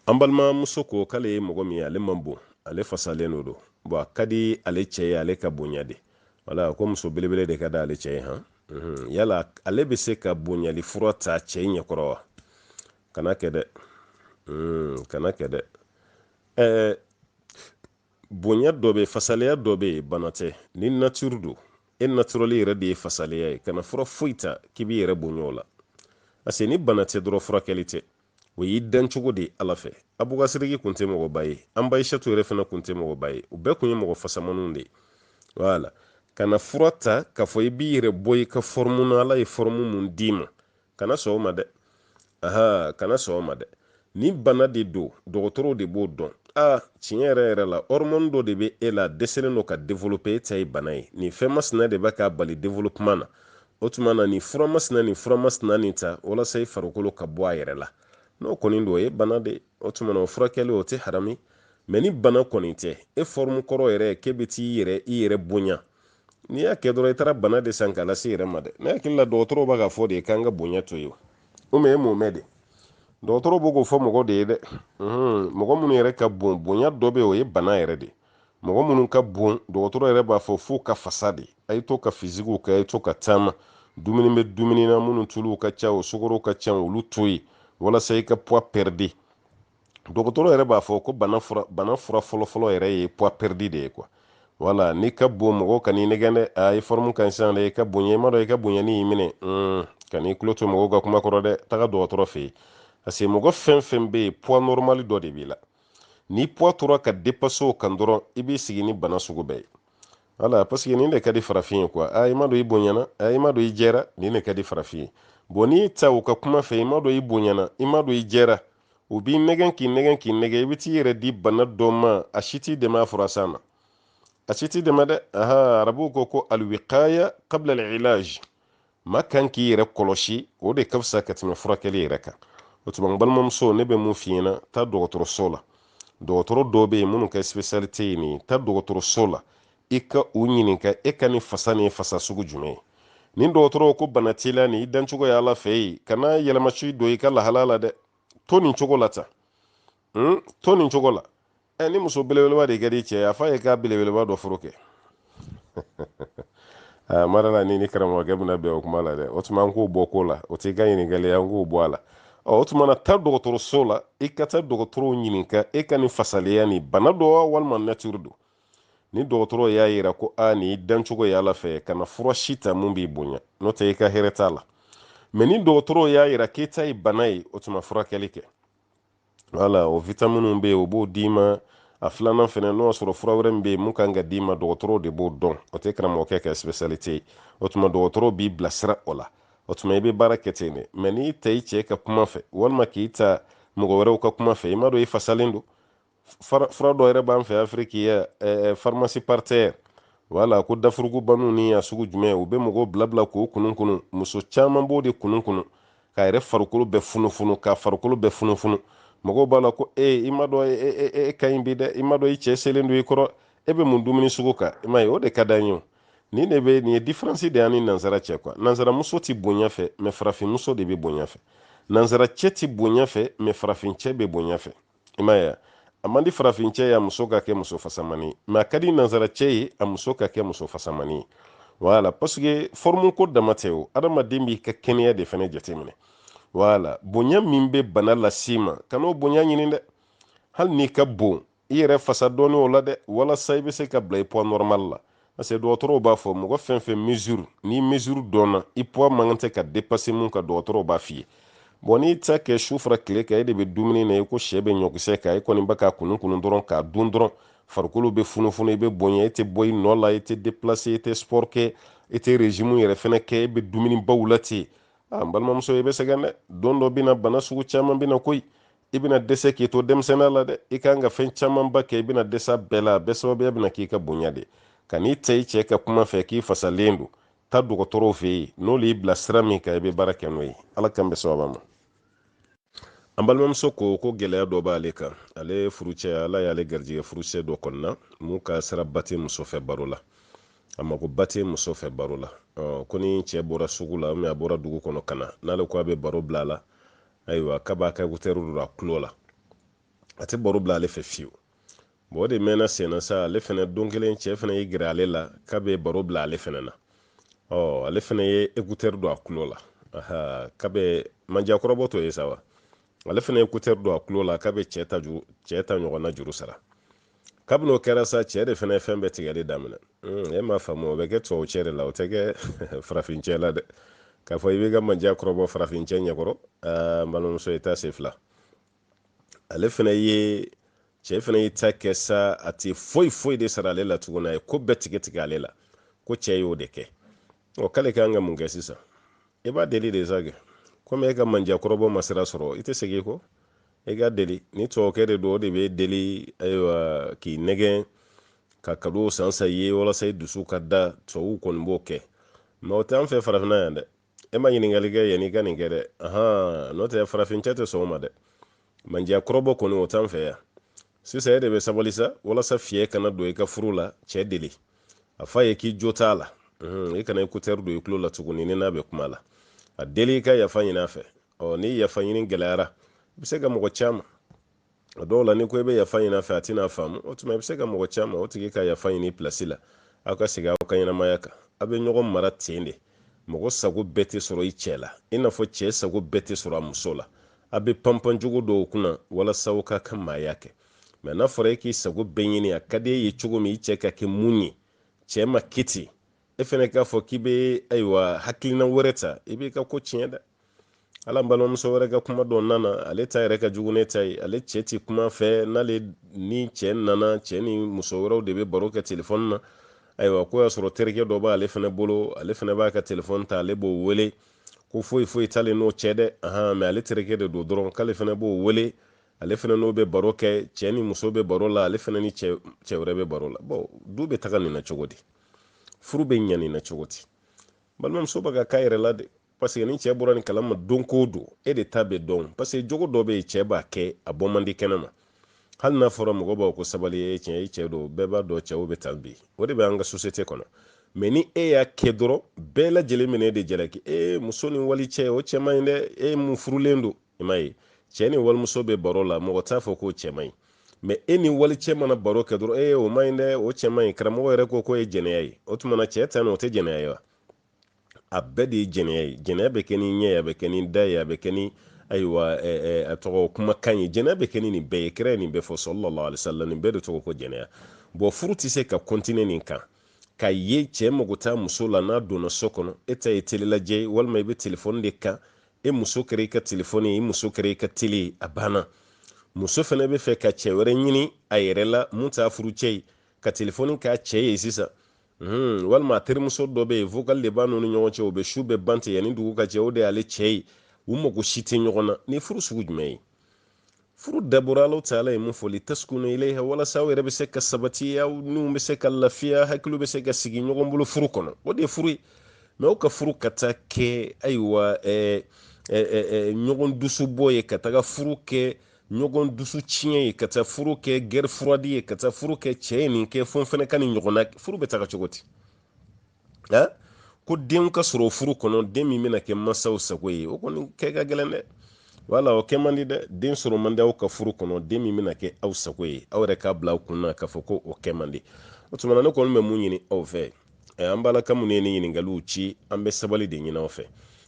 an balimamuso ko k'ale ye mɔgɔ min ye ale man bon ale fasalen de don bon a ka di ale cɛ ye ale ka bonya de wala ko muso belebele de ka di ale cɛ ye han Mhm, yala ale bɛ se ka bonyali fura ta cɛ ɲɛkɔrɔ wa kana kɛ dɛ mhm, kana kɛ dɛ ɛɛ bonya dɔ bɛ fasaleya dɔ bɛ yen bana tɛ ni nature don e naturel yɛrɛ de ye fasaleya ye kana fura foyi ta k'i b'i yɛrɛ bonya o la parce que ni bana tɛ dɔrɔn furakɛli tɛ o y'i dan cogo de ala fɛ abubakari sidiki kun tɛ mɔgɔba ye an ba ayisatu yɛrɛ fana kun tɛ mɔgɔba ye u bɛɛ kun ye mɔgɔ fasamaniw de ye voilà kana fura ta k'a fɔ i b'i yɛrɛ bɔ i ka forme na ala ye forme mun d'i ma kana sɔn o ma dɛ aha kana sɔn o ma dɛ ni bana de don dɔgɔtɔrɔw de b'o dɔn a tiɲɛ yɛrɛ yɛrɛ la hormone dɔ de bɛ e la dɛsɛlen don ka développer e ta ye bana ye nin fɛn masina de bɛ k'a bali développement na o tuma na nin fura masina nin fura masina nin ta walasa i farikolo ka bɔ a yɛrɛ la n'o kɔni don o ye bana de o tuma na o furakɛli o tɛ harami mais ni bana kɔni tɛ e forme kɔrɔ yɛrɛ k'e bɛ t'i yɛrɛ i yɛrɛ bonya n'i y'a kɛ dɔrɔn i taara bana de san k'a lase i yɛrɛ ma dɛ ne hakili la dɔgɔtɔrɔw b'a k'a fɔ de k'an ka bonya to yen o mais e m'o mɛn de dɔgɔtɔrɔw b'o k'o fɔ mɔgɔ de ye dɛ mɔgɔ minnu yɛrɛ ka bon bonya dɔ bɛ yen o ye bana yɛrɛ de mɔgɔ minnu ka bon dɔgɔtɔrɔ yɛrɛ b'a fɔ f'u ka fasa de a ye to ka fisigiw kɛ a ye to ka taama dumuni bɛ dumuni na minnu tuluw ka ca u sukaro ka ca olu to yen walasa i ka poids perdre dɔgɔtɔrɔ yɛrɛ b'a fɔ ko bana fura bana fura fɔlɔfɔlɔ yɛrɛ ye poids perdre de ye quoi voilà n'i ka bon mɔgɔw kan'i nɛgɛn dɛ a e forme ka ɲi sisan dɛ i ka bonya i m'a dɔn i ka bonyani y'i minɛ hmm, kan'i tulo to mɔgɔw ka kuma kɔrɔ dɛ taga dɔgɔtɔrɔ fɛ yen parce que mɔgɔ fɛn fɛn bɛ yen poids normal dɔ de b'i la ni poids tora ka dépasser o kan dɔrɔn i b'i sigi ni bana sugu bɛɛ ye voilà parce que nin de ka di farafin ye quoi a i m'a dɔn i bonyana a i m'a dɔn i jɛra nin de ka di farafin ye bon n'i taa u ka kuma fɛ i m'a dɔn i bonyana i m'a dɔn i jɛra u b'i nɛgɛn k'i nɛgɛn k'i nɛgɛn i bɛ t'i yɛrɛ di bana dɔ ma a si t'i dɛmɛ a fura san na a si t'i dɛmɛ dɛ aha arabuw ko ko alwikaya kabla alilaj maa kan k'i yɛrɛ kɔlɔsi o de ka fisa ka tɛmɛ furakɛli yɛrɛ kan o tuma n balimamuso ne bɛ mun f'i ɲɛna taa dɔgɔtɔrɔso la dɔgɔtɔrɔ dɔw bɛ yen minnu ka spécialité ye nin ye taa dɔgɔtɔrɔso la i ka u ɲininka e ka nin fasa nin ye fasa sugu jumɛn ye ni dɔgɔtɔrɔw ko bana t'i la nin y'i dancogo ye ala fɛ yen kana yɛlɛma si don i ka lahala la dɛ to nin cogo la tan hmm? to nin cogo la ɛ ni muso belebeleba de ka di i cɛ ye a f'a ye k'a belebeleba dɔ furu kɛ aa mara la ni ni karamɔgɔkɛ bɛna bɛn o kuma la dɛ o tuma an k'o bɔ ko la o t'i ka ɲininkali ye an k'o bɔ a la ɔ o tuma na taa dɔgɔtɔrɔso la i ka taa dɔgɔtɔrɔw ɲininka e ka nin fasaleya nin bana don wa walima natiri don ni dɔgɔtɔrɔ y'a yira ko nin i dancogo ye ala fɛ kana fura si ta mun b'i bonya n'o tɛ i ka hɛrɛ t'a la mɛ ni dɔgɔtɔrɔ y'a yira k'e ta ye bana ye o tuma furakɛli kɛ wala o vitaminiw bɛ yen o b'o d'i ma a filanan fɛnɛ n'o y'a sɔrɔ fura wɛrɛ min bɛ yen mun kan ka d'i ma dɔgɔtɔrɔw de b'o dɔn o tɛ karamɔgɔkɛ ka spesialite ye o tuma dɔgɔtɔrɔw b'i bilasira o la o tuma i bɛ baara kɛ ten de mɛ n'i taa i cɛ ka kuma fɛ walima k'i taa mɔgɔ wɛrɛw ka kuma fɛ i m'a dɔn i fasalen don fura dɔ yɛrɛ b'an fɛ afiriki yan farimasi paritɛri wala ko dafurugubani ni a sugu jumɛn u bɛ mɔgɔw bilabila k'o kunun kunun muso caman b'o de kunun kunun k'a yɛrɛ farikolo bɛɛ funufunu k'a farikolo bɛɛ funufunu mɔgɔw b'a la ko ee i m'a dɔn e, e, e, e ka ɲi bi dɛ i m'a dɔn i cɛ selen don i kɔrɔ e bɛ mun dumuni sugu kan i m'a ye o de ka d'an ye o nin de bɛ nin ye diferansi de y'an ni nansara cɛ kuwa nansaramuso tɛ bonya fɛ mɛ farafinmuso de bɛ bonya fɛ nansara cɛ tɛ bonya fɛ mɛ farafincɛ bɛ bonya fɛ i m'a ye a man di farafincɛ ye a muso ka kɛ muso fasamani mɛ a ka di nansaracɛ ye a muso ka kɛ muso fasamani wala pasike fɔrmu ko dama tɛ o adamaden b'i ka kɛnɛya de fɛnɛ jateminɛ wala bonya min bɛ bana las'i ma kan'o bonya ɲini dɛ hali n'i ka bon i yɛrɛ fasa dɔɔni o la dɛ walasa i bɛ se ka bila i poids normal la parce que dɔgɔtɔrɔw b'a fɔ mɔgɔ fɛn fɛn mesure ni mesure dɔnna i poids man kan tɛ ka dépasser mun kan dɔgɔtɔrɔw b'a f'i ye bɔn n'i ta kɛ su fara tile kan e de bɛ dumuni na i ko sɛ bɛ ɲɔkisɛ kan e kɔni bɛ k'a kunun kunun dɔrɔn k'a dun dɔrɔn farikolo bɛ funufunu i bɛ bonya e tɛ bɔ i nɔ la i tɛ déplacer i tɛ sport kɛ i tɛ régime yɛrɛ fɛnɛ kɛ e bɛ dumuni baw la ten a n balimamuso i bɛ sɛgɛn dɛ don dɔ bɛ na bana sugu caman bɛ na koyi i bɛna dɛsɛ k'i to denmisɛnninya la dɛ i kan ka fɛn camanba kɛ i bɛna dɛsɛ a bɛɛ la a bɛɛ sababuya bɛna k'i ka bonya de ka n'i taa i cɛ ka kuma fɛ k'i fasalen don taa dɔgɔtɔrɔw fɛ yen n'olu y'i bila sira min kan i bɛ baara kɛ n'o ye ala k'an bɛn sawaba ma an balimamuso ko ko gɛlɛya dɔ b'ale kan ale furucɛ ala y'ale garijɛgɛ furucɛ dɔ kɔnɔna mun ka sira ba tɛ muso fɛ baro la a mako ba tɛ muso fɛ baro la ko ni cɛ bɔra sugu la a bɔra dugu kɔnɔ ka na n'ale ko a bɛ baro bila a la ayiwa k'a b'a ka ekutɛri don a tulo la a tɛ baro bila ale fɛ fiyewu bɔn o de mɛnna senna sa ale fɛnɛ don kelen cɛ fɛnɛ y'i gɛrɛ ale la k'a bɛ baro bila ale fɛnɛ na ɔ ale fɛnɛ ye ekutɛri don a tulo la k'a bɛ manjakɔrɔbɔ tɔ ye sa wa ale fɛnɛ ye ekutɛri don a tulo la k'a bɛ cɛ ta juru cɛ ta ɲɔgɔnna juru sara kabini o kɛra sa cɛ de fana ye fɛn bɛɛ tigɛli daminɛ hmm, e m'a faamu o bɛ kɛ tubabu cɛ de la o tɛ kɛ farafin cɛ la dɛ k'a fɔ i b'i ka mandiya kɔrɔbɔ farafin cɛ ɲɛkɔrɔ n balimamuso i t'a se filɛ ale fana ye cɛ fana y'i ta kɛ sa a tɛ foyi foyi de sara ale la tuguni a ye ko bɛɛ tigɛ tigɛ ale la ko cɛ y'o de kɛ ɔ k'ale kan ka mun kɛ sisan i b'a deli de sa kɛ komi e ka mandiya kɔrɔbɔ ma sira sɔrɔ i tɛ segin kɔ i k'a deli ni tubabukɛ de don o de b'i deli ayiwa k'i nɛgɛn ka kadow san san i ye walasa i dusu ka da tubabu kɔni b'o kɛ mɛ o tɛ an fɛ farafinna yan dɛ e ma ɲininkali kɛ yanni i ka nin kɛ dɛ ahan n'o tɛ farafincɛ tɛ sɔn o ma dɛ mandiya kɔrɔbɔ kɔni o t'an fɛ yan sisan e de bɛ sabali sa walasa fiɲɛ kana don i ka furu la cɛ deli a f'a ye k'i jo t'a la i kana écouteur don i tulo la tuguni n'i n'a bɛ kuma la a deli i ka yafa ɲin'a fɛ ɔ ni yafa ɲini gɛlɛyara i bɛ se ka mɔgɔ c'a ma a dɔw la n'i ko i bɛ yafa ɲini a fɛ a tɛna faamu o tuma i bɛ se ka mɔgɔ c'a ma o tigi ka yafa ɲini i pilasi la aw ka segin aw ka ɲɛnamaya kan aw bɛ ɲɔgɔn mara ten de mɔgɔ sago bɛɛ tɛ sɔrɔ i cɛ la i n'a fɔ cɛ sago bɛɛ tɛ sɔrɔ a muso la aw bɛ panpan jogo dɔw kunna walasa aw k'aw ka maaya kɛ mɛ n'a fɔra e k'i sago bɛɛ ɲini a ka di e ye cogo min i cɛ ka kɛ mun ye cɛ ma kɛ ten e fɛnɛ k'a fɔ k'i bɛ ayiwa hakilina wɛrɛ ta i b'i ka ko tiɲɛ dɛ ala balimamuso wɛrɛ ka kuma dɔ nana ale ta yɛrɛ ka jugu ne ta ye ale cɛ ti kuma a fɛ n'ale ni cɛ nana cɛ ni muso wɛrɛw de bɛ baro kɛ telefɔni na ayiwa k'o y'a sɔrɔ terikɛ dɔ b'ale fɛnɛ bolo ale fɛnɛ b'a ka telefɔni ta ale b'o wele ko foyi foyi t'ale n'o cɛ dɛ ahan mɛ ale terikɛ de don dɔrɔn k'ale fɛnɛ b'o wele ale fɛnɛ n'o bɛ baro kɛ cɛ ni muso bɛ baro la ale fɛnɛ ni cɛ wɛrɛ bɛ baro la bɔn du bɛ taga nin na cogo di furu bɛ ɲa nin na cogo di balimamuso bɛ k'a k'a yɛrɛ la dɛ parce que ni cɛ bɔra nin kalama don ko don e de ta bɛ dɔn parce que jogo dɔ bɛ yen cɛ b'a kɛ a bɔ man di kɛnɛ ma hali n'a fɔra mɔgɔbaw ko sabali ye tiɲɛ ye cɛ don bɛɛ b'a dɔn cɛw bɛ tan bi o de bɛ an ka société kɔnɔ mɛ ni e y'a kɛ dɔrɔn bɛɛ lajɛlen bɛna e de jalaki e muso ni wali cɛ o cɛ man ɲi dɛ e min furulen don i m'a ye cɛ ni walimuso bɛ baro la mɔgɔ t'a fɔ k'o cɛ man ɲi mɛ e ni wali cɛ mana baro kɛ dɔrɔn ee o man ɲi dɛ o cɛ man ɲi karamɔgɔ yɛrɛ ko k'o ye jɛnɛya ye o tuma na cɛ ta nin o tɛ jɛnɛya ye wa a bɛɛ de ye jɛnɛya ye jɛnɛya bɛ kɛ ni ɲɛ ye a bɛ kɛ ni da ye a bɛ kɛ ni ayiwa a tɔgɔ kumakan ye jɛnɛya bɛ kɛ ni nin bɛɛ ye kira ye nin bɛɛ fɔ sallallahu alaihi wasallam nin bɛɛ de tɔgɔ ko jɛnɛya bɔn furu tɛ se ka kɔntine nin kan ka ye cɛ mago t'a muso la n'a donna so kɔnɔ e ta ye tele lajɛ ye walima i bɛ telefɔni de kan i muso kɛra i ka telefɔni ye i muso kɛra i ka tele ye a banna muso fana bɛ fɛ ka cɛ wɛrɛ ɲini a yɛrɛ la min t'a furucɛ ye ka telefɔni k'a cɛ ye sisan Hmm, walima a terimuso dɔ bɛ yen vocal de b'a n'u ni ɲɔgɔn cɛ u bɛ su bɛɛ ban ten yanni dugu ka jɛ o de y'ale cɛ ye u mago si tɛ ɲɔgɔn na nin ye furu sugu jumɛn ye furu dabɔra alahu taala ye mun fɔ litaskunu ilayha walasa aw yɛrɛ bɛ se ka sabati aw niw bɛ se ka lafiya hakiliw bɛ se ka sigi ɲɔgɔn bolo furu kɔnɔ o de ye furu ye mais aw ka furu ka taa kɛ ayiwa ɛɛ ɛɛ ɲɔgɔn dusu bɔ ye ka taga furu kɛ ɲɔgɔn dusu tiɲɛ ye ka taa furu kɛ guerre froide ye ka taa furu kɛ cɛ ye nin kɛ fo n fana ka nin ɲɔgɔnna furu bɛ taga cogo di nka ko den ka sɔrɔ furu kɔnɔ den min bɛna kɛ mansaw sago ye o kɔni kɛ ka gɛlɛn dɛ wala o kɛ man di dɛ den sɔrɔ man di aw ka furu kɔnɔ den min bɛna kɛ aw sago ye aw yɛrɛ k'a bila aw kun na k'a fɔ ko o kɛ man di o tuma na ne kɔni bɛ mun ɲini aw fɛ an balaka minnu ye nin ɲininkaliw ci an bɛ sabali de ɲini aw fɛ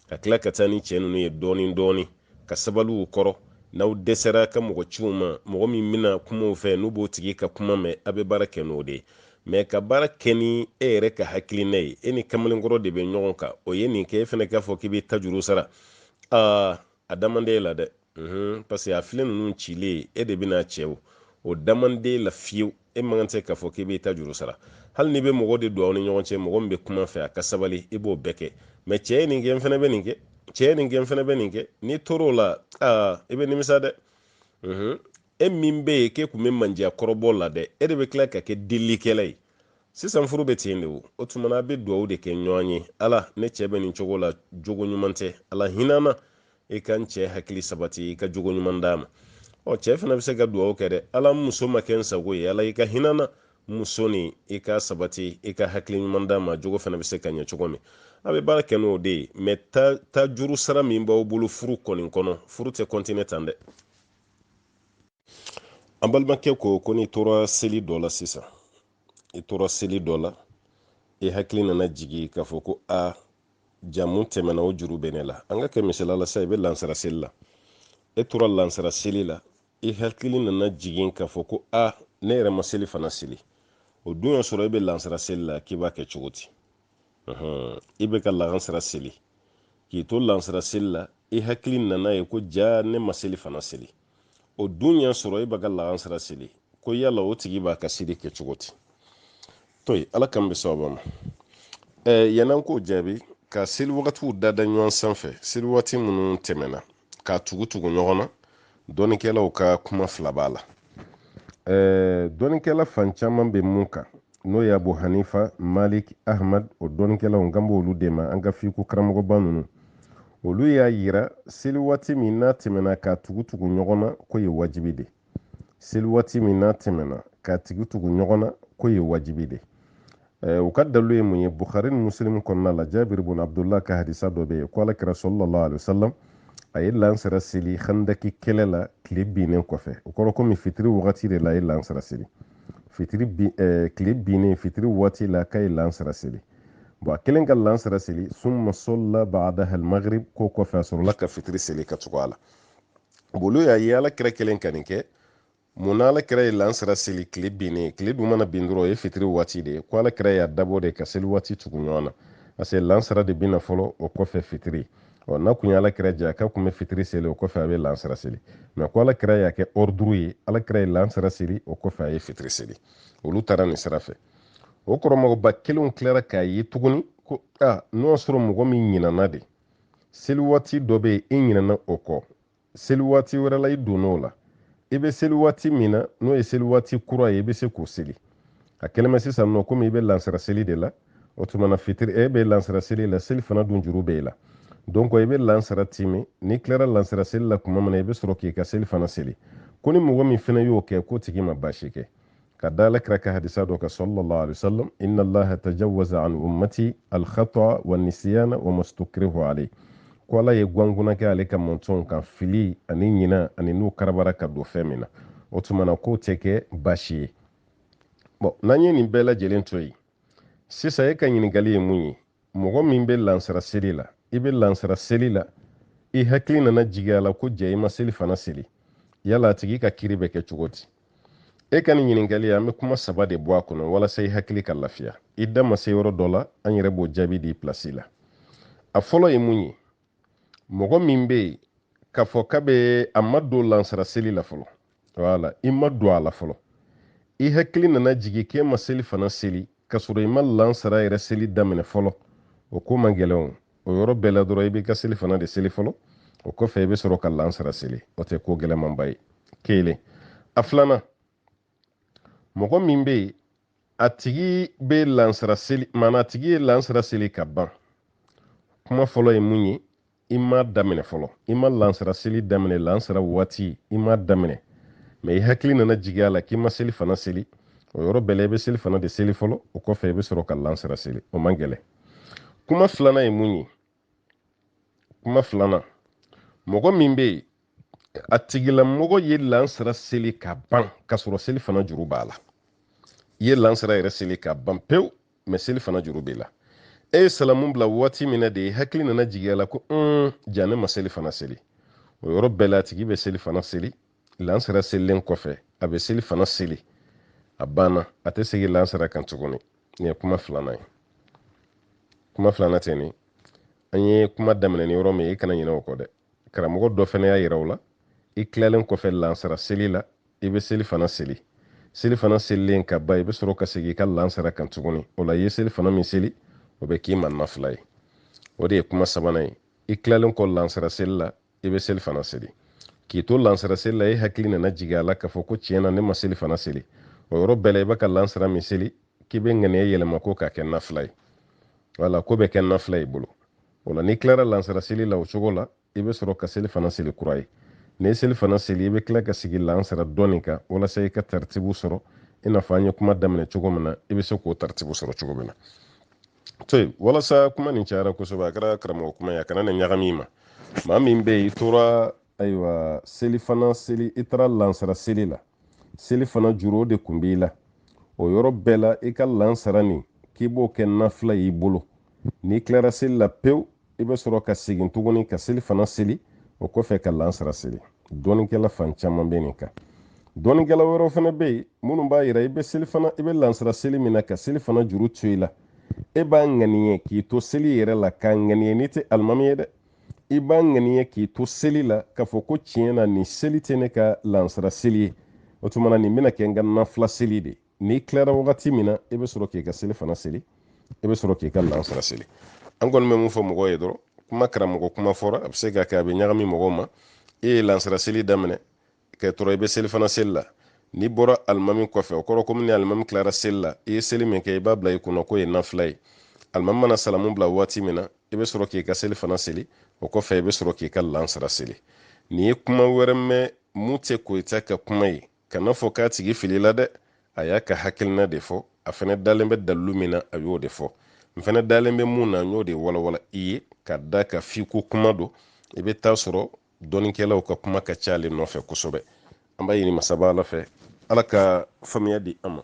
ka tila ka taa ni cɛ ninnu ye dɔɔnin dɔɔnin ka sabali u kɔrɔ n'aw dɛsɛra ka mɔgɔ ci u ma mɔgɔ min bɛna kuma u fɛ n'u b'o tigi ka kuma mɛn a bɛ baara kɛ n'o de ye mais ka baara kɛ ni e yɛrɛ ka hakilina ye e ni kamalenkɔrɔ de bɛ ɲɔgɔn kan o ye nin kɛ e fana k'a fɔ k'i bɛ ta juru sara aa a da man di e la dɛ parce que a filen ninnu cilen e de bɛn'a cɛ o o da man di e la fiyewu e man kan tɛ k'a fɔ k'i b'i ta juru sara hali n'i bɛ mɔgɔ de don aw ni ɲɔgɔn cɛ mɔgɔ min bɛ kuma a fɛ a ka sabali i b'o bɛɛ kɛ mais cɛ ye nin kɛ n fana bɛ nin kɛ cɛ ye nin kɛ n fana bɛ nin kɛ n'i tor'o la aa i bɛ nimisa dɛ e min bɛ yen k'e tun bɛ mandiya kɔrɔbɔ la dɛ e de bɛ tila ka kɛ delikɛla ye sisan furu bɛ ten de o o tuma na a bɛ dugawu de kɛ ɲɔgɔn ye ala ne cɛ bɛ nin cogo la jogo ɲuman tɛ ala hinɛ n na i ka n cɛ hakili sabati i ka jogo ɲuman d'a ma ɔ cɛ fana bɛ se ka dugawu kɛ dɛ ala n muso ma kɛ n sago ye ala i ka hinɛ n na n muso nin i k'a sabati i ka hakili ɲuman d'a ma jogo fana bɛ se ka ɲɛ cogo min a bɛ baara kɛ n'o de ye mais ta juru sara min b'aw bolo furu kɔni kɔnɔ furu tɛ continuer tan dɛ an balimakɛ ko ko n'i tora seli dɔ la sisan i tora seli dɔ la i hakili nana jigin k'a fɔ ko a jaa min tɛmɛna o juru bɛ ne la an ka kɛ misali la sa i bɛ lansara seli la e tora lansara seli la i hakili nana jigin k'a fɔ ko a ne yɛrɛ ma selifana seli o dun y'a sɔrɔ e bɛ lansara seli la k'i b'a kɛ cogo di i bɛ ka lansara seli k'i to lansara seli la i hakili nana ye ko jaa ne ma selifana seli o dun y'a sɔrɔ e bɛ ka lahansara seli ko yala o tigi b'a ka seli kɛ cogo di to yen ala kan bɛ sababa ma ɛɛ yann'an k'o jaabi ka seli wagatiw dada ɲɔgɔn sanfɛ seli waati minnu tɛmɛna k'a tugu tugu ɲɔgɔn na dɔnnikɛlaw ka kuma fila b'a la ɛɛ dɔnnikɛla fan caman bɛ mun kan n'o ye abu hanifa malik ahmad o dɔnnikɛlaw n kan b'olu de ma an ka fiqh karamɔgɔba ninnu olu y'a yira seli waati min n'a tɛmɛna ka tugu tugu ɲɔgɔn na k'o ye wajibi de seli waati min n'a tɛmɛna ka tugu tugu ɲɔgɔn na k'o ye wajibi de eh, u ka dalu ye mun ye bukhari ni muslim kɔnɔna la jabir bun abdullah ka hadisa dɔ bɛ yen ko alakira sallallahu alaihi wasallam a ye lansara seli handaki kɛlɛ la tile binnen kɔfɛ o kɔrɔ komi fitiri wagati de la a ye lansara seli fitiri bi eh, tile binnen fitiri waati la k'a ye lansara seli bɔn a kelen ka lansara seli summa salla badaha almagrib k'o kɔfɛ a sɔrɔla ka fitiri seli ka tugu a la olu y'a ye ala kira kelen ka nin kɛ mun na ala kira ye lansara seli tile binnen tile dun mana bin dɔrɔn o ye fitiri waati de ye ko ala kira y'a dabɔ de ka seli waati tugu ɲɔgɔn na parce que lansara de bɛ na fɔlɔ o kɔfɛ fitiri ɔ n'a kun ye ala kira diya k'a kun bɛ fitiri seli o kɔfɛ a bɛ lansara seli mais ko ala kira y'a kɛ ordre ye ala kira ye lansara seli o kɔfɛ a ye fitiri seli olu taara nin sira fɛ o karamɔgɔba kelenw tilara k'a ye tuguni ko a n'o y'a sɔrɔ mɔgɔ min ɲinana de seli waati dɔ bɛ yen i ɲinana o kɔ seli waati wɛrɛ la i donna o la i bɛ seli waati min na n'o ye seli waati kura ye i bɛ se k'o seli a kɛlen bɛ sisan nɔ komi i bɛ lansara seli de la o tuma na fitiri e bɛ lansara seli la selifana dun juru bɛ i la donc i bɛ lansara timin n'i tilara lansara seli la tuma min na i bɛ sɔrɔ k'i ka selifana seli ko ni mɔgɔ min fana y'o kɛ k'o tigi ma baasi kɛ ka da alakira ka hadisa dɔ kan sallallahu alaihi wasallam inna allaha tajawaza an ummati alkhata wa nisyana wa mastukrihu alayhi ko ala ye gwanguna kɛ ale ka mantɔnw kan fili ani ɲina ani n'u karabara ka don fɛn min na o tuma na k'o tɛ kɛ baasi ye bɔn n'an ye nin bɛɛ lajɛlen to yen sisan e ka ɲininkali ye mun ye mɔgɔ min bɛ lansara seli la i bɛ lansara seli la i hakili nana jigin a la ko jaa i ma selifana seli yala a tigi ka kiri bɛ kɛ cogo di e ka nin ɲininkali an bɛ kuma saba de bɔ a kɔnɔ walasa i hakili ka lafiya i da ma se yɔrɔ dɔ la an yɛrɛ b'o jaabi di pilasi la a fɔlɔ ye mun ye mɔgɔ min bɛ yen k'a fɔ k'a bɛ a ma don lansara seli la fɔlɔ wala i ma don a la fɔlɔ i hakili nana jigin k'e ma selifana seli k'a sɔrɔ i ma lansara yɛrɛ seli daminɛ fɔlɔ o ko man gɛlɛn o o yɔrɔ bɛɛ la dɔrɔn i b'i ka selifana de seli fɔlɔ o kɔfɛ i bɛ sɔrɔ ka lansara seli o tɛ ko gɛlɛmanba ye kelen a filanan mɔgɔ min bɛ yen a tigi bɛ lansara seli maana a tigi ye lansara seli ka ban kuma fɔlɔ ye mun ye i ma daminɛ fɔlɔ i ma lansara seli daminɛ lansara waati i ma daminɛ mais i hakili nana jigin a la k'i ma selifana seli o yɔrɔ bɛɛ la i bɛ selifana de seli fɔlɔ o kɔfɛ i bɛ sɔrɔ ka lansara seli o man gɛlɛn kuma filanan ye mun ye kuma filanan mɔgɔ min bɛ yen a tigilamɔgɔ ye lansara seli ka ban ka sɔrɔ seli fana juru b'a la i ye lansara yɛrɛ seli ka ban pewu mɛ seli fana juru b'i la e ye salamu bila waati min na de i hakili nana jigin a la ko un jaa ne ma seli fana seli o yɔrɔ bɛɛ la a tigi bɛ seli fana seli lansara selilen kɔfɛ a bɛ seli fana seli a banna a tɛ segin lansara kan tuguni nin ye kuma filanan ye kuma filanan tɛ nin an ye kuma daminɛ ni yɔrɔ min ye i kana ɲinɛ o kɔ dɛ karamɔgɔ dɔ fana y'a yira o la i tilalen kɔfɛ lansara seli la i bɛ seli fana seli seli fana selilen ka ban i bɛ sɔrɔ ka segin i ka lansara kan tuguni o la i ye seli fana min seli o bɛ k'i ma nafila ye o de ye kuma sabanan ye i tilalen kɔ lansara seli la i bɛ seli fana seli k'i to lansara seli la e hakili nana jigin a la k'a fɔ ko tiɲɛ na ne ma seli fana seli o yɔrɔ bɛɛ la i bɛ ka lansara min seli k'i bɛ ŋaniya yɛlɛma ko k'a kɛ nafila ye wala k'o bɛ kɛ nafila y'i bolo o la n'i tilara lansara seli la o cogo la i bɛ sɔrɔ ka seli fana seli kura ye n'i ye seli fana seli i bɛ tila ka segin lansara dɔɔnin kan walasa i ka taritibu sɔrɔ i n'a fɔ an ye kuma daminɛ cogo min na i bɛ se k'o taritibu sɔrɔ cogo min na to yen walasa kuma nin cayara kosɛbɛ a kɛra karamɔgɔ kuma ye a kana na ɲagami i ma maa min bɛ yen i tora ayiwa seli fana seli i taara lansara seli la seli fana juru o de kun b'i la o yɔrɔ bɛɛ la i ka lansara nin k'i b'o kɛ nafila y'i bolo n'i tilara seli la pewu i bɛ sɔrɔ ka segin tuguni ka seli fana seli o kɔfɛ ka lansara seli dɔnnikɛla fan caman bɛ nin kan dɔnnikɛla wɛrɛw fana bɛ yen minnu b'a yira i bɛ seli fana i bɛ lansara seli min na ka seli fana juru to i la e b'a ŋaniya k'i to seli yɛrɛ la k'a ŋaniya n'i tɛ alimami ye dɛ i b'a ŋaniya k'i to seli la k'a fɔ ko tiɲɛ na nin seli tɛ ne ka lansara seli ye o tuma na nin bɛna kɛ n ka nafila seli de ye n'i tilara wagati min na i bɛ sɔrɔ k'i ka seli fana seli i bɛ sɔrɔ k'i ka lansara seli an kɔni bɛ min fɔ mɔgɔw ye dɔrɔn kuma karamɔgɔ kuma fɔra a bɛ se ka kɛ a bɛ ɲagami mɔgɔw ma e ye lansara seli daminɛ ka sɔrɔ i bɛ seli fana seli la n'i bɔra alimami kɔfɛ o kɔrɔ komi ni alimami tilara seli la i ye seli min kɛ i b'a bila i kunna k'o ye nafila ye alimami mana salamu bila waati min na i bɛ sɔrɔ k'i ka seli fana seli o kɔfɛ i bɛ sɔrɔ k'i ka lansara seli n'i ye kuma wɛrɛ mɛn min tɛ koyita ka kuma ye kana fɔ k'a tigi filila dɛ a y'a ka hakilina de fɔ a fana dalen bɛ dalilu min na a y'o de fɔ n fana dalen bɛ min na n y'o de walawala i ye ka d'a kan fikihu kuma don i bɛ taa sɔrɔ dɔnnikɛlaw ka kuma ka ca ale nɔfɛ kosɛbɛ an b'a ɲini masaba ala fɛ ala ka faamuya di an ma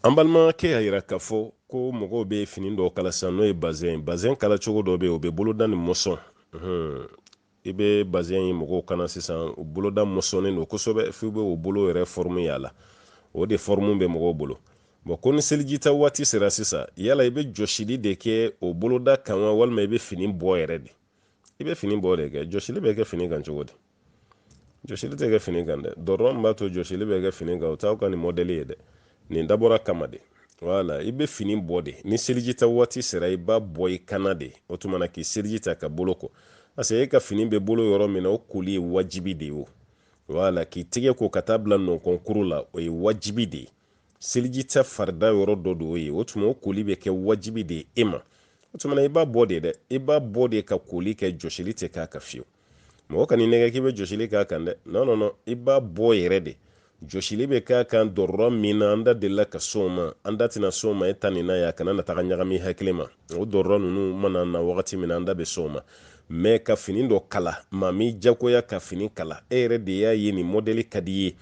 an balimakɛ y'a yira k'a fɔ ko mɔgɔw bɛ fini dɔw kala sisan n'o ye bazɛn bazɛn kala cogo dɔ bɛ yen o bɛ boloda ni mɔsɔn i bɛ bazɛn ye mɔgɔw kan na sisan o boloda mɔsɔnnen don kosɛbɛ f'i bɛ o bolo yɛrɛ fɔrmu y'a la o de fɔrmu bɛ mɔgɔw bolo bon ko ni selijita waati sera sisan yala i bɛ jɔsili de kɛ o boloda kan wa walima i bɛ fini bɔ yɛrɛ de i bɛ fini bɔ de kɛ jɔsili bɛ kɛ fini kan cogo di jɔsili tɛ kɛ fini kan dɛ dɔrɔrɔ min b'a to jɔsili bɛ kɛ fini kan o t'aw ka nin mɔdɛli ye dɛ nin dabɔra kama de wala i bɛ fini bɔ de ni seliji ta waati sera i b'a bɔ i kan na de o tuma na k'i seliji ta ka bolo ko parce que e ka fini bɛ bolo yɔrɔ min na o koli ye wajibi de ye o wala k'i tɛgɛ ko ka taa bila nɔnkɔnkuru la o ye wajibi de ye seliji ta farida yɔrɔ dɔ de o ye o tuma o koli bɛ kɛ wajibi de ye e ma o tuma na i b'a bɔ de dɛ i b'a bɔ de ka koli kɛ jɔsili tɛ k'a kan fiyewu mɔgɔ kan'i nɛgɛn k'i bɛ jɔsili k'a kan dɛ non non non i b'a bɔ yɛrɛ de jɔsili bɛ k'a kan dɔrɔrɔ min na an da delila ka s'o ma an da tɛna s'o ma e ta nin na ye a kana na taga ɲagami hakili ma o dɔrɔrɔ ninnu mana na wagati min na an da bɛ s'o ma mais ka fini dɔ kala maa m'i jagoya ka fini kala e yɛrɛ de y'a ye nin mɔdɛli ka d'i ye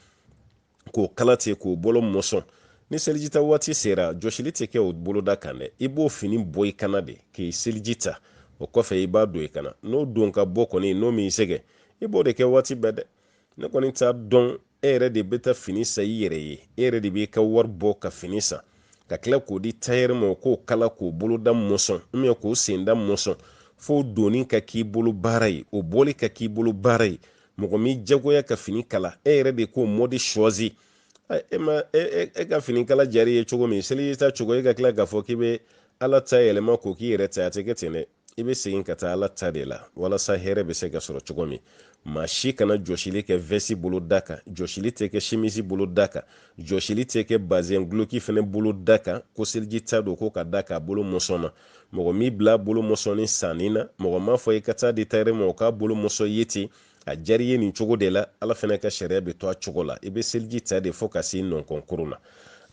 k'o kala ten k'o bolo mɔsɔn ni selijita waati sera jɔsili tɛ kɛ o boloda kan dɛ i b'o fini bɔ i kan na de k'i seliji ta o kɔfɛ i b'a don i kan na n'o don ka bɔ kɔni n'o m'i sɛgɛn i b'o de kɛ waati bɛɛ dɛ ne kɔni t'a dɔn e yɛrɛ de bɛ taa fini san i yɛrɛ ye e yɛrɛ de b'i ka wari bɔ ka fini san ka tila k'o di tayɛri ma o k'o kala k'o boloda mɔsɔn ou bien k'o senda mɔsɔn f'o donni ka k'i bolo baara ye o bɔli ka k'i bolo baara ye mɔgɔ m'i jagoya ka fini kala e yɛrɛ de k'o mɔdi choisi e ma e, e, e ka fini kala diyar'i ye cogo min seliji ta cogo e ka tila k'a fɔ k'i bɛ ala ta yɛlɛma k'o k'i yɛrɛ ta a tɛ kɛ ten dɛ i bɛ segin ka taa ala ta de la walasa hɛrɛ bɛ se ka sɔrɔ cogo min maa si kana jɔsili kɛ vɛsi bolo da kan jɔsili tɛ kɛ simisi bolo da kan jɔsili tɛ kɛ bazɛn guloki fɛnɛ bolo da kan ko seliji ta don ko ka d'a kan a bolo mɔsɔnna mɔgɔ m'i bila a bolo mɔsɔnni sanni na mɔgɔ m'a fɔ i ka taa di tayɛri ma o k'a bolo mɔsɔn i ye ten a diyar'i ye nin cogo de la ala fana ka sariya bɛ to a cogo la i bɛ seliji ta de fo ka se nɔnkɔnkuru na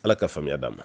ala ka faamuya d'an ma